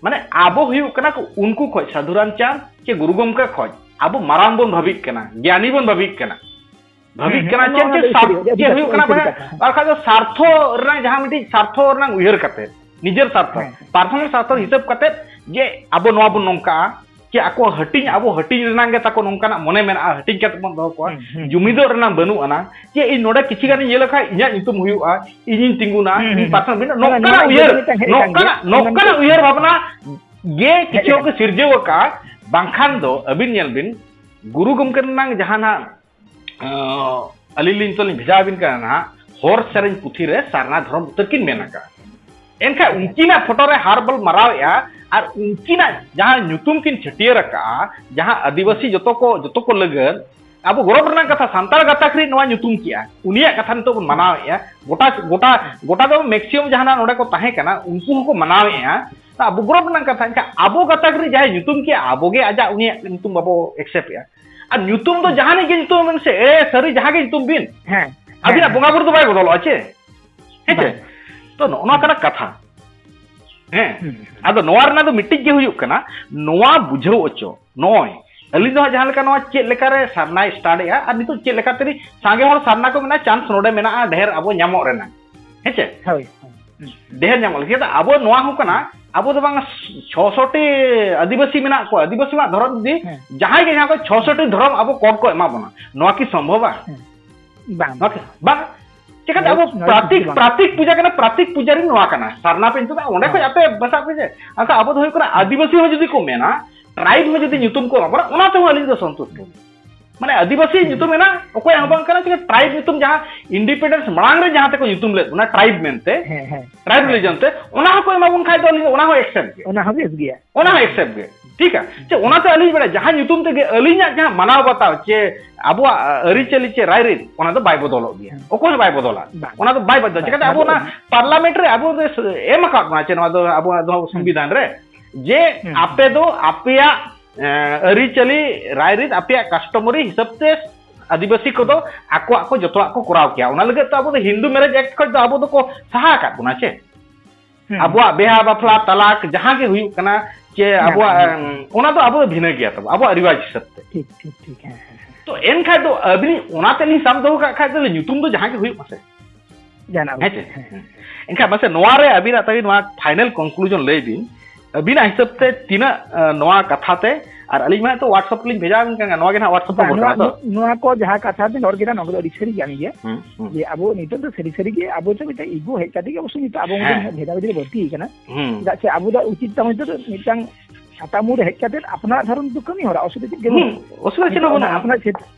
ᱢᱟᱱᱮ ᱟᱵᱚ ᱦᱩᱭᱩᱜ ᱠᱟᱱᱟ ᱠᱚ ᱩᱱᱠᱩ ᱠᱷᱚᱡ ᱥᱟᱹᱫᱷᱩ ᱨᱟᱢᱪᱟᱸᱫᱽ ᱪᱮ ᱜᱩᱨᱩ ᱜᱚᱢᱠᱮ ᱠᱷᱚᱡ ᱟᱵᱚ ᱢᱟᱨᱟᱝ ᱵᱚᱱ ᱵᱷᱟᱹᱵᱤᱜ ᱠᱟᱱᱟ ᱜᱮᱭᱟᱱᱤ ᱵᱚᱱ ᱵᱷᱟᱹᱵᱤᱜ ᱠᱟᱱᱟ ᱵᱷᱟᱹᱵᱤᱜ ᱠᱟᱱᱟ ᱪᱮᱫ ᱪᱮᱫ ᱥᱟᱨᱛᱷᱚ ᱪᱮᱫ ᱦᱩᱭᱩᱜ ᱠᱟᱱᱟ ᱵᱟᱝ ᱵᱟᱠᱷᱟᱡ ᱫᱚ ᱥᱟᱨᱛᱷᱚ ᱨᱮᱱᱟᱜ ᱡᱟᱦᱟᱸ ᱢᱤᱫᱴᱤᱡ ᱥᱟᱨᱛᱷᱚ ᱨᱮᱱᱟᱜ ᱩᱭᱦᱟᱹᱨ ᱠᱟᱛᱮ ᱱᱤᱡᱮᱨ ᱥᱟᱨᱛᱷᱚ ᱯᱟᱨᱥᱚᱱᱟᱞ ᱥᱟᱨᱛᱷᱚ ᱦᱤᱥᱟᱹᱵ ᱠᱟᱛᱮ ᱡᱮ ᱟᱵᱚ ᱱᱚᱣᱟ ᱵᱚᱱ ᱱᱚᱝᱠᱟᱜᱼᱟ ᱪᱮ ᱟᱠᱚ ᱦᱟᱹᱴᱤᱧ ᱟᱵᱚ ᱦᱟᱹᱴᱤᱧ ᱨᱮᱱᱟᱝ ᱜᱮ ᱛᱟᱠᱚ ᱱᱚᱝᱠᱟᱱᱟᱜ ᱢᱚᱱᱮ ᱢᱮᱱᱟᱜᱼᱟ ᱦᱟᱹᱴᱤᱧ ᱠᱟᱛᱮ ᱵᱚᱱ ᱫᱚᱦᱚ ᱠᱚᱣᱟ ᱡᱩᱢᱤᱫᱚᱜ ᱨᱮᱱᱟᱝ ᱵᱟᱹᱱᱩᱜ ᱟᱱᱟ ᱡᱮ ᱤᱧ ᱱᱚᱰᱮ ᱠᱤᱪᱷᱤ ᱜᱟᱱᱤᱧ ᱤᱭᱟᱹ ᱞᱮᱠᱷᱟᱡ ᱤᱧᱟᱹᱜ ᱧᱩᱛᱩᱢ ᱦᱩᱭᱩᱜᱼᱟ ᱤᱧᱤᱧ ᱛᱤᱸᱜᱩᱱᱟ ᱤᱧ ᱯᱟᱨᱥᱚᱱ ᱵᱤᱱᱟᱹ ᱱᱚᱝᱠᱟᱱᱟᱜ ᱩᱭᱦᱟᱹᱨ ᱱᱚᱝᱠᱟᱱᱟᱜ ᱱᱚᱝᱠᱟᱱᱟᱜ ᱩᱭᱦᱟᱹᱨ ᱵᱷᱟᱵᱽᱱᱟ ᱜᱮ ᱠᱤᱪᱷᱩ ᱠᱚ ᱥᱤᱨᱡᱟᱹᱣ ᱟᱠᱟᱫᱼᱟ ᱵᱟᱝᱠᱷᱟᱱ ᱫᱚ ᱟᱹᱵᱤᱱ ᱧᱮᱞ ᱵᱤᱱ ᱜᱩᱨᱩ ᱜᱚᱢᱠᱮ ᱨᱮᱱᱟᱝ ᱡᱟᱦᱟᱱᱟᱜ ᱟᱹᱞᱤᱧ ᱞᱤᱧ ᱛᱚᱞᱤᱧ ᱵᱷᱮᱡᱟ ᱟᱹᱵᱤᱱ ᱠᱟᱱᱟ ᱱᱟᱦᱟᱜ ᱦᱚᱨ ᱥᱮᱨᱮᱧ ᱯᱩᱛᱷᱤ ᱨᱮ ᱥᱟᱨᱱᱟ ᱫᱷᱚᱨᱚᱢ ᱩᱛᱟᱹᱨ ᱠᱤᱱ ᱢᱮᱱ ᱟᱠᱟᱫᱼᱟ ᱮᱱᱠᱷᱟᱱ ᱩᱱᱠᱤᱱᱟᱜ ᱯᱷᱳᱴᱳ ᱨᱮ ᱦᱟᱨ ᱵᱚᱞ ᱢᱟᱨᱟᱣᱮᱫᱼᱟ ᱟᱨ ᱩᱱᱠᱤᱱᱟᱜ ᱡᱟᱦᱟᱸ ᱧᱩᱛᱩᱢ ᱠᱤᱱ ᱪᱷᱟᱹᱴᱭᱟᱹᱨ ᱟᱠᱟᱫᱼᱟ ᱡᱟᱦᱟᱸ ᱟᱹᱫᱤᱵᱟᱹᱥᱤ ᱡᱚᱛᱚ ᱠᱚ ᱡᱚᱛᱚ ᱠᱚ ᱞᱟᱹᱜᱤᱫ ᱟᱵᱚ ᱜᱚᱨᱚᱵ ᱨᱮᱱᱟᱜ ᱠᱟᱛᱷᱟ ᱥᱟᱱᱛᱟᱲ ᱜᱟᱛᱟᱠ ᱨᱮ ᱱᱚᱣᱟ ᱧᱩᱛᱩᱢ ᱠᱮᱜᱼᱟ ᱩᱱᱤᱭᱟᱜ ᱠᱟᱛᱷᱟ ᱱᱤᱛᱚᱜ ᱵᱚᱱ ᱢᱟᱱᱟᱣᱮᱫᱼᱟ ᱜᱚᱴᱟ ᱜᱚᱴᱟ ᱜᱚᱴᱟ ᱫᱚ ᱢᱮᱠᱥᱤᱢᱟᱢ ᱡᱟᱦᱟᱱᱟᱜ ᱱᱚᱰᱮ ᱠᱚ ᱛᱟᱦᱮᱸ ᱠᱟᱱᱟ ᱩᱱᱠᱩ ᱦᱚᱸᱠᱚ ᱢᱟᱱᱟᱣᱮᱫᱼᱟ ᱟᱵᱚ ᱜᱚᱨᱚᱵ ᱨᱮᱱᱟᱜ ᱠᱟᱛᱷᱟ ᱮᱱᱠᱷᱟᱱ ᱟᱵᱚ ᱜᱟᱛᱟᱠ ᱨᱮ ᱡᱟᱦᱟᱸᱭ ᱧᱩᱛᱩᱢ ᱠᱮᱜᱼᱟ ᱟᱵᱚᱜᱮ ᱟᱡᱟᱜ ᱩᱱᱤᱭᱟᱜ ᱧᱩᱛᱩᱢ ᱵᱟᱵᱚ ᱮᱠᱥᱮᱯᱴ ᱮᱜᱼᱟ ᱟᱨ ᱧᱩᱛᱩᱢ ᱫᱚ ᱡᱟᱦᱟᱱᱤᱡ ᱜᱮ ᱧᱩᱛᱩᱢ ᱵᱤᱱ ᱥᱮ ᱮᱲᱮ ᱥᱟᱹᱨᱤ ᱡᱟᱦᱟᱸ ᱜᱮ ᱧᱩᱛᱩᱢ ᱵᱤᱱ ᱦᱮᱸ ᱟᱹᱵᱤᱱᱟᱜ ᱵᱚᱸᱜᱟ ᱵᱩᱨᱩ ᱫᱚ ᱵᱟᱭ ᱵᱚᱫᱚᱞᱚᱜᱼᱟ ᱪᱮ ᱦᱮᱸ ᱪᱮ ᱛᱚ ᱱᱚᱜᱼᱚ ᱱᱚᱣᱟ ᱠᱟᱱᱟ ᱠᱟᱛᱷᱟ ᱦᱮᱸ ᱟᱫᱚ ᱱᱚᱣᱟ ᱨᱮᱱᱟᱜ ᱫᱚ ᱢᱤᱫᱴᱤᱡ ᱜᱮ ᱦᱩᱭᱩᱜ ᱠᱟᱱᱟ ᱱᱚᱣᱟ ᱵᱩᱡᱷᱟᱹᱣ ᱚᱪᱚ ᱱᱚᱜᱼᱚᱭ ᱟᱹᱞᱤᱧ ᱫᱚ ᱦᱟᱸᱜ ᱡᱟᱦᱟᱸ ᱞᱮᱠᱟ ᱱᱚᱣᱟ ᱪᱮᱫ ᱞᱮᱠᱟᱨᱮ ᱥᱟᱨᱱᱟᱭ ᱥᱴᱟᱨᱴ ᱮᱜᱼᱟ ᱟᱨ ᱱᱤᱛᱚᱜ ᱪᱮᱫ ᱞᱮᱠᱟᱛᱮ ᱥᱟᱸᱜᱮ ᱦᱚᱲ ᱥᱟᱨᱱᱟ ᱠᱚ ᱢᱮᱱᱟᱜᱼᱟ ᱪᱟᱱᱥ ᱱᱚᱰᱮ ᱢᱮᱱᱟᱜᱼᱟ ᱰᱷᱮᱨ ᱟᱵᱚ ᱧᱟᱢᱚᱜ ᱨᱮᱱᱟᱜ ᱦᱮᱸᱥᱮ ᱦᱳᱭ ᱰᱷᱮᱨ ᱧᱟᱢᱚᱜ ᱞᱟᱹᱜᱤᱫ ᱟᱵᱚ ᱱᱚᱣᱟ ᱦᱚᱸ ᱠᱟᱱᱟ ᱟᱵᱚ ᱫᱚ ᱵᱟᱝ ᱪᱷᱚᱥᱚᱴᱤ ᱟᱹᱫᱤᱵᱟᱹᱥᱤ ᱢᱮᱱᱟᱜ ᱠᱚᱣᱟ ᱟᱹᱫᱤᱵᱟᱹᱥᱤ ᱢᱟ ᱫᱷᱚᱨᱚᱢ ᱡᱩᱫᱤ ᱡᱟᱦᱟᱸᱭ ᱜᱮ ᱡᱟᱦᱟᱸ ᱠᱚ ᱪᱷᱚᱥᱚᱴᱤ ᱫᱷᱚᱨᱚᱢ ᱟᱵᱚ ᱠᱚᱰ ᱠᱚ ᱮᱢᱟ ᱵᱚᱱᱟ ᱱᱚᱣᱟ ᱠᱤ ᱥᱚᱢᱵᱷᱚᱵᱟ ᱵᱟᱝ ᱵᱟᱝ ᱪᱮᱠᱟᱛᱮ ᱟᱵᱚ ᱯᱨᱟᱛᱤᱠ ᱯᱨᱟᱛᱤᱠ ᱯᱩᱡᱟ ᱠᱟᱱᱟ ᱯᱨᱟᱛᱤᱠ ᱯᱩᱡᱟᱨᱤ ᱱᱚᱣᱟ ᱠᱟᱱᱟ ᱥᱟᱨᱱᱟ ᱯᱮ ᱧᱩᱛᱩᱢ ᱚᱸᱰᱮ ᱠᱷᱚᱱ ᱟᱯᱮ ᱵᱟᱥᱟᱜ ᱯᱮ ᱡᱮ ᱟᱪᱪᱷᱟ ᱟᱵᱚ ᱫᱚ ᱦᱩᱭᱩᱜ ᱠᱟᱱᱟ ᱟᱹᱫᱤᱵᱟᱹᱥᱤ ᱦᱚᱸ ᱡᱩᱫᱤ ᱠᱚ ᱢᱮᱱᱟ ᱴᱨᱟᱭᱤᱵ ᱦᱚᱸ ᱡᱩᱫᱤ ᱧᱩᱛᱩᱢ ᱠᱚ ᱮᱢᱟ ᱵᱚᱱᱟ ᱚᱱᱟ ᱛᱮᱦᱚᱸ ᱟᱹᱞᱤᱧ ᱫᱚ ᱥᱚᱱᱛᱩᱥᱴ ᱢᱟᱱᱮ ᱟᱹᱫᱤᱵᱟᱹᱥᱤ ᱧᱩᱛᱩᱢ ᱮᱱᱟ ᱚᱠᱚᱭᱟᱜ ᱦᱚᱸ ᱵᱟᱝ ᱠᱟᱱᱟ ᱪᱮᱫ ᱴᱨᱟᱭᱤᱵ ᱧᱩᱛᱩᱢ ᱡᱟᱦᱟᱸ ᱤᱱᱰᱤᱯᱮᱱᱰᱮᱱᱥ ᱢᱟᱲᱟᱝ ᱨᱮ ᱡᱟᱦᱟᱸ ᱛᱮᱠᱚ ᱧᱩᱛᱩᱢ ᱞᱮᱫ ᱚᱱᱟ ᱴᱨᱟᱭᱤᱵ ᱢᱮᱱᱛᱮ ᱴᱨᱟᱭᱤᱵ ᱨᱤᱞᱤᱡᱚᱱ ᱛᱮ ᱚᱱᱟ ᱦᱚᱸᱠᱚ ᱮᱢᱟ ᱵᱚᱱ ᱠᱷᱟᱡ ᱫᱚ ᱟᱹᱞᱤᱧ ᱚᱱᱟ ᱦᱚᱸ ᱮᱠᱥᱮᱯᱴ ᱜᱮ ᱚᱱᱟ ᱦᱚᱸ ᱵᱮᱥ ᱜᱮᱭᱟ ᱚᱱᱟ ᱦᱚᱸ ᱮᱠᱥᱮᱯᱴ ᱜᱮ ᱴᱷᱤᱠᱟ ᱪᱮ ᱚᱱᱟᱛᱮ ᱟᱹᱞᱤᱧ ᱵᱟᱲᱟᱭ ᱡᱟᱦᱟᱸ ᱧᱩᱛᱩᱢ ᱛᱮᱜᱮ ᱟᱹᱞᱤᱧᱟᱜ ᱡᱟᱦᱟᱸ ᱢᱟᱱᱟᱣ ᱵᱟᱛᱟᱣ ᱪᱮ ᱟᱵᱚᱣᱟᱜ ᱟᱹᱨᱤᱪᱟᱹᱞᱤ ᱪᱮ ᱨᱟᱭᱨᱤᱛ ᱚᱱᱟ ᱫᱚ ᱵᱟᱭ ᱵᱚᱫᱚᱞᱚᱜ ᱜᱮᱭᱟ ᱚᱠᱚᱭ ᱦᱚᱸ ᱵᱟᱭ ᱵᱚᱫᱚᱞᱟ ᱚᱱᱟ ᱫᱚ ᱵᱟᱭ ᱵᱚᱫᱚᱞᱟ ᱪᱮᱠᱟᱛᱮ ᱟᱵᱚ ᱚᱱᱟ ᱯᱟᱨᱞᱟᱢᱮᱱᱴ ᱨᱮ ᱟᱵᱚ ᱮᱢ ᱟᱠᱟᱫ ᱵᱚᱱᱟ ᱪᱮ ᱱᱚᱣᱟ ᱫᱚ ᱟᱵᱚᱣᱟᱜ ᱫᱚ ᱥᱚᱝᱵᱤᱫᱷᱟᱱ ᱨᱮ ᱡᱮ ᱟᱯᱮ ᱫᱚ ᱟᱯᱮᱭᱟᱜ ᱟᱹᱨᱤᱪᱟᱹᱞᱤ ᱨᱟᱭᱨᱤᱛ ᱟᱯᱮᱭᱟᱜ ᱠᱟᱥᱴᱚᱢᱟᱨᱤ ᱦᱤᱥᱟᱹᱵ ᱛᱮ ᱟᱹᱫᱤᱵᱟᱹᱥᱤ ᱠᱚᱫᱚ ᱟᱠᱚᱣᱟᱜ ᱠᱚ ᱡᱚᱛᱚᱣᱟᱜ ᱠᱚ ᱠᱚᱨᱟᱣ ᱠᱮᱭᱟ ᱚᱱᱟ ᱞᱟᱹᱜᱤᱫ ᱛᱮ ᱟᱵᱚ ᱫᱚ ᱦᱤᱱᱫᱩ ᱢᱮᱨᱮᱡᱽ ᱮᱠᱴ ᱠᱷᱚᱱ ᱫᱚ ᱟᱵᱚ ᱫᱚᱠᱚ ᱥᱟᱦᱟ ᱟᱠᱟᱫ ᱵᱚᱱᱟ ᱪᱮ ᱟᱵᱚᱣᱟᱜ ᱵᱮᱦᱟ ᱵᱟᱯᱞᱟ ᱛᱟᱞᱟᱠ ᱡᱟᱦᱟᱸ ᱜᱮ ᱦᱩᱭᱩᱜ ᱠᱟᱱᱟ ᱪᱮ ᱟᱵᱚᱣᱟᱜ ᱚᱱᱟ ᱫᱚ ᱟᱵᱚ ᱫᱚ ᱵᱷᱤᱱᱟᱹ ᱜᱮᱭᱟ ᱛᱟᱵᱚ ᱟᱵᱚᱣᱟᱜ ᱨᱤᱣᱟᱡᱽ ᱦᱤᱥᱟᱹᱵ ᱛᱮ ᱴᱷᱤᱠ ᱴᱷᱤᱠ ᱴᱷᱤᱠ ᱦᱮᱸ ᱛᱚ ᱮᱱᱠᱷᱟᱡ ᱫᱚ ᱟᱹᱵᱤᱱ ᱚᱱᱟᱛᱮ ᱞᱤᱧ ᱥᱟᱵ ᱫᱚᱦᱚ ᱠᱟᱜ ᱠᱷᱟᱡ ᱫᱚ ᱧᱩᱛᱩᱢ ᱫᱚ ᱡᱟᱦᱟᱸ ᱜᱮ ᱦᱩᱭᱩᱜ ᱢᱟᱥᱮ ᱡᱟᱦᱟᱱᱟᱜ ᱦᱮᱸ ᱥᱮ ᱮᱱᱠᱷᱟᱱ ᱢᱟᱥᱮ ᱱᱚᱣᱟ ᱨᱮ ᱟᱹᱵᱤᱱᱟᱜ ᱛᱟᱹᱵᱤᱱ ᱱᱚᱣᱟ ᱯᱷᱟᱭᱱᱟᱞ ᱠᱚᱱᱠᱞᱩᱡᱚᱱ ᱞᱟᱹᱭ ᱵᱤᱱ ᱟᱹᱵᱤᱱᱟᱜ ᱦᱤᱥᱟᱹᱵ ᱛᱮ ᱛᱤᱱᱟᱹᱜ ᱱᱚᱣᱟ ᱠᱟᱛᱷᱟ ᱛᱮ ᱟᱨ ᱟᱹᱞᱤᱧ ᱢᱟ ᱛᱚ ᱣᱟᱴᱥᱟᱯ ᱞᱤᱧ ᱵᱷᱮᱡᱟ ᱟᱵᱤᱱ ᱠᱟᱱᱟ ᱱᱚᱣᱟ ᱜᱮ ᱱᱟᱦᱟᱜ ᱣᱟᱴᱥᱟᱯ ᱱᱚᱢᱵᱚᱨ ᱠᱟᱱᱟ ᱛᱚ ᱱᱚᱣᱟ ᱠᱚ ᱡᱟᱦᱟᱸ ᱠᱟᱛᱷᱟ ᱵᱤᱱ ᱨᱚᱲ ᱠᱮᱫᱟ ᱱᱚᱣᱟ ᱫᱚ ᱟᱹᱰᱤ ᱥᱟᱹᱨᱤ ᱠᱟᱱ ᱜᱮᱭᱟ ᱡᱮ ᱟᱵᱚ ᱱᱤᱛᱚᱜ ᱫᱚ ᱥᱟᱹᱨᱤ ᱥᱟᱹᱨᱤ ᱜᱮ ᱟᱵᱚ ᱫᱚ ᱢᱤᱫᱴᱟᱝ ᱤᱜᱳ ᱦᱮᱡ ᱠᱟᱛᱮ ᱜᱮ ᱚᱵᱚᱥᱥᱳ ᱱᱤᱛᱚᱜ ᱟᱵᱚ ᱢᱤᱫᱴᱟᱝ ᱵᱷᱮᱫᱟ ᱵᱷᱮᱫᱤ ᱵᱟᱹᱲᱛᱤ ᱠᱟᱱᱟ ᱪᱮᱫᱟᱜ ᱥᱮ ᱟᱵᱚ ᱫᱚ ᱩᱪᱤᱛ ᱛᱟᱵᱚᱱ ᱱᱤᱛᱚᱜ ᱫᱚ ᱢᱤᱫᱴᱟᱝ ᱥᱟᱛᱟᱢ ᱢᱩᱨ ᱦᱮᱡ ᱠᱟᱛᱮ ᱟᱯᱱᱟᱨ ᱫᱷᱚᱨᱚᱢ ᱫᱚ ᱠᱟᱹᱢᱤ ᱦᱚᱨᱟ ᱚᱥᱩᱵᱤᱫᱷᱟ ᱪᱮᱫ ᱜᱮ ᱵᱟᱹᱱᱩᱜᱼᱟ ᱚᱥᱩᱵᱤᱫᱷᱟ ᱪᱮᱫ ᱦᱚᱸ ᱵᱟᱹᱱᱩᱜᱼᱟ ᱟᱯᱱᱟᱨ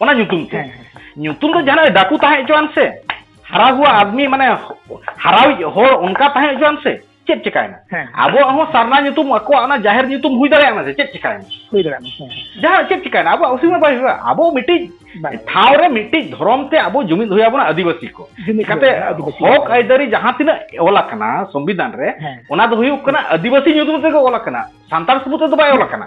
ᱚᱱᱟ ᱧᱩᱛᱩᱢ ᱛᱮ ᱧᱩᱛᱩᱢ ᱫᱚ ᱡᱟᱦᱟᱱᱟᱜ ᱰᱟᱠᱩ ᱛᱟᱦᱮᱸ ᱦᱚᱪᱚᱣᱟᱱ ᱥᱮ ᱦᱟᱨᱟ ᱦᱩᱣᱟ ᱟᱫᱢᱤ ᱢᱟᱱᱮ ᱦᱟᱨᱟᱣᱤᱡ ᱦᱚᱲ ᱚᱱᱠᱟ ᱛᱟᱦᱮᱸ ᱦᱚᱪᱚᱣᱟᱱ ᱥᱮ ᱪᱮᱫ ᱪᱮᱠᱟᱭᱮᱱᱟ ᱟᱵᱚᱣᱟᱜ ᱦᱚᱸ ᱥᱟᱨᱱᱟ ᱧᱩᱛᱩᱢ ᱟᱠᱚᱣᱟᱜ ᱚᱱᱟ ᱡᱟᱦᱮᱨ ᱧᱩᱛᱩᱢ ᱦᱩᱭ ᱫᱟᱲᱮᱭᱟᱜ ᱢᱟ ᱥᱮ ᱪᱮᱫ ᱪᱮᱠᱟᱭᱮᱱᱟ ᱦᱩᱭ ᱫᱟᱲᱮᱭᱟᱜ ᱢᱟ ᱡᱟᱦᱟᱸ ᱪᱮᱫ ᱪᱮᱠᱟᱭᱮᱱᱟ ᱟᱵᱚᱣᱟᱜ ᱚᱥᱩᱵᱤᱫᱷᱟ ᱵᱟᱭ ᱦᱩᱭᱩᱜᱼᱟ ᱟᱵᱚ ᱢᱤᱫᱴᱤᱡ ᱴᱷᱟᱶ ᱨᱮ ᱢᱤᱫᱴᱤᱡ ᱫᱷᱚᱨᱚᱢ ᱛᱮ ᱟᱵᱚ ᱡᱩᱢᱤᱫ ᱦᱩᱭ ᱟᱵᱚᱱᱟ ᱟᱹᱫᱤᱵᱟᱹᱥᱤ ᱠᱚ ᱪᱤᱠᱟᱛᱮ ᱦᱚᱠ ᱟᱹᱭᱫᱟᱹᱨᱤ ᱡᱟᱦᱟᱸ ᱛᱤᱱᱟᱹᱜ ᱚᱞ ᱟᱠᱟᱱᱟ ᱥᱚᱝᱵᱤᱫᱷᱟᱱ ᱨᱮ ᱚᱱᱟ ᱫᱚ ᱦᱩᱭᱩᱜ ᱠᱟᱱᱟ ᱟᱹᱫᱤᱵᱟᱹᱥᱤ ᱧᱩᱛᱩᱢ ᱛᱮᱜᱮ ᱚᱞ ᱟᱠᱟᱱᱟ ᱥᱟᱱᱛᱟᱲ ᱥᱩᱢᱩᱝ ᱛᱮᱫᱚ ᱵᱟᱭ ᱚᱞ ᱟᱠᱟᱱᱟ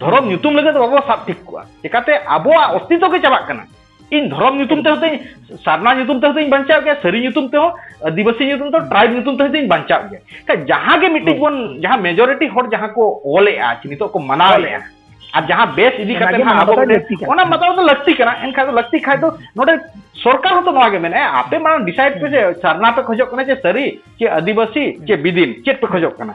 ᱫᱷᱚᱨᱚᱢ ᱧᱩᱛᱩᱢ ᱞᱟᱹᱜᱤᱫ ᱫᱚ ᱵᱟᱵᱚ ᱥᱟᱵ ᱴᱷᱤᱠ ᱠᱚᱣᱟ ᱪᱮᱠᱟᱛᱮ ᱟᱵᱚᱣᱟᱜ ᱚᱥᱛᱤᱛᱚ ᱜᱮ ᱪᱟᱵᱟᱜ ᱠᱟᱱᱟ ᱤᱧ ᱫᱷᱚᱨᱚᱢ ᱧᱩᱛᱩᱢ ᱛᱮ ᱦᱚᱛᱮᱧ ᱥᱟᱨᱱᱟ ᱧᱩᱛᱩᱢ ᱛᱮ ᱦᱚᱛᱮᱧ ᱵᱟᱧᱪᱟᱣ ᱜᱮᱭᱟ ᱥᱟᱹᱨᱤ ᱧᱩᱛᱩᱢ ᱛᱮᱦᱚᱸ ᱟᱹᱫᱤᱵᱟᱹᱥᱤ ᱧᱩᱛᱩᱢ ᱛᱮ ᱴᱨᱟᱭᱤᱵ ᱧᱩᱛᱩᱢ ᱛᱮ ᱦᱚᱛᱮᱧ ᱵᱟᱧᱪᱟᱣ ᱜᱮᱭᱟ ᱠᱷᱟᱡ ᱡᱟᱦᱟᱸ ᱜᱮ ᱢᱤᱫᱴᱤᱡ ᱵᱚᱱ ᱡᱟᱦᱟᱸ ᱢᱮᱡᱚᱨᱤᱴᱤ ᱦᱚᱲ ᱡᱟᱦᱟᱸ ᱠᱚ ᱚᱞᱮᱜᱼᱟ ᱪᱮ ᱱᱤᱛᱚᱜ ᱠᱚ ᱢᱟᱱᱟᱣᱮᱜᱼᱟ ᱟᱨ ᱡᱟᱦᱟᱸ ᱵᱮᱥ ᱤᱫᱤ ᱠᱟᱛᱮ ᱦᱟᱸᱜ ᱟᱵᱚ ᱚᱱᱟ ᱢᱟᱛᱟᱣ ᱫᱚ ᱞᱟᱹᱠᱛᱤ ᱠᱟᱱᱟ ᱮᱱᱠᱷᱟᱱ ᱫᱚ ᱞᱟᱹᱠᱛᱤ ᱠᱷᱟᱡ ᱫᱚ ᱱᱚᱰᱮ ᱥᱚᱨᱠᱟᱨ ᱦᱚᱸᱛᱚ ᱱᱚᱣᱟ ᱜᱮ ᱢᱮᱱᱮᱜᱼᱟ ᱟᱯᱮ ᱢᱟᱲᱟᱝ ᱰᱤᱥᱟᱭᱤᱰ ᱯᱮ ᱡᱮ ᱥᱟᱨᱱᱟ ᱯᱮ ᱠᱷᱚᱡᱚᱜ ᱠᱟᱱᱟ ᱪᱮ ᱥᱟᱹᱨᱤ ᱪᱮ ᱟᱹᱫᱤᱵᱟᱹᱥᱤ ᱪᱮ ᱵᱤᱫᱤᱱ ᱪᱮᱫ ᱯᱮ ᱠᱷᱚᱡᱚᱜ ᱠᱟᱱᱟ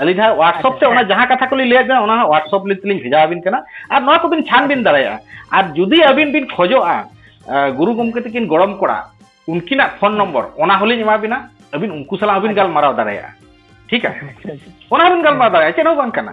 ᱟᱹᱞᱤᱧ ᱦᱟᱸᱜ ᱦᱳᱣᱟᱴᱥᱚᱯ ᱛᱮ ᱚᱱᱟ ᱡᱟᱦᱟᱸ ᱠᱟᱛᱷᱟ ᱠᱚᱞᱤᱧ ᱞᱟᱹᱭᱟᱫ ᱵᱮᱱᱟ ᱚᱱᱟ ᱦᱟᱸᱜ ᱦᱳᱣᱟᱴᱥᱚᱯ ᱛᱮᱞᱤᱧ ᱵᱷᱮᱡᱟ ᱟᱵᱤᱱ ᱠᱟᱱᱟ ᱟᱨ ᱱᱚᱣᱟ ᱠᱚᱵᱤᱱ ᱪᱷᱟᱱᱵᱤᱱ ᱫᱟᱲᱮᱭᱟᱜᱼᱟ ᱟᱨ ᱡᱩᱫᱤ ᱟᱹᱵᱤᱱ ᱵᱤᱱ ᱠᱷᱚᱡᱚᱜᱼᱟ ᱜᱩᱨᱩ ᱜᱚᱢᱠᱮ ᱛᱟᱹᱠᱤᱱ ᱜᱚᱲᱚᱢ ᱠᱚᱲᱟ ᱩᱱᱠᱤᱱᱟᱜ ᱯᱷᱳᱱ ᱱᱚᱢᱵᱚᱨ ᱚᱱᱟ ᱦᱚᱸᱞᱤᱧ ᱮᱢᱟ ᱵᱤᱱᱟ ᱟᱹᱵᱤᱱ ᱩᱱᱠᱩ ᱥᱟᱞᱟᱜ ᱦᱚᱸᱵᱤᱱ ᱜᱟᱞᱢᱟᱨᱟᱣ ᱫᱟᱲᱮᱭᱟᱜᱼᱟ ᱴᱷᱤᱠ ᱟᱪᱷᱮ ᱚᱱᱟ ᱦᱚᱸᱵᱤᱱ ᱜᱟᱞᱢᱟᱨᱟᱣ ᱫᱟᱲᱮᱭᱟᱜᱼᱟ ᱪᱮᱫ ᱦᱚᱸ ᱵᱟᱝ ᱠᱟᱱᱟ